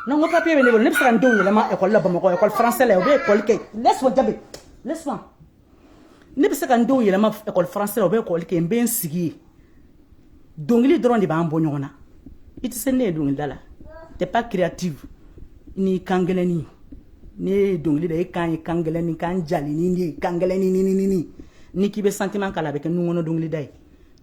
[SPEAKER 1] non ko papier bɛ ne bolo ne bɛ se ka n denw yɛlɛma ekɔli la bamakɔ ekɔli faransɛ la u bɛ ekɔli kɛ laisse moi jabe laisse moi ne bɛ se ka n denw yɛlɛma ekɔli faransɛ la u bɛ ekɔli kɛ n bɛ n sigi yen dɔnkili dɔrɔn de b'an bɔ ɲɔgɔn na i tɛ se ne ye dɔnkilida la t'es pas créative ni kan gɛlɛnni ne ye dɔnkili da e kan ye kan gɛlɛnni kan jalennin de ye kan gɛlɛnni ni ni ni ni ni k'i bɛ sentiment k'a la a bɛ kɛ nunkɔnɔ dɔnkilida ye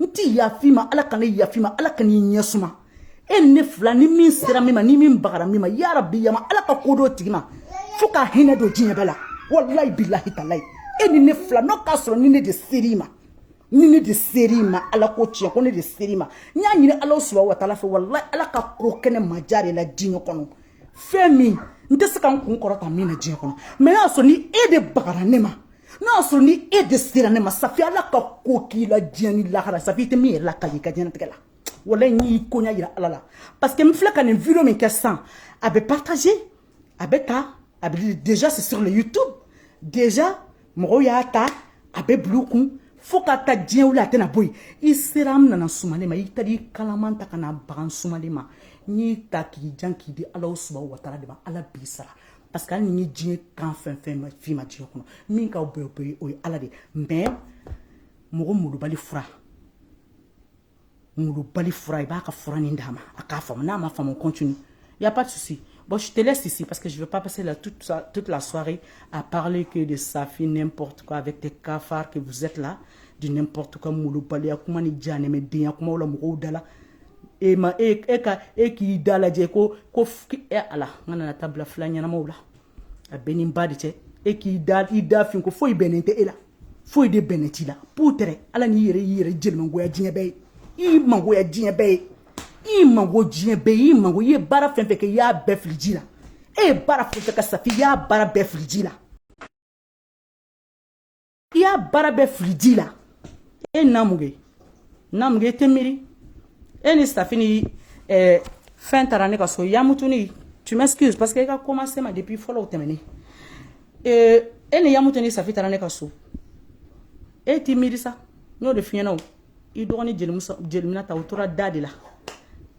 [SPEAKER 1] n tɛ yaf'i ma ala kana yaf'i ma ala kan'i ɲɛ suma e ne fila ni min sera min ma ni min bagara min ma yarabi yama ala ka ko d'o tigi ma fo ka hinɛ don diɲɛ bɛɛ la walayi bilahi talayi e ni ne fila n'o k'a sɔrɔ ni ne de ser'i ma ni ne de ser'i ma ala ko tiɲɛ ko ne de ser'i ma n y'a ɲini ala subahana wa taala fɛ walayi ala ka ko kɛ ne majare la diɲɛ kɔnɔ fɛn min n tɛ se ka n kun kɔrɔta min na diɲɛ kɔnɔ mais y'a sɔrɔ ni e de bagara ne ma n'a y'a sɔrɔ ni e de sera ne ma safi ala ka ko k'i la diɲɛ ni lahara safi i tɛ min yɛrɛ lakali i ka diɲɛnatigɛ la walayi n y'i koɲa yira ala la parce que n filɛ ka nin video min kɛ sisan a bɛ partager a bɛ taa a bɛ déjà c'est sur le youtube déjà mɔgɔw y'a ta a bɛ bila u kun fo ka taa diɲɛ wuli a tɛna bɔ yen i sera n nana sumalen ma i taara i kalaman ta ka na baga n sumalen ma n y'i ta k'i jan k'i di ala subahana wa taala de ma ala b'i sara parce que hali ni diɲɛ kan fɛn fɛn ma f'i ma diɲɛ kɔnɔ min ka bɛɛ bɛ o ye ala de mais mɔgɔ molobali fura molobali fura i b'a ka fura nin d'a ma a k'a faamu n'a ma faamu continue y a pas de souci Bon, je te laisse ici parce que je ne veux pas passer la, toute, toute, la soirée à parler que de Safi, n'importe quoi, avec des cafards que vous êtes là, du n'importe quoi, molobali, Akoumani Djanemedin, Akoumaoula Mouroudala. e ma e e ka e k'i da lajɛ ko ko e ala n nana ta bila fila ɲɛnamaw la a bɛ ni ba de cɛ e k'i da i da fin ko foyi bɛnnen tɛ e la foyi de bɛnnen t'i la p tɛ ala n'i yɛrɛ y'i yɛrɛ jelimangoya diɲɛ bɛɛ ye i mangoya diɲɛ bɛɛ ye i mangoya diɲɛ bɛɛ y'i mangoya i ye baara fɛn fɛn kɛ i y'a bɛɛ fili ji la e ye baara fɛn fɛn kɛ sa i y'a baara bɛɛ fili ji la i y'a baara bɛɛ fili ji la e namuge namuge e tɛ miiri e ni safi ni eh, fɛn taara ne ka so yamutuni tu m'excuse parce que i ka commencé ma depuis fɔlɔ o tɛmɛnen eh, e ni yamutu ni safi taara ne ka so e t'i miiri sa n y'o de f'i ɲɛ na i dɔgɔni jeli minata o tora da de la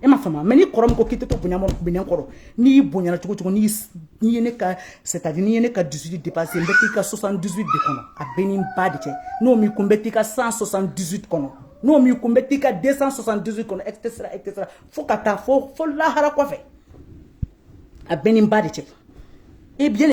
[SPEAKER 1] e ma fama mɛ ni kɔrɔ min ko k'i tɛ to bonya minɛn kɔrɔ n'i y'i bonyana cogo cogo n'i ye ne ka c'est-à-dire n'i ye ne ka dusu dépassé n bɛ t'i kan soixante-douze de kɔnɔ a bɛ ni ba de cɛ n'o min kun bɛ t'i kan san soixante-douze kɔnɔ n'o min kun bɛ t'i kan de san soixante-douze kɔnɔ et cetera et cetera fo ka taa fo fo lahara kɔfɛ a bɛ ni ba de cɛ e bi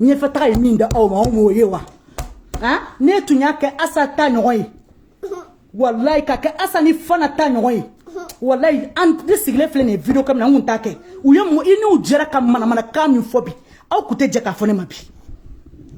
[SPEAKER 1] ɲɛfɛtaga ye min da aw ma aw m'o ye wa han ne tun y'a kɛ asa ta ɲɔgɔn ye walayi ka kɛ asa ni fana ta ɲɔgɔn ye walayi an ne sigilen filɛ nin ye video kamina n kun t'a kɛ u ye i n'u jɛra ka manamanakan min fɔ bi aw kun tɛ jɛ k'a fɔ ne ma bi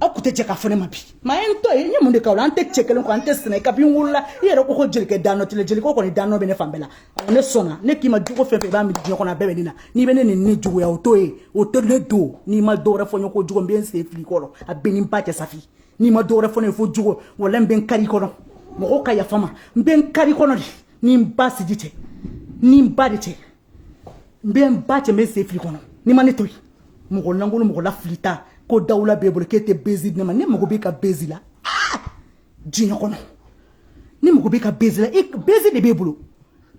[SPEAKER 1] aw kun tɛ jɛ k'a fɔ ne ma bi maa ye n tɔ ye n ye mun de k'aw la an tɛ cɛ kelen kɔ an tɛ sɛnɛ kabini n wolola i yɛrɛ ko ko jelikɛ danɔ tɛ jeliko kɔni danɔ bɛ ne fan bɛɛ la ne sɔnna ne k'i ma jogo fɛn fɛn i b'a mi diɲɛ kɔnɔ a bɛɛ bɛ ne na n'i bɛ ne nin ne juguya o to ye o tɛ ne don n'i ma dɔ wɛrɛ fɔ n ye ko jogo n bɛ n sen fili kɔrɔ a bɛ ni ba cɛ safi n'i ma dɔ wɛrɛ fɔ ne ye fo jogo wala n bɛ n kari kɔnɔ mɔgɔw ka yafa ma n bɛ n kari kɔnɔ de ni n ba sigi cɛ ni n ba de cɛ n bɛ n ba cɛ n bɛ n sen fili kɔnɔ n'i ma ne to yen mɔgɔ lankolon mɔgɔ lafilita ko dawula b'e bolo k'e tɛ buzz di ne ma ne mago b'e ka buzz la diɲɛ kɔnɔ ne mago b'e ka buzz la buzz de b'e bolo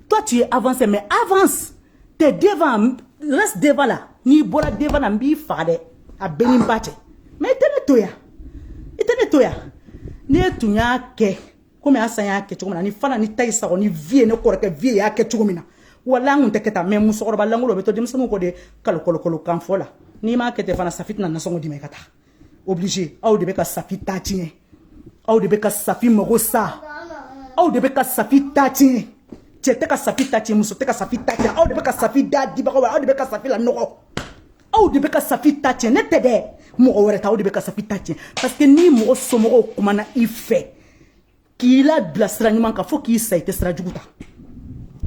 [SPEAKER 1] toi tu es avancé mais avance t'es devant reste devant là n'i bɔra devant na n b'i faga dɛ a bɛ ni ba cɛ mais i tɛ ne to yan i tɛ ne to yan ne tun y'a kɛ komi asa y'a kɛ cogo min na ni fana ni tayi sago ni vieux ne kɔrɔkɛ vieux y'a kɛ cogo min na wala an kun tɛ kɛ tan mais musokɔrɔba lankolon bɛ to denmisɛnninw kɔ de kalo kɔlɔkɔlɔ kan fɔ la n'i m'a kɛ ten fana safi tɛna nasɔngɔ d'i ma i ka taa obligé aw de bɛ ka safi ta tiɲɛ aw de bɛ ka safi mago sa aw de bɛ ka safi ta tiɲɛ cɛ tɛ ka safi ta tiɲɛ muso tɛ ka safi ta tiɲɛ aw de bɛ ka safi da dibagaw aw de bɛ ka safi la nɔgɔ aw de bɛ ka safi ta tiɲɛ ne tɛ dɛ mɔgɔ wɛrɛ tɛ aw de bɛ ka safi ta tiɲɛ parce que ni mɔgɔ somɔgɔw kumana i fɛ k'i labila sira ɲuman kan fo k'i sa i tɛ sira jugu ta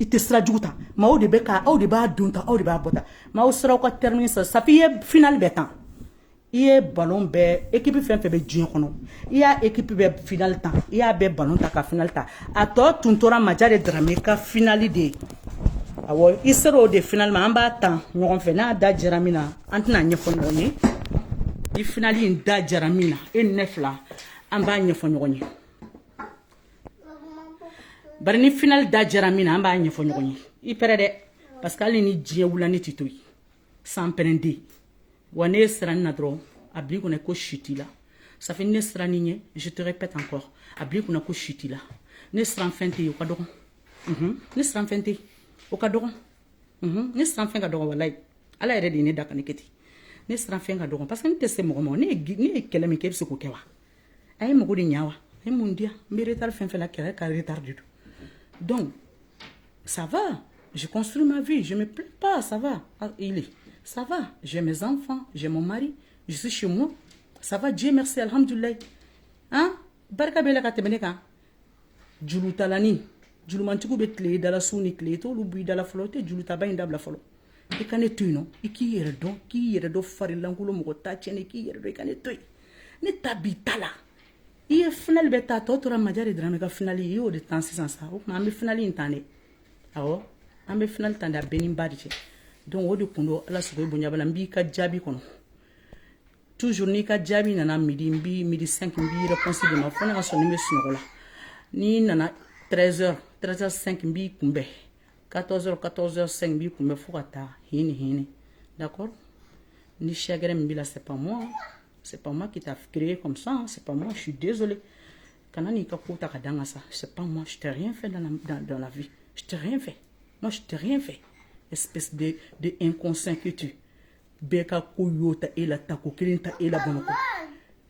[SPEAKER 1] i tɛ sira jugu ta maaw de bɛ ka aw de b'a don ta aw de b'a bɔ ta maaw sera aw ka termini sɔrɔ safi i ye finali bɛɛ tan i ye balon bɛɛ ekipi fɛn fɛn bɛ diɲɛ kɔnɔ i y'a ekipi bɛɛ finali ta i y'a bɛɛ balon ta ka finali ta a tɔ tun tora maja de darame ka finali de ye awɔ i sera o de finali ma an b'a tan ɲɔgɔn fɛ n'a da jɛra min na an tɛna ɲɛfɔ ɲɔgɔn ye ni finali in da jɛra min na e ni ne fila an b'a ɲɛfɔ ɲɔgɔn ye bari ni finali da jɛra min na an b'a ɲɛfɔ ɲɔgɔn ye i pɛrɛ dɛ parce que hali ni diɲɛ wula ne t'i to yen sanpɛrɛn de wa ne ye siranni na dɔrɔn a b'i kunna ko si t'i la safi ne sirann'i ɲɛ je te répète encore a b'i kunna ko si t'i la ne siran fɛn tɛ yen o ka dɔgɔn ne siran fɛn tɛ yen o ka dɔgɔn ne siran fɛn ka dɔgɔ walayi ala yɛrɛ de ye ne da ka ne kɛ ten ne siran fɛn ka dɔgɔ parce que ne tɛ se mɔgɔ ma ne ye kɛlɛ min kɛ e bɛ se k'o kɛ wa a ye mago de ɲa wa ne mun diya n bɛ retard fɛn fɛn la kɛlɛ ka retard de don donc ça va je construis ma vie je me plains pas ça va ah, il est ça va j'ai mes enfants j'ai mon mari je suis chez moi ça va Dieu merci alhamdulilayi hein barika b'e la ka tɛmɛ ne kan jurutalani jurumantigiw bɛ tile i da la su ni tile i t'olu b'i da la fɔlɔ i tɛ jurutaba in dabila fɔlɔ i ka ne to yen nɔ i k'i yɛrɛ dɔn k'i yɛrɛ dɔn farilankolo mɔgɔ ta tiɲɛni k'i yɛrɛ dɔn i ka ne to yen ne ta b'i ta la i ye finali bɛɛ ta a tɔ tora maja de darame ka finali i y'o de tan sisan sa o tuma an bɛ finali in tan de awɔ an bɛ finali tan de a b'e ni ba de cɛ donc o de kun don ala sago bonyabala n b'i ka jaabi kɔnɔ toujours n'i ka jaabi nana midi n bi midi 5 n b'i réponse d'i ma fo ne ka sɔrɔ n bɛ sunɔgɔ la n'i nana 13 heures 13 heures 5 n b'i kunbɛn 14 heures 14 heures 5 n b'i kunbɛn fo ka taa hini hini d'accord ni chagrin min b'i la c'est pas moi c'est pas moi qui t'a créé comme ça hein. c'est pas moi je suis désolé kana n'i ka ko ta ka da n kan sa c'est pas moi je t'ai rien fait dans la, dans, dans la vie je t'ai rien fait moi je t'ai rien fait espèce de, de inconscient que tu bɛɛ ka ko y'o ta e la tako kelen ta e la bamakɔ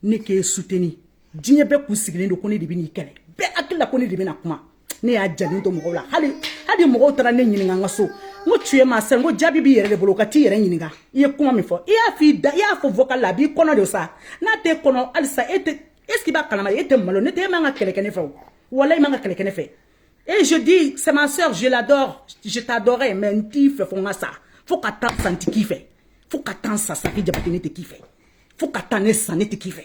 [SPEAKER 1] ne k'e soutenir diɲɛ bɛɛ k'u sigilen don ko ne de bɛn'i kɛlɛ bɛɛ hakili la ko ne de bɛna kuma ne y'a jalen to mɔgɔw la hali hali mɔgɔw taara ne ɲininka n ka so n ko tu ye maa sɛ n ko jaabi b'i yɛrɛ de bolo ka t'i yɛrɛ ɲininka i ye kuma min fɔ i y'a f'i da i y'a fɔ vocal la a b'i kɔnɔ de sa n'a t'e kɔnɔ halisa e tɛ est ce que i b'a kalama e tɛ malo ne tɛ e man ka kɛlɛ kɛ ne fɛ o walayi i man ka kɛlɛ kɛ ne fɛ Et je dis, c'est ma soeur, je l'adore, je t'adorais, mais n t'i fɛ fo n ka sa. Fo ka taa sa n tɛ k'i fɛ. Fo ka taa n sa sa k'i jabate ne tɛ k'i fɛ. Fo ka taa ne sa ne tɛ k'i fɛ.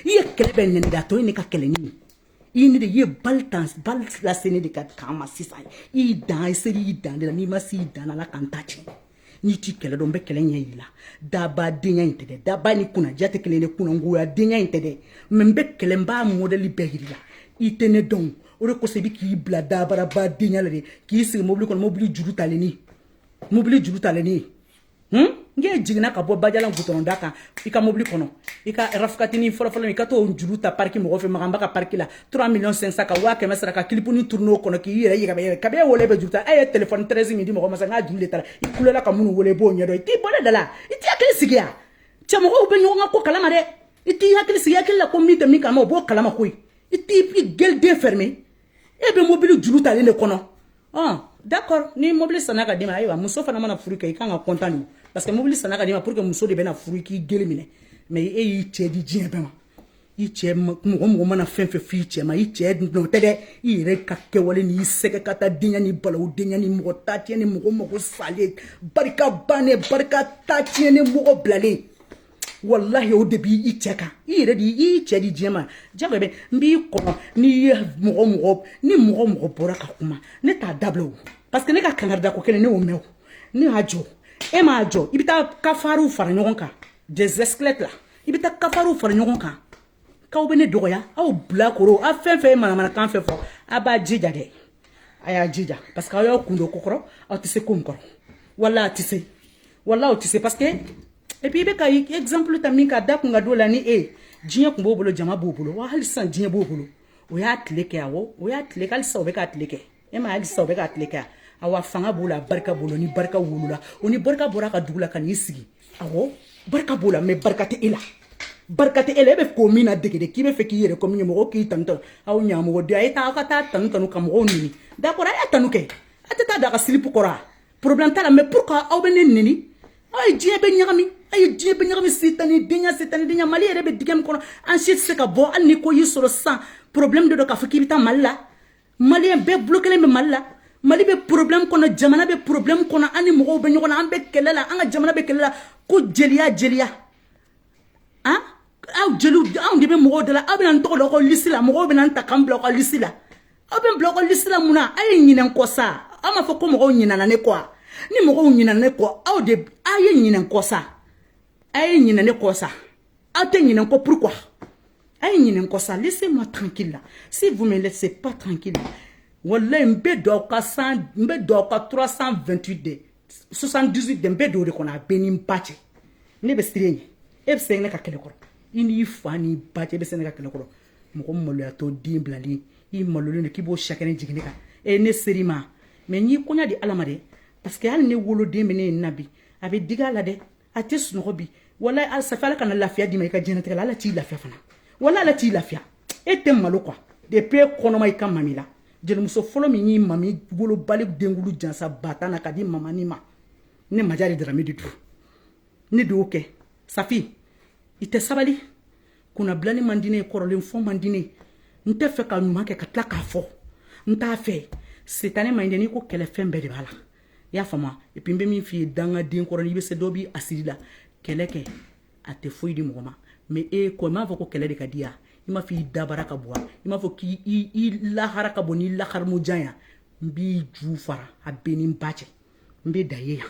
[SPEAKER 1] I ye kɛlɛ bɛɛ nɛnɛ de a tɔ ye ne ka kɛlɛ nin ye. I ye ne de i ye bali tan bali lase ne de ka kan ma sisan. I y'i dan i selen y'i dan de la n'i ma se i dan na Ala ka n ta tiɲɛ. n'i t'i kɛlɛ dɔn n bɛ kɛlɛ ɲɛ yir'i la daba denya in tɛ dɛ daba ni kunnaja tɛ kelen de kunangoya denya in tɛ dɛ mɛ n bɛ kɛlɛ n b'a mɔdɛli bɛɛ jir'i la i tɛ ne dɔn o de kosɔn i bɛ k'i bila dabaraba denya la de k'i sigi mobili kɔnɔ mobili juru talenni mobili juru talenni hmm? n k'e jiginna ka bɔ bajalan gutɔrɔn da kan i ka mobili kɔnɔ i ka rafukatini fɔlɔfɔlɔ i ka t'o juru ta pariki mɔgɔ fɛ maganba ka pariki la 3 millions 500 ka waa kɛmɛ sara ka kilipuni turune o kɔnɔ k'i yɛrɛ yɛgɛbɛ yɛrɛ kabini e wolo e bɛ juru ta e ye telefɔni tɛrɛzi min di mɔgɔ ma sa n k'a juru de tara i kulela ka minnu wele i b'o ɲɛdɔn i t'i bɔ ne da la i t'i hakili sigi yan cɛ mɔgɔw bɛ ɲɔgɔn ka ko kalama dɛ i t'i hakili sigi hakili la ko min tɛ min kalama o b'o kalama koyi i t'i i geliden fɛrɛme e bɛ mobili juru talen de kɔnɔ ɔn d'accord ni mobili sanna ka d'i ma ayiwa muso fana mana furu kɛ i kan ka kɔntan de parce que mobili sanna ka d'i ma pour que muso de bɛna furu i k'i geli minɛ mais e y'i cɛ di diɲɛ bɛɛ ma i cɛ mɔgɔ mɔgɔ mana fɛn fɛn f'i cɛ ma i cɛ nɔ tɛ dɛ i yɛrɛ ka kɛwale n'i sɛgɛ ka taa denkɛnin balo denkɛnin mɔgɔ ta tiɲɛ ni mɔgɔ mɔgɔ salen barika bannen barika ta tiɲɛ ni mɔgɔ bilalen walahi o de b' i cɛ kan i yɛrɛ de i cɛ di diɲɛ ma ja bɛ n b'i kɔnɔ n'i ye mɔgɔ mɔgɔ ni mɔgɔ mɔgɔ bɔra ka kuma ne t'a dabila o parce que ne ka kanga da ko kelen ne y'o mɛn ne y'a jɔ e m'a jɔ i bɛ taa kafariw fara ɲɔgɔn kan dɛsɛs la i bɛ taa kafariw fara ɲɔgɔn kan k'aw bɛ ne dɔgɔya aw bilakoro aw fɛn fɛn ye manamanakan fɛn fɔ a b'a jija dɛ a y'a jija parce que aw y'aw kun don ko kɔrɔ aw tɛ se ko min kɔrɔ wala a tɛ se wala aw tɛ se parce que et puis i bɛ ka exemple ta min ka da kun ka don la ni e ye diɲɛ kun b'o bolo jama b'o bolo wa hali sisan diɲɛ b'o bolo o y'a tile kɛ awɔ o y'a tile kɛ hali sisan o bɛ k'a tile kɛ e ma di sa bɛ ka tile kɛ a wa fanga b'o la barika b'o la ni barika wolola o ni barika bɔra ka dugu la ka n'i sigi a barika b'o la mɛ barika tɛ e la barika tɛ e la e bɛ ko min ladege de k'i bɛ fɛ k'i yɛrɛ ko min ye mɔgɔw k'i tanutɔ aw ɲamɔgɔden a ye taa aw ka taa tanu tanu ka mɔgɔw nɛni dakɔrɔ a y'a tanu kɛ a tɛ taa daga silipu kɔrɔ a porobilɛm t'a la mɛ pourquoi aw bɛ ne nɛni aw ye diɲɛ bɛɛ ɲagami a ye diɲɛ bɛɛ ɲagami sitani denya sitani denya mali yɛrɛ bɛ dingɛ min kɔnɔ an si tɛ se ka bɔ hali ni ko y'i sɔrɔ sisan porobilɛm de don k'a fɔ k'i bɛ taa mali la maliyɛn bɛɛ bilɔkelen bɛ mali la mali bɛ problème kɔnɔ jamana bɛ problème kɔnɔ an ni mɔgɔw bɛ ɲɔgɔn na an bɛ kɛlɛ la an ka jamana bɛ kɛlɛ la ko jeliya jeliya an ah? aw jeliw anw de bɛ mɔgɔw da la aw bɛna n tɔgɔ da aw ka lisi la mɔgɔw bɛna n ta ka n bila aw ka lisi la aw bɛ n bila aw ka lisi la mun na a ye ɲinɛ n kɔ sa aw m'a fɔ ko mɔgɔw ɲinɛna ne kɔ wa ni mɔgɔw ɲinɛna ne kɔ aw de a ye ɲinɛ n kɔ sa a ye ɲinɛ ne kɔ sa aw tɛ ɲinɛ n kɔ pourquoi a ye ɲinɛ n kɔ sa laissez moi tranquille la si vous me laissez pas tranquille wallahi n bɛ don aw ka san n bɛ don aw ka 328 de 78 de n bɛ don o de kɔnɔ a bɛɛ n'i ba cɛ ne bɛ siran e ɲɛ e bɛ sɛgɛn ne ka kɛlɛ kɔrɔ i n'i fa n'i ba cɛ e bɛ sɛgɛn ne ka kɛlɛ kɔrɔ mɔgɔ maloyatɔ den bilalen i malolen don k'i b'o sakɛnɛ jigin ne kan e ne seri ma mɛɛn n y'i koɲa di ala ma dɛ parce que hali ne woloden bɛ ne ye na bi a bɛ digi a la dɛ a tɛ sunɔgɔ bi wala a safa ala kana lafiya d'i ma i ka diɲɛlatigɛ la ala t'i lafiya fana walayi ala t'i lafiya e tɛ malo kuwa de pe kɔnɔma i ka mami la jelimuso fɔlɔ min y'i mami wolobali denkundi jansa ba tan na ka di mamani ma ne maja de darami de du ne de y'o kɛ safi i tɛ sabali kunnabilali man di ne ye kɔrɔlen fɔ man di ne ye n t'a fɛ ka ɲuman kɛ ka tila k'a fɔ n t'a fɛ sitanɛ ma ɲi dɛ n'i ko kɛlɛ fɛn bɛɛ de b'a la i y'a faamuya et puis n bɛ min f'i ye dangaden kɔrɔ n'i bɛ se dɔ b'i hasidi la kɛlɛ kɛ a tɛ foyi di mɔgɔ ma mais e ko i m'a fɔ ko kɛlɛ de ka di yan i m'a fɔ i dabara ka bon i m'a fɔ k'i lahara ka bon n'i laharamujan yan n b'i ju fara a bɛɛ n'i ba cɛ n bɛ da ye yan